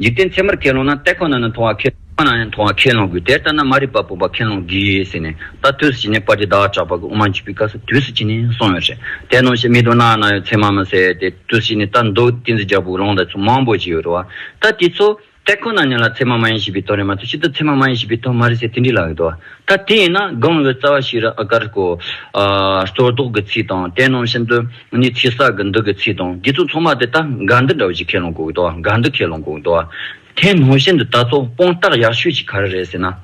འཇིག་རྟེན་ཚད་མར་ཁས་བླངས་ན་ལྟད་ཁོ་ན་ནི་མཐོང་བ་ཁས། ཁོ་ན་ནི་མཐོང་བ་ཁས་བླངས་དགོས་དེ་ལྟ་ན་མ་རིག་པ་སྤོང་པ་ཁས་བླངས་དགོས་ཟེར་ནས་ད་དུས་སུ་བྱིན་ནས་སྤར་གྱི་བདག་ཅག་པ་གི་དབུ་མ་འཇུག་པའི་སྐབས་སུ་དུས་སུ་བྱིན་ནས་སོང་བས་རེད་དེ་གནོད་བྱེད་མི་འདུག་ན་ན་ཡོད་ཚད་མ་མི་ཟེར་ཏེ་དུས་སུ་བྱིན་ནས་ལྟ་འདུག་ཏིང་འཛིན་རྒྱ་བོད་ལུང་དང་མཚུངས་མང་པོ་ཞིག་ཡོད་རེད་བ། ད་དེ་ཚོ། ལྟད་ཁོ་ན་ནི་ལ་ཚད་མ་མ་ཡིན་ཞེས་པའི་དོན་རེད་མ་གཏོགས་ཕྱི་དོན་ཚད་མ་མ་ཡིན་ཞེས་པའི་དོན་མ་རེད་ཟེར་དེ་འདྲའི་ལག་ཡོད་དོ། ད་དེ་ཡིན་ན་སྒང་བའི་རྩ་བ་ཤེས་རབ་ཨ་ཀར་ཀོ། གཙོར་བཟློག་གི་ཚིག་དང་དེ་རྣམས་བཞིན་དུ་ནི་ཚིག་གསག་གི་འདུག་གི་ཚིག་དང་དེ་ཚོ་ཚང་མ་དེ་ལྟ་འགའ་འདི་འདྲ་བ་ཞིག་ཁས་ལོངས་གོ་དོ་འགའ་འདི་ཁས་ལོངས་གོ་དོ། དེ་ནང་བཞིན་དུ་ད་ཚོ་སྤོང་རྟགས་ཡག་ཤོས་ཀྱི་ག་རེ་རེད་ཟེར་ན།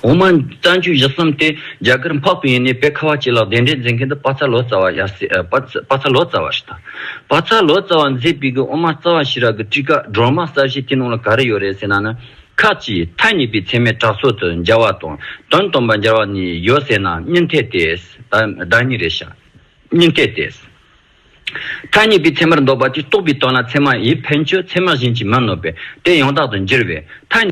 འོ་མ་རྩ་མཆུ་བཞི་གསུམ་དེ་རྒྱ་གར་འཕགས་པའི་ཡིན་ནས་དཔེ་ཁ་བ་ཅི་ལགས་དེ་འདྲའི་མཛད་མཁན་དེ་དཔག་ཚ་ལོ་ཙཱ་བ་ཡར་སྲིད་དཔག་ཚ་ལོ་ཙཱ་བ་རེད་ད། དཔག་ཚ་ལོ་ཙཱ་བ་མཛད་པའི་གི་འོ་མ་རྩ་བ་ཤེས་རབ་ཀྱི་སྤྲི་དཀར་སྒྲོལ་མ་གསར་བཞེངས་དེ་ནང་ལ་ག་རེ་ཡོད་རེད་ཟེར་ན་ནི། ཁ་ཅིག་མཐའ་གཉིས་པའི་ཚད་མས་བྲག་སོགས་སུ་སྦྱར་བ་དང་དོན་སྟོན་པར་སྦྱར་བ་ནི་ཡོད་ཟེར་ན་གཉིས་འཐད་དེ། བདག་ཉིད་རེ་ཤ། གཉིས་འཐད་དེ། མཐའ་གཉིས་པའི་ཚད་མར་འདོགས་པ་དེ་རྟོགས་པའི་དོན་ལ་ཚད་མ་ཡི་ཕན་ཆོད་ཚད་མ་གཞན་གྱིས་མི་གནོད་པས་དེ་ཡང་དག་ཏུ་འགྱུར་བས་མཐའ།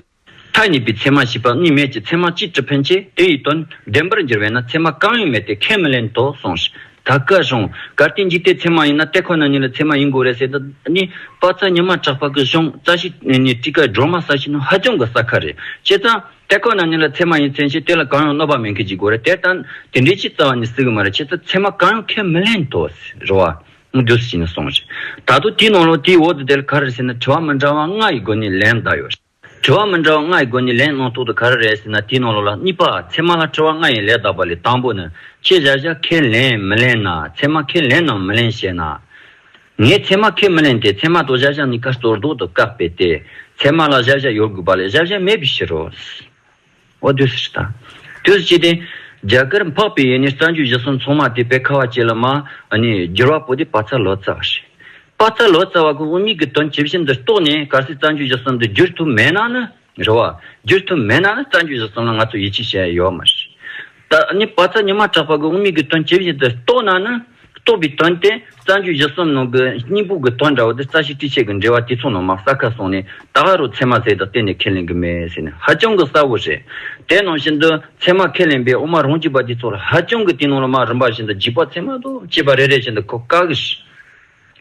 མཐའ་གཉིས་པའི་ཚད་མ་ཞེས་པ་གཉིས་མེད་ཀྱི་ཚད་མ་གཅིག་གྲུབ་ཕན་ཆད་དེ་ཡི་དོན་བདེན་པར་འགྱུར་བས་ན་ཚད་མ་གང་ཡང་མེད་དེ་ཁས་མི་ལེན་དོ་གསུངས། ད་བཀའ་གཞུང་ག་རྟེན་འཇིག་རྟེན་ཚད་མ་ཡིན་ན་ལྟད་ཁོ་ན་ཉིད་ལ་ཚད་མ་ཡིན་དགོས་རེད་ཟེར་ད་ནི་དཔའ་རྩལ་ཉི་མ་གྲགས་པ་གི་གཞུང་རྩ་ཤེས་ནི་སྤྲི་དཀར་སྒྲོལ་མ་ས་ཞིང་ནི་ཧ་ཅང་གི་ས་ཁ་རེད་བྱས་ཙང་ལྟད་ཁོ་ན་ཉིད་ལ་ཚད་མ་ཡིན་ཚན་ཞེས་དེ་ལ་གང་ཡང་གནོད་པ་མེད་མཁན་ཞིག་དགོས་རེད་དེར་ལྟ་དེ་འདྲའི་ཆེས་རྩ་བ་ནས་སྲིད་གི་མ་རེད་བྱས་ཙང་ཚད་མ་གང་ཡང་ཁས་མི་ལེན་དོ་ཟེར་བ་རྒྱུ་ཟིན་ནས་སོང་ཞིག་ད་དུ་དེའི་ནང་ལོགས་དེའི་འོག་ཏུ་དེ་ལ་ག་རེ་ཟེར་ན་དྲི་བ་མི་འདྲ་བ་ལྔ་ཡི་སྒོ་ནས་ལན་གདགས་ཡོད་རེད། དྲི་བ་མི་འདྲ་བ་ལྔ་ཡི་སྒོ་ནས་ལན་གནང་ཐོག་ཏུ་ག་རེ་རེད་ཟེར་ན་དེའི་ནང་ལོགས་ལ་གཉིས་པ་ཚད་མ་ལ་དྲི་བ་ལྔ་ཡི་ལན་གདགས་པ་ལས་དང་པོ་ནི་ཁྱེད་བཞག་བཞག་ཁས་ལེན་མི་ལེན་ན་ཚད་མ་ཁས་ལེན་ནམ་མི་ལེན་ཞེ་ན། ངས་ཚད་མ་ཁས་མི་ལེན་ཏེ་ཚད་མ་དང་བཞག་བཞག་གཉིས་ཀ་གཙོར་འདོགས་ཏུ་བཀག་པས་ཏེ་ཚད་མ་ལ་བཞག་བཞག་ཡོད་དགོས་པ་ལས་བཞག་བཞག་མེད་པའི་ཕྱིར་རོ། ཨོ་དུས་སུ་དང། དུས་སུ་སྐྱེས་ཏེ། རྒྱ་གར་འཕགས་པའི་ཡས་ནས་རྩ་རྒྱུད་བཞི་གསུམ་ཚོགས་མ་དེ་བས་ཁ་བ་ཅི་ལ་མ། ནས་བསྒྱུར་བ་པོ་ཏི་པཱ་ཚ་ལོ་ཙཱ་བ་ཞེས། པཱ་ཚ་ལོ་ཙཱ་བ་ཀུན་དབུ་མེད་ཀྱི་དོན་ཇི་བཞིན་དུ་རྟོགས་ནས་གར་སའི་རྩ་རྒྱུད་བཞི་གསུམ་དུ་བསྒྱུར་ཐུབ་མེད་ན་ནི། རེ་བ། བསྒྱུར་ཐུབ་མེད་ན་ནི་རྩ་རྒྱུད་བཞི་གསུམ་ལ་ང་ཚོ་ཡིད་ཆེས་བྱེད་ཡས་ཡོད་མ་ཞེས། ད་ནི་བ་ཚྭ་ཉི་མ་གྲགས་པ་གི་དབུ་མེད་ཀྱི་དོན་ཇི་བཞིན་དུ་རྟོགས་ན་ནི། རྟོགས་པའི་དོན་ཏེ་རྩ་འཇུག་བཞི་གསུམ་ནང་གི་སྙིང་པོ་གི་དོན་འདྲ་བ་དེ་རྩ་ཤེ་ཏྲི་ཆད་ཀྱི་འགྲེལ་བ་དེ་ཚོ་ནང་མ་གསལ་ཁ་སོང་ནས་ད་ག་རུ་ཚད་མ་ཟེར་དང་གཏན་ནས་ཁས་ལེན་གྱི་མེད་ཟེར་ནས་ཧ་ཅང་གི་གསལ་བོ་རེད། དེ་ནང་བཞིན་དུ་ཚད་མ་ཁས་ལེན་པའི་དབུ་མ་རང་རྒྱུད་པ་དེ་ཚོ་ལ་ཧ་ཅང་གི་དེ་ནང་ལ་མ་རིམ་པ་བཞིན་དུ་འཇིག་པ་ཚད་མ་དང་བཅས་པ་རེ་རེ་བཞིན་དུ་གོ་དཀའ་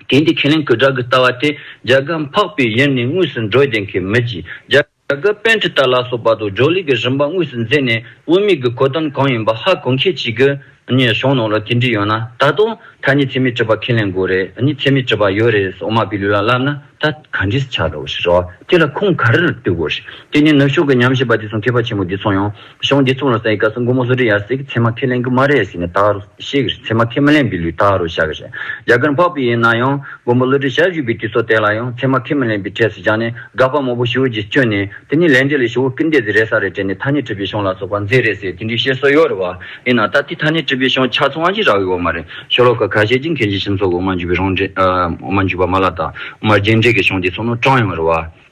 གི། དེ་འདི་ཁས་ལེན་གྱི་སྒྲ་གི་ལྟ་བ་དེ་རྒྱ་གར་འཕགས་པའི་ཡུལ་ནས་དངོས་སུ་འགྲོ་བདེན་གྱི་མི་གྱིས་རྒྱ། ད་སྐབས་དཔོན་ཁྲི་ལྟར་ལ་སོགས་པ་དང་ཇོ་ལིག་གི་རིམ་པ་དངོས་སུ་མཛད་ནས་དབུ་མེད་ཀྱི་གོ་དོན་གང་ཡིན་པ་ཧ་གོ་མཁས་བྱེད་དགོས། གཞུང་ནང་ལ་དེ་འདྲི་ཡོད་ན་ད་དུང་ད་ནི་ཚད་མའི་དྲི་བ་ཁས་ལེན་དགོས་རེད་ནི་ཚད་མའི་དྲི་བ་ཡོད་རེད་སོགས་མ་པི་ལུ་ལ་ལབ་ན་ད་ག་འདྲིས་ཆགས་རོགས་ཞེས་རོགས་དེ་ལ་ཁུངས་ག་རེ་ལ་ལྟོས་དགོས་རེད་དེ་ནས་ནུབ་ཕྱོགས་ཀྱི་ཉམས་ཞིབ་པ་དེ་ཚོ་མཁས་པ་ཆེན་པོ་འདི་ཚོ་ཡང། གཞུང་འདི་གཙུག་ལ་བསལ་བའི་སྐབས་སུ་མགོ་མོ་སོ་དྲི་ཡར་བསྲེགས་ཀྱི་ཚེ་མ་ཁས་ལེན་གྱི་མ་རེད་ཟེར་ནས་དག་རུ་བཤད་ཀྱི་རེད་ཚེ་མ་ཁས་མི་ལེན་པའི་ལུས་དག་རུ་བཞག་གི་རེད་རྒྱ་གར་འཕགས་པའི་ཡིན་ན་ཡང་མགོ་མོ་གླུ་སྒྲའི་ཞབས་ཞུ་བའི་དུས་ཚོད་དེ་ལ་ཡང་ཚེ་མ་ཁས་མི་ལེན་པའི་གྲས་སུ་བཞག་ནས་དགག་པ་མང་པོ་ཞུ་རྒྱུ་སྤྱོད་ནས་དེ་ནི་ལས་འབྲས་ལས་ཞུ་བོ་སྐུལ་འདེད་ཟེར་རེད་ས་རེད་དྲན་ནས་ཐ་སྙད་བྲིས་པའི་གཞུང་ལ་སོགས་པ་མཛེས་རེད་ཟེར་དེ་འདྲའི་བཤད་སྲོལ་ཡོད་རེད་བ་ཡིན་ན་ད་དེ་ཐ་སྙད་བྲིས་པའི་གཞུང་ཆ་ཚང་ཞིག་རག་ཡོད་བ་མ་རེད་ཤོ་ལོ་ཀ་ཁ་ཤས་ཀྱིས་མཁན་ཆེན་ཁྱིམ་སོགས་ཀྱི་འོ་མ་འཇུ་བའི་རང་འགྲེལ་འོ་མ་འཇུ་བ་མ་ལ་དག་མར་རྒྱན་འགྲེལ་གྱི་གཞུང་དེ་ཚོ་ནོར་གྲངས་ཡོང་བ་རེད་བ།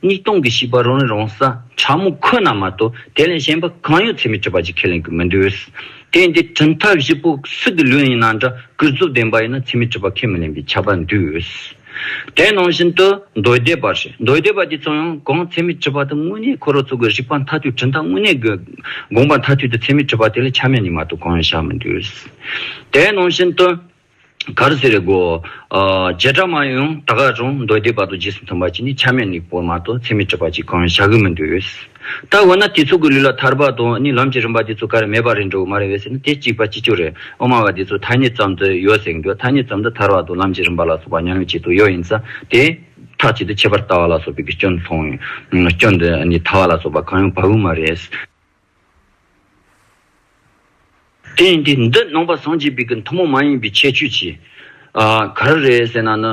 སྙིགས་དོང་གི་བྱིས་པ་རང་རེ་རང་ས་ཕྲ་མོ་ཁོ་ན་མ་གཏོགས་དེ་ལས་གཞན་པ་གང་ཡོད་ཚད་མས་སྤྲོད་པ་ཅིག་ཁས་ལེན་གྱི་མི་འདུག་དེ་ཡིན་དུས་གྲུབ་མཐའ་བཞི་པོ་སུ་དེ་ལོས་ཡིན་ན་འདྲ་གུས་རྫོབ་ལྡན་པ་ཡིན་ན་ཚད་མས་སྤྲོད་པ་ཁས་མི་ལེན་པའི་ཁྱབ་པ་འདུག་དེ་ནང་བཞིན་དུ་མདོའི་སྡེ་པར་ཞེས་མདོའི་སྡེ་པ་དེ་ཚོ་ཡང་གང་ཚད་མས་སྤྲོད་པ་དེ་དངོས་གནས་ཁོ་རང་ཚོ་གི་རིག་པ་མཐའ་ཐུས་གྲུབ་མཐའ་དངོས་གནས་ཀྱི་དགོངས་པ་མཐའ་ཐུས་དེ་ཚད་མས་སྤྲོད་པ་དེ་ལས་ཆ་མེད་ནི་མ་གཏོགས་གང་ཡང་བཞག་མི་འདུག་དེ་ནང་བཞིན་དུ། གར་ཟེར་གོ། བྱེ་བྲག་མ་ཡུམ་ད་ག་རུང་མདོ་སྡེའི་བར་དུ་རྗེས་སུ་མཐུན་པ་ཅིག་ནི་ཆ་མེད་ནི་པོ་མ་གཏོགས་ཚད་མེད་གྲུབ་པ་ཅིག་གང་ཡང་བྱ་དགོས་མི་འདུག་འོས། ད་འོ་ན་དེ་ཚོ་གི་ལུས་ལ་ཐར་པ་དང་ནི་ལམ་གྱི་རིམ་པ་དེ་ཚོ་ག་རེ་མེད་པ་རེད་འགྲོ་གི་མ་རེད་འོས་ཟེར་ན་དེ་གཅིག་པ་གཅིག་ཆོད་རེད་འོ་མ་བ་དེ་ཚོ་ཐ་སྙད་ཙམ་དུ་ཡོད་ཟེར་གི་འདུག་ཐ་སྙད་ཙམ་དུ་ཐར་བ་དང་ལམ་གྱི་རིམ་པ་ལ་སོགས་པ་ཉམས་ལེན་བྱེད་དུ་ཡོད་ཡིན་ས་དེ། ཐག་གཅིག་ཏུ་ཁྱད་པར་ལྟ་བ་ལ་སོགས་པའི་གི་སྐྱོན་མཐོང། སྐྱོན་དུ་ནི་ཐ་བ་ལ་སོགས་པ་གང་ཡང་བབས་ཡོད་མ་རེད། དེ་ཡིན་དུས་འདི་ནང་པ་སངས་རྒྱས་པའི་གི་མཐུན་མོང་མ་ཡིན་པའི་ཁྱད་ཆོས་ཀྱིས། ག་རེ་རེད་ཟེར་ན་ནི།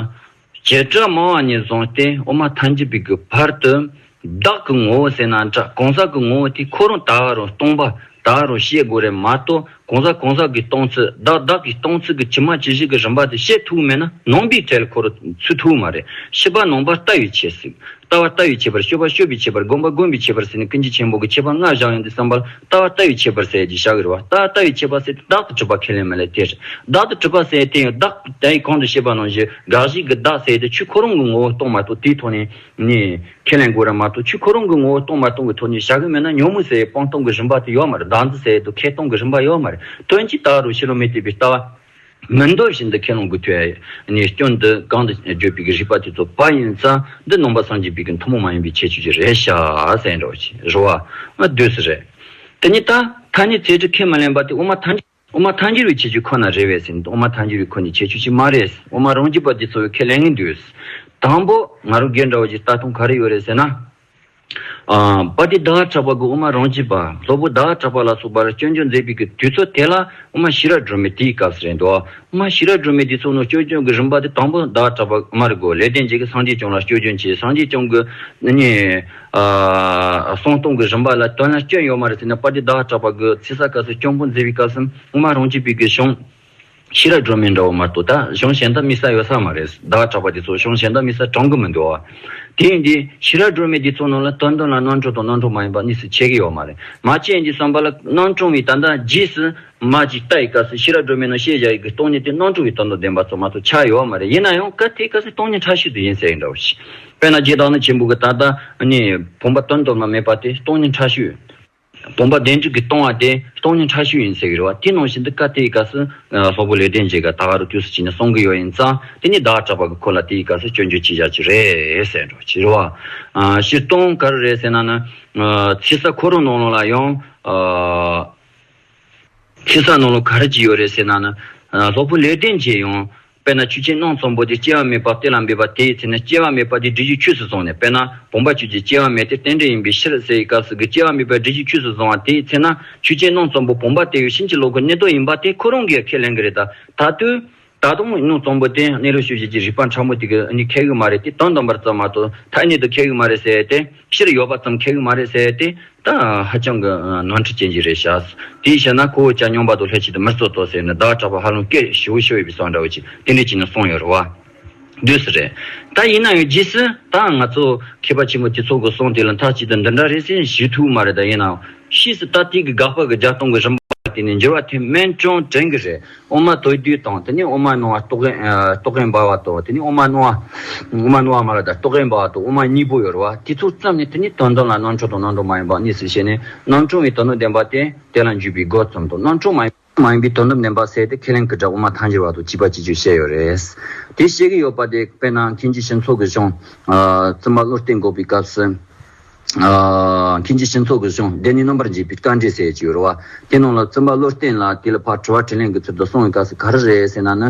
བྱེ་བྲག་མང་བ་ནས་བཟུང་སྟེ་དབུ་མ་ཐམས་ཅད་པའི་གི་བར་དུ། བདག་གི་ངོ་བོ་ཟེར་ན་འདྲ་གང་ཟག་གི་ངོ་བོ་དེ་ཁོ་རང་ད་ག་རུ་སྟོང་པ་ད་ག་རུ་ཤེས་དགོས་རེད་མ་གཏོགས་གང་ཟག་གང་ཟག་གི་སྟོང་ཚུལ་བདག་བདག་གི་སྟོང་ཚུལ་གྱི་ཇི་མ་ཇི་བཞིན་གྱི་རིམ་པ་དེ་ཤེས་ཐུབ་མེད་ན་ནོངས་པའི་ཐལ་འཁོར་ཚུད་ཐུབ་མ་རེད། ཤེས་པ་ནོངས་པ་ལྟ་བའི་ཆེད་ཟིག། ལྟ་བ་ལྟ་བའི་ཆེད་པར་ཤོད་པ་ཤོད་པའི་ཆེད་པར་སྒོམ་པ་སྒོམ་པའི་ཆེད་པར་ཟེར་ནས་ཀུན་གཞི་ཆེན་པོ་གི་ཁྱད་པར་ལྔ་བཞག་ཡོང་དུས་བསམ་པར་ལྟ་བ་ལྟ་བའི་ཆེད་པར་ཟེར་གྱི་ཞག་གི་རེ་བ་ལྟ་བ་ལྟ་བའི་ཆེད་པར་ཟེར་ཏེ་བདག་ཏུ་གྲུབ་པ་ཁས་ལེན་མི་ལེན་དེར་བདག་ཏུ་གྲུབ་པ་ཟེར་ཡང་བསྟན་ཡོད་བདག་དེའི་གོང་དུ་བཤད་པ་ནང་བཞིན་དགག་གཞིའི་གི་བདག་ཟེར་ཏེ་ཆོས་ཁོ་རང་གི་ངོ་བོ་རྟོགས་མ་ཐུབ་དེའི་ཐོག་ནས། ཁས་ལེན་དགོས་ར་མ་གཏོགས་ཆུ་ཁོ་རང་གི་ངོ་བོ་སྟོང་མ་སྟོང་གི་ཐོག་ནས་བྱ་གི་མེད་ན་ཉོན་མོངས་ཟེར་བའི་སྤང་སྟོང་གི་རིམ་པ་དེ་ཡོད་མ་རེད་བདག་འདི་ཟེར་དུ་ཁས་སྟོང་གི་རིམ་པ་ཡོད་མ་རེད་དོན་ཇི་ལྟར་རུང་ཕྱི་ལོ་མི་དེ་པའི་ལྟ་བ། མི་འདོད་བཞིན་དུ་ཁས་ལོངས་དགོས་ཐོས་ནས་སྐྱོན་འདི་གང་དུ་བརྗོད་པའི་གི་རིགས་པ་དེ་ཚོ་བ་ཡིན་ས་འདི་ནོངས་པ་སངས་རྒྱས་པའི་གི་མཐུ་མོང་མ་ཡིན་པའི་ཁྱད་ཆོས་ཀྱི་རེད་ཤ་ཟེར་འགྲོ་བ་ཨ་དུས་སུ་རེད་དེ་ཉི་ད་ཐ་སྙད་རྩེ་གྲི་ཁས་མི་ལེན་པ་དེ་དབུ་མ་ཐ་ཨོ་མ་ཐཱན་འགྱུར་བའི་བྱེད་ཆུ་ཁོ་ན་རེད་བས་ཟིན་ཨོ་མ་ཐཱན་འགྱུར་བའི་ཁོ་ནི་བྱེད་ཆུ་ཞིག་མ་རེད་ཨོ་མ་རང་རྒྱུད་པ་འདི་ཚོ་བས་ཁས་ལེན་གིན་འདུག་དང་པོ་ང་རོ་སྒེར་འདྲ་བ་ཞིག་ལྟ་ཐུང་ག་རེ་ཡོད་རེད་ཟེར་ན། པ་ཏི་དྭགས་གྲགས་པ་དགུ་ཨོ་མ་རང་རྒྱུད་པ་སློབ་བུ་དྭགས་གྲགས་པ་ལ་སོགས་པར་སྐྱོན་བརྗོད་མཛད་ཕིག་གི་དུས་ཚོད་དེ་ལ་ཨོ་མ་ཤི་ར་སྒྲོལ་མའི་དུས་སྐབས་རེད་འདུག་ཨོ་མ་ཤི་ར་སྒྲོལ་མའི་དུས་ཚོད་ནང་སྐྱོན་བརྗོད་གི་རིམ་པ་དེ་དང་པོ་དྭགས་གྲགས་པ་ཨོ་མ་རི་གོ་ལས་བསྟན་བྱེད་ཀྱི་སངས་རྒྱས་བྱུང་ལ་སྐྱོན་བརྗོད་བྱས་སངས་རྒྱས་བྱུང་གི་ནི། གསང་སྟོང་གི་རིམ་པ་ལ་དོན་ལ་སྐྱོན་ཡོད་མ་རེད་ཟེར་ན་པ་ཏི་བདག་གྲགས་པ་དགོས་ཚེ་ས་ག་སོ་སྐྱོང་པོ་མཛད་པའི་སྐབས་སམ་དབུ་མ་རང་གཅིག་པའི་དགོས་གཞུང། ཤེས་རབ་སྒྲོན་མེ་འདྲ་བོ་མ་གཏོགས་ད་གཞུང་གཞན་དག་དམིགས་ས་ཡོད་ས་མ་རེད་བདག་གྲགས་པ་དེ་ཚོ་གཞུང་གཞན་དག་དམིགས་ས་དྲང་གི་མི་འདུག་བ། དེ་ཡིན་དུས་ཤེས་རབ་སྒྲོན་མེ་འདི་ཚོ་ནང་ལ་དོན་དོན་ལ་སྣང་གྲུང་དང་སྣང་གྲུང་མ་ཡིན་པ་གཉིས་སུ་ཕྱེ་གི་ཡོད་མ་རེད་མ་ཁྱེད་ཀྱིས་བསམ་པ་ལ་སྣང་གྲུང་བའི་དོན་དག་རྗེས་སུ་མ་ཅིག་ལྟ་ཡི་སྐབས་སུ་ཤེས་རབ་སྒྲོན་མེ་ནང་བཤད་བཞག་ཡི་གི་སྟོང་ཉིད་དེ་སྣང་གྲུང་བའི་དོན་དང་ལྡན་པ་ཚོ་མ་གཏོགས་ཆགས་ཡོད་མ་རེད་ཡིན་ན་ཡང་གལ་དེའི་སྐབས་སུ་སྟོང་ཉིད་ཕྲ་ཤུལ་དུ་ཡིན་ཟེར་ཡི་འདྲ་བོ་ཞིག། དཔེར་ན་རྗེས་དང་ནི་བྱེད་འབུལ་གྱི་ད་ལྟ་ནི། བུམ་པ་དོན་དམ་ན་མེད་པ་དེ་སྟོང་ཉིད་ཕྲ་ཤོས། བུམ་པ་བདེན་གྲུབ་ཀྱི་སྟོང་བ་དེ་སྟོང་ཉིད་ཕྲ་ཤོས་ཡིན་ཟེར་གྱི་རེད་བ་དེ་ནང་བཞིན་དུ་བཀའ་དེའི་སྐབས་སུ། སློབ་བུ་ལས་འབྲེལ་མཇལ་སྐབས་ད་ག་རུ་དུས་སུ་བྱིན་ནས་གསུང་གི་ཡོད་ཡིན་ཙང་དེ་ནི་བདག་གྲགས་པ་གི་ཁོ་ལ་དེའི་སྐབས་སུ་སྐྱོན་བརྗོད་ཅི་བྱ་ཅི་རེད་ཟེར་འགྲོ་གི་རེད་བ། ཕྱིར་གཏོང་ག་རུ་རེད་ཟེར་ན་ནི། ཚིག་ས་ཁོ་རང་ནང་ལོགས་ལ་ཡང། ཚིག་ས་ནང་ལོགས་ག་རུ་གྱི་ཡོད་རེད་ཟེར་ན་ནི། སློབ་བུ་ལས་འབྲེལ་མཇལ་ཡང། དཔེར་ན་ཆུ་ཆེན་སྣང་ཚོམ་བུ་དེ་སྐྱེ་བ་མེད་པར་གཏེར་ལ་འབེབས་པ་དེའི་ཚེ་ན་སྐྱེ་བ་མེད་པ་དེ་འབྲི་ཆུའི་ཆུས་སུ་བཟུང་ནས་དཔེར་ན་བུམ་པ་ཆུ་དེ་སྐྱེ་བ་མེད་དེ་རྟེན་འབྲེལ་ཡིན་པའི་ཕྱིར་ཟེར་བའི་སྐབས་སུ་གི་སྐྱེ་བ་མེད་པ་འབྲི་ཆུའི་ཆུས་སུ་བཟུང་བ་དེའི་ཚེ་ན་ཆུ་ཆེན་སྣང་ཚོམ་བུ་བུམ་པ་དེ་ཡོད་ཕྱིན་ཅི་ལོག་གི་གནས་དོན་ཡིན་པ་དེ་ཁོ་རང་གིས་ཁས་ལེན་གི་རེད་ད། ད་དུས་ད་དུང་སྣང་ཚོམ་བུ་དེ་གནས་རོགས་ཞུ་བྱེད་ཀྱི་རིགས་པ་ཕྲ་མོ་དེ་གིས་ནི་ཁས་གི་མ་རེད་དེ་དོན་དམ་པར་བརྩམས་མ་ཐུབ་ཐ་སྙད་དུ་ཁས་གི་མ་རེད་ཟེར་ཏེ། ཕྱིར་ཡོད་པ་ཙམ་ཁེག་གི་མ་རེད་ཟེར་ཏེ། ད་ཧ་ཅང་གི་ནང་འཁྲི་སྐྱེལ་གྱི་རེད་ཤག། དེའི་ཕྱིར་ན་ཁོ་བོ་ཅག་སྙོམས་པ་དང་ལྷས་བྱས་ཏེ་མི་གཙོ་གཙོ་ཟེར་ནས་བདག་སྐྲག་པ་ཧ་ལམ་སྐད་ཞི་བོ་ཞི་བོ་ཡོད་པའི་སྲོག་འདྲ་བོ་ཅིག་ཏིལ་འབྲས་བྱིན་ནས་སོང་ཡོད་རེད་བ། དུས་སུ་རེད། ད་ཡིན་ན་ཡང་རྗེས་སུ་ད་ང་ཚོ་མཁས་པ་ཆེན་པོ་དེ་ཚོ་གི་གསུང་དེ་ལ་མཐའ་གཅིག་ཏུ་འདི་འདྲ་རེད་ཟེར་ཞུ་ཐུབ་མ་རེད་ད་ཡིན་ནའང་ཕྱིས་སུ་ད་ཏིལ་གྱི་དགག་པ་གི་བརྒྱ་སྟོང་གི་རིམ་པ་དེ་ནི་འགྱུར་བ་ཐེབས་སྨན་ཅུང་དྲན་གི་རེད། ཨོ་མ་དོའི་དུས་དང་དེ་ནས་ཨོ་མ་ནོ་བ་ཏོག་གེ་འབར་བ་དང་དེ་ནས་ཨོ་མ་ནོ་བ་མ་ར་དར་ཏོག་གེ་འབར་བ་དང་ཨོ་མ་གཉིས་པོ་ཡོད་རེད་བ་དེ་ཚོ་བརྩམས་ནས་དེ་ནས་དོན་དམ་ལ་རྣམ་འཕྲོ་དང་རྣམ་འཕྲོ་མ་ཡིན་པ་གཉིས་སུ་ཕྱེ་ནས་རྣམ་འཕྲོ་བའི་དོན་དམ་བདེན་པ་སྟེ་དེ་ལ་འཇུག་པའི་སྒོ་བརྩམས་དང་རྣམ་འཕྲོ་མ་ཡིན་པའི་དོན་དམ་བདེན་པ་བསལ་ཏེ་ཁས་ལེན་གྱི་སྒྲ་ཨོ་མ་ཐང་ཅེར་བ་དང་བཅིབས་པ་ཅེས་བརྗོད་བཤད་ཡོད་རེད། དེ་བཤད་ཀྱི་ཡོད་པ་དེ་དཔེར་ན་མཁན་ཆེན་ཤིང་ཚོགས་ཀྱི་གཞུང། བཙུན་པ་བློ་གཏད་འགོག་པའི་སྐབས་སུ། མཁན་གྱི་ཕྱིན་ཚོགས་ཀྱི་གཞུང་བདེ་གནས་རྣམ་པར་འབྱེད་པའི་བཀའ་འདྲི་ཟེར་གྱི་ཡོད་རེད་བ། དེའི་ནང་ལ་བཙུན་པ་བློ་བརྟན་ལགས་དེ་ལ་ཕར་དྲི་བ་དྲིས་ལན་གྱི་ཚུལ་དུ་སོང་བའི་སྐབས་སུ་ག་རེ་རེད་ཟེར་ན་ནི།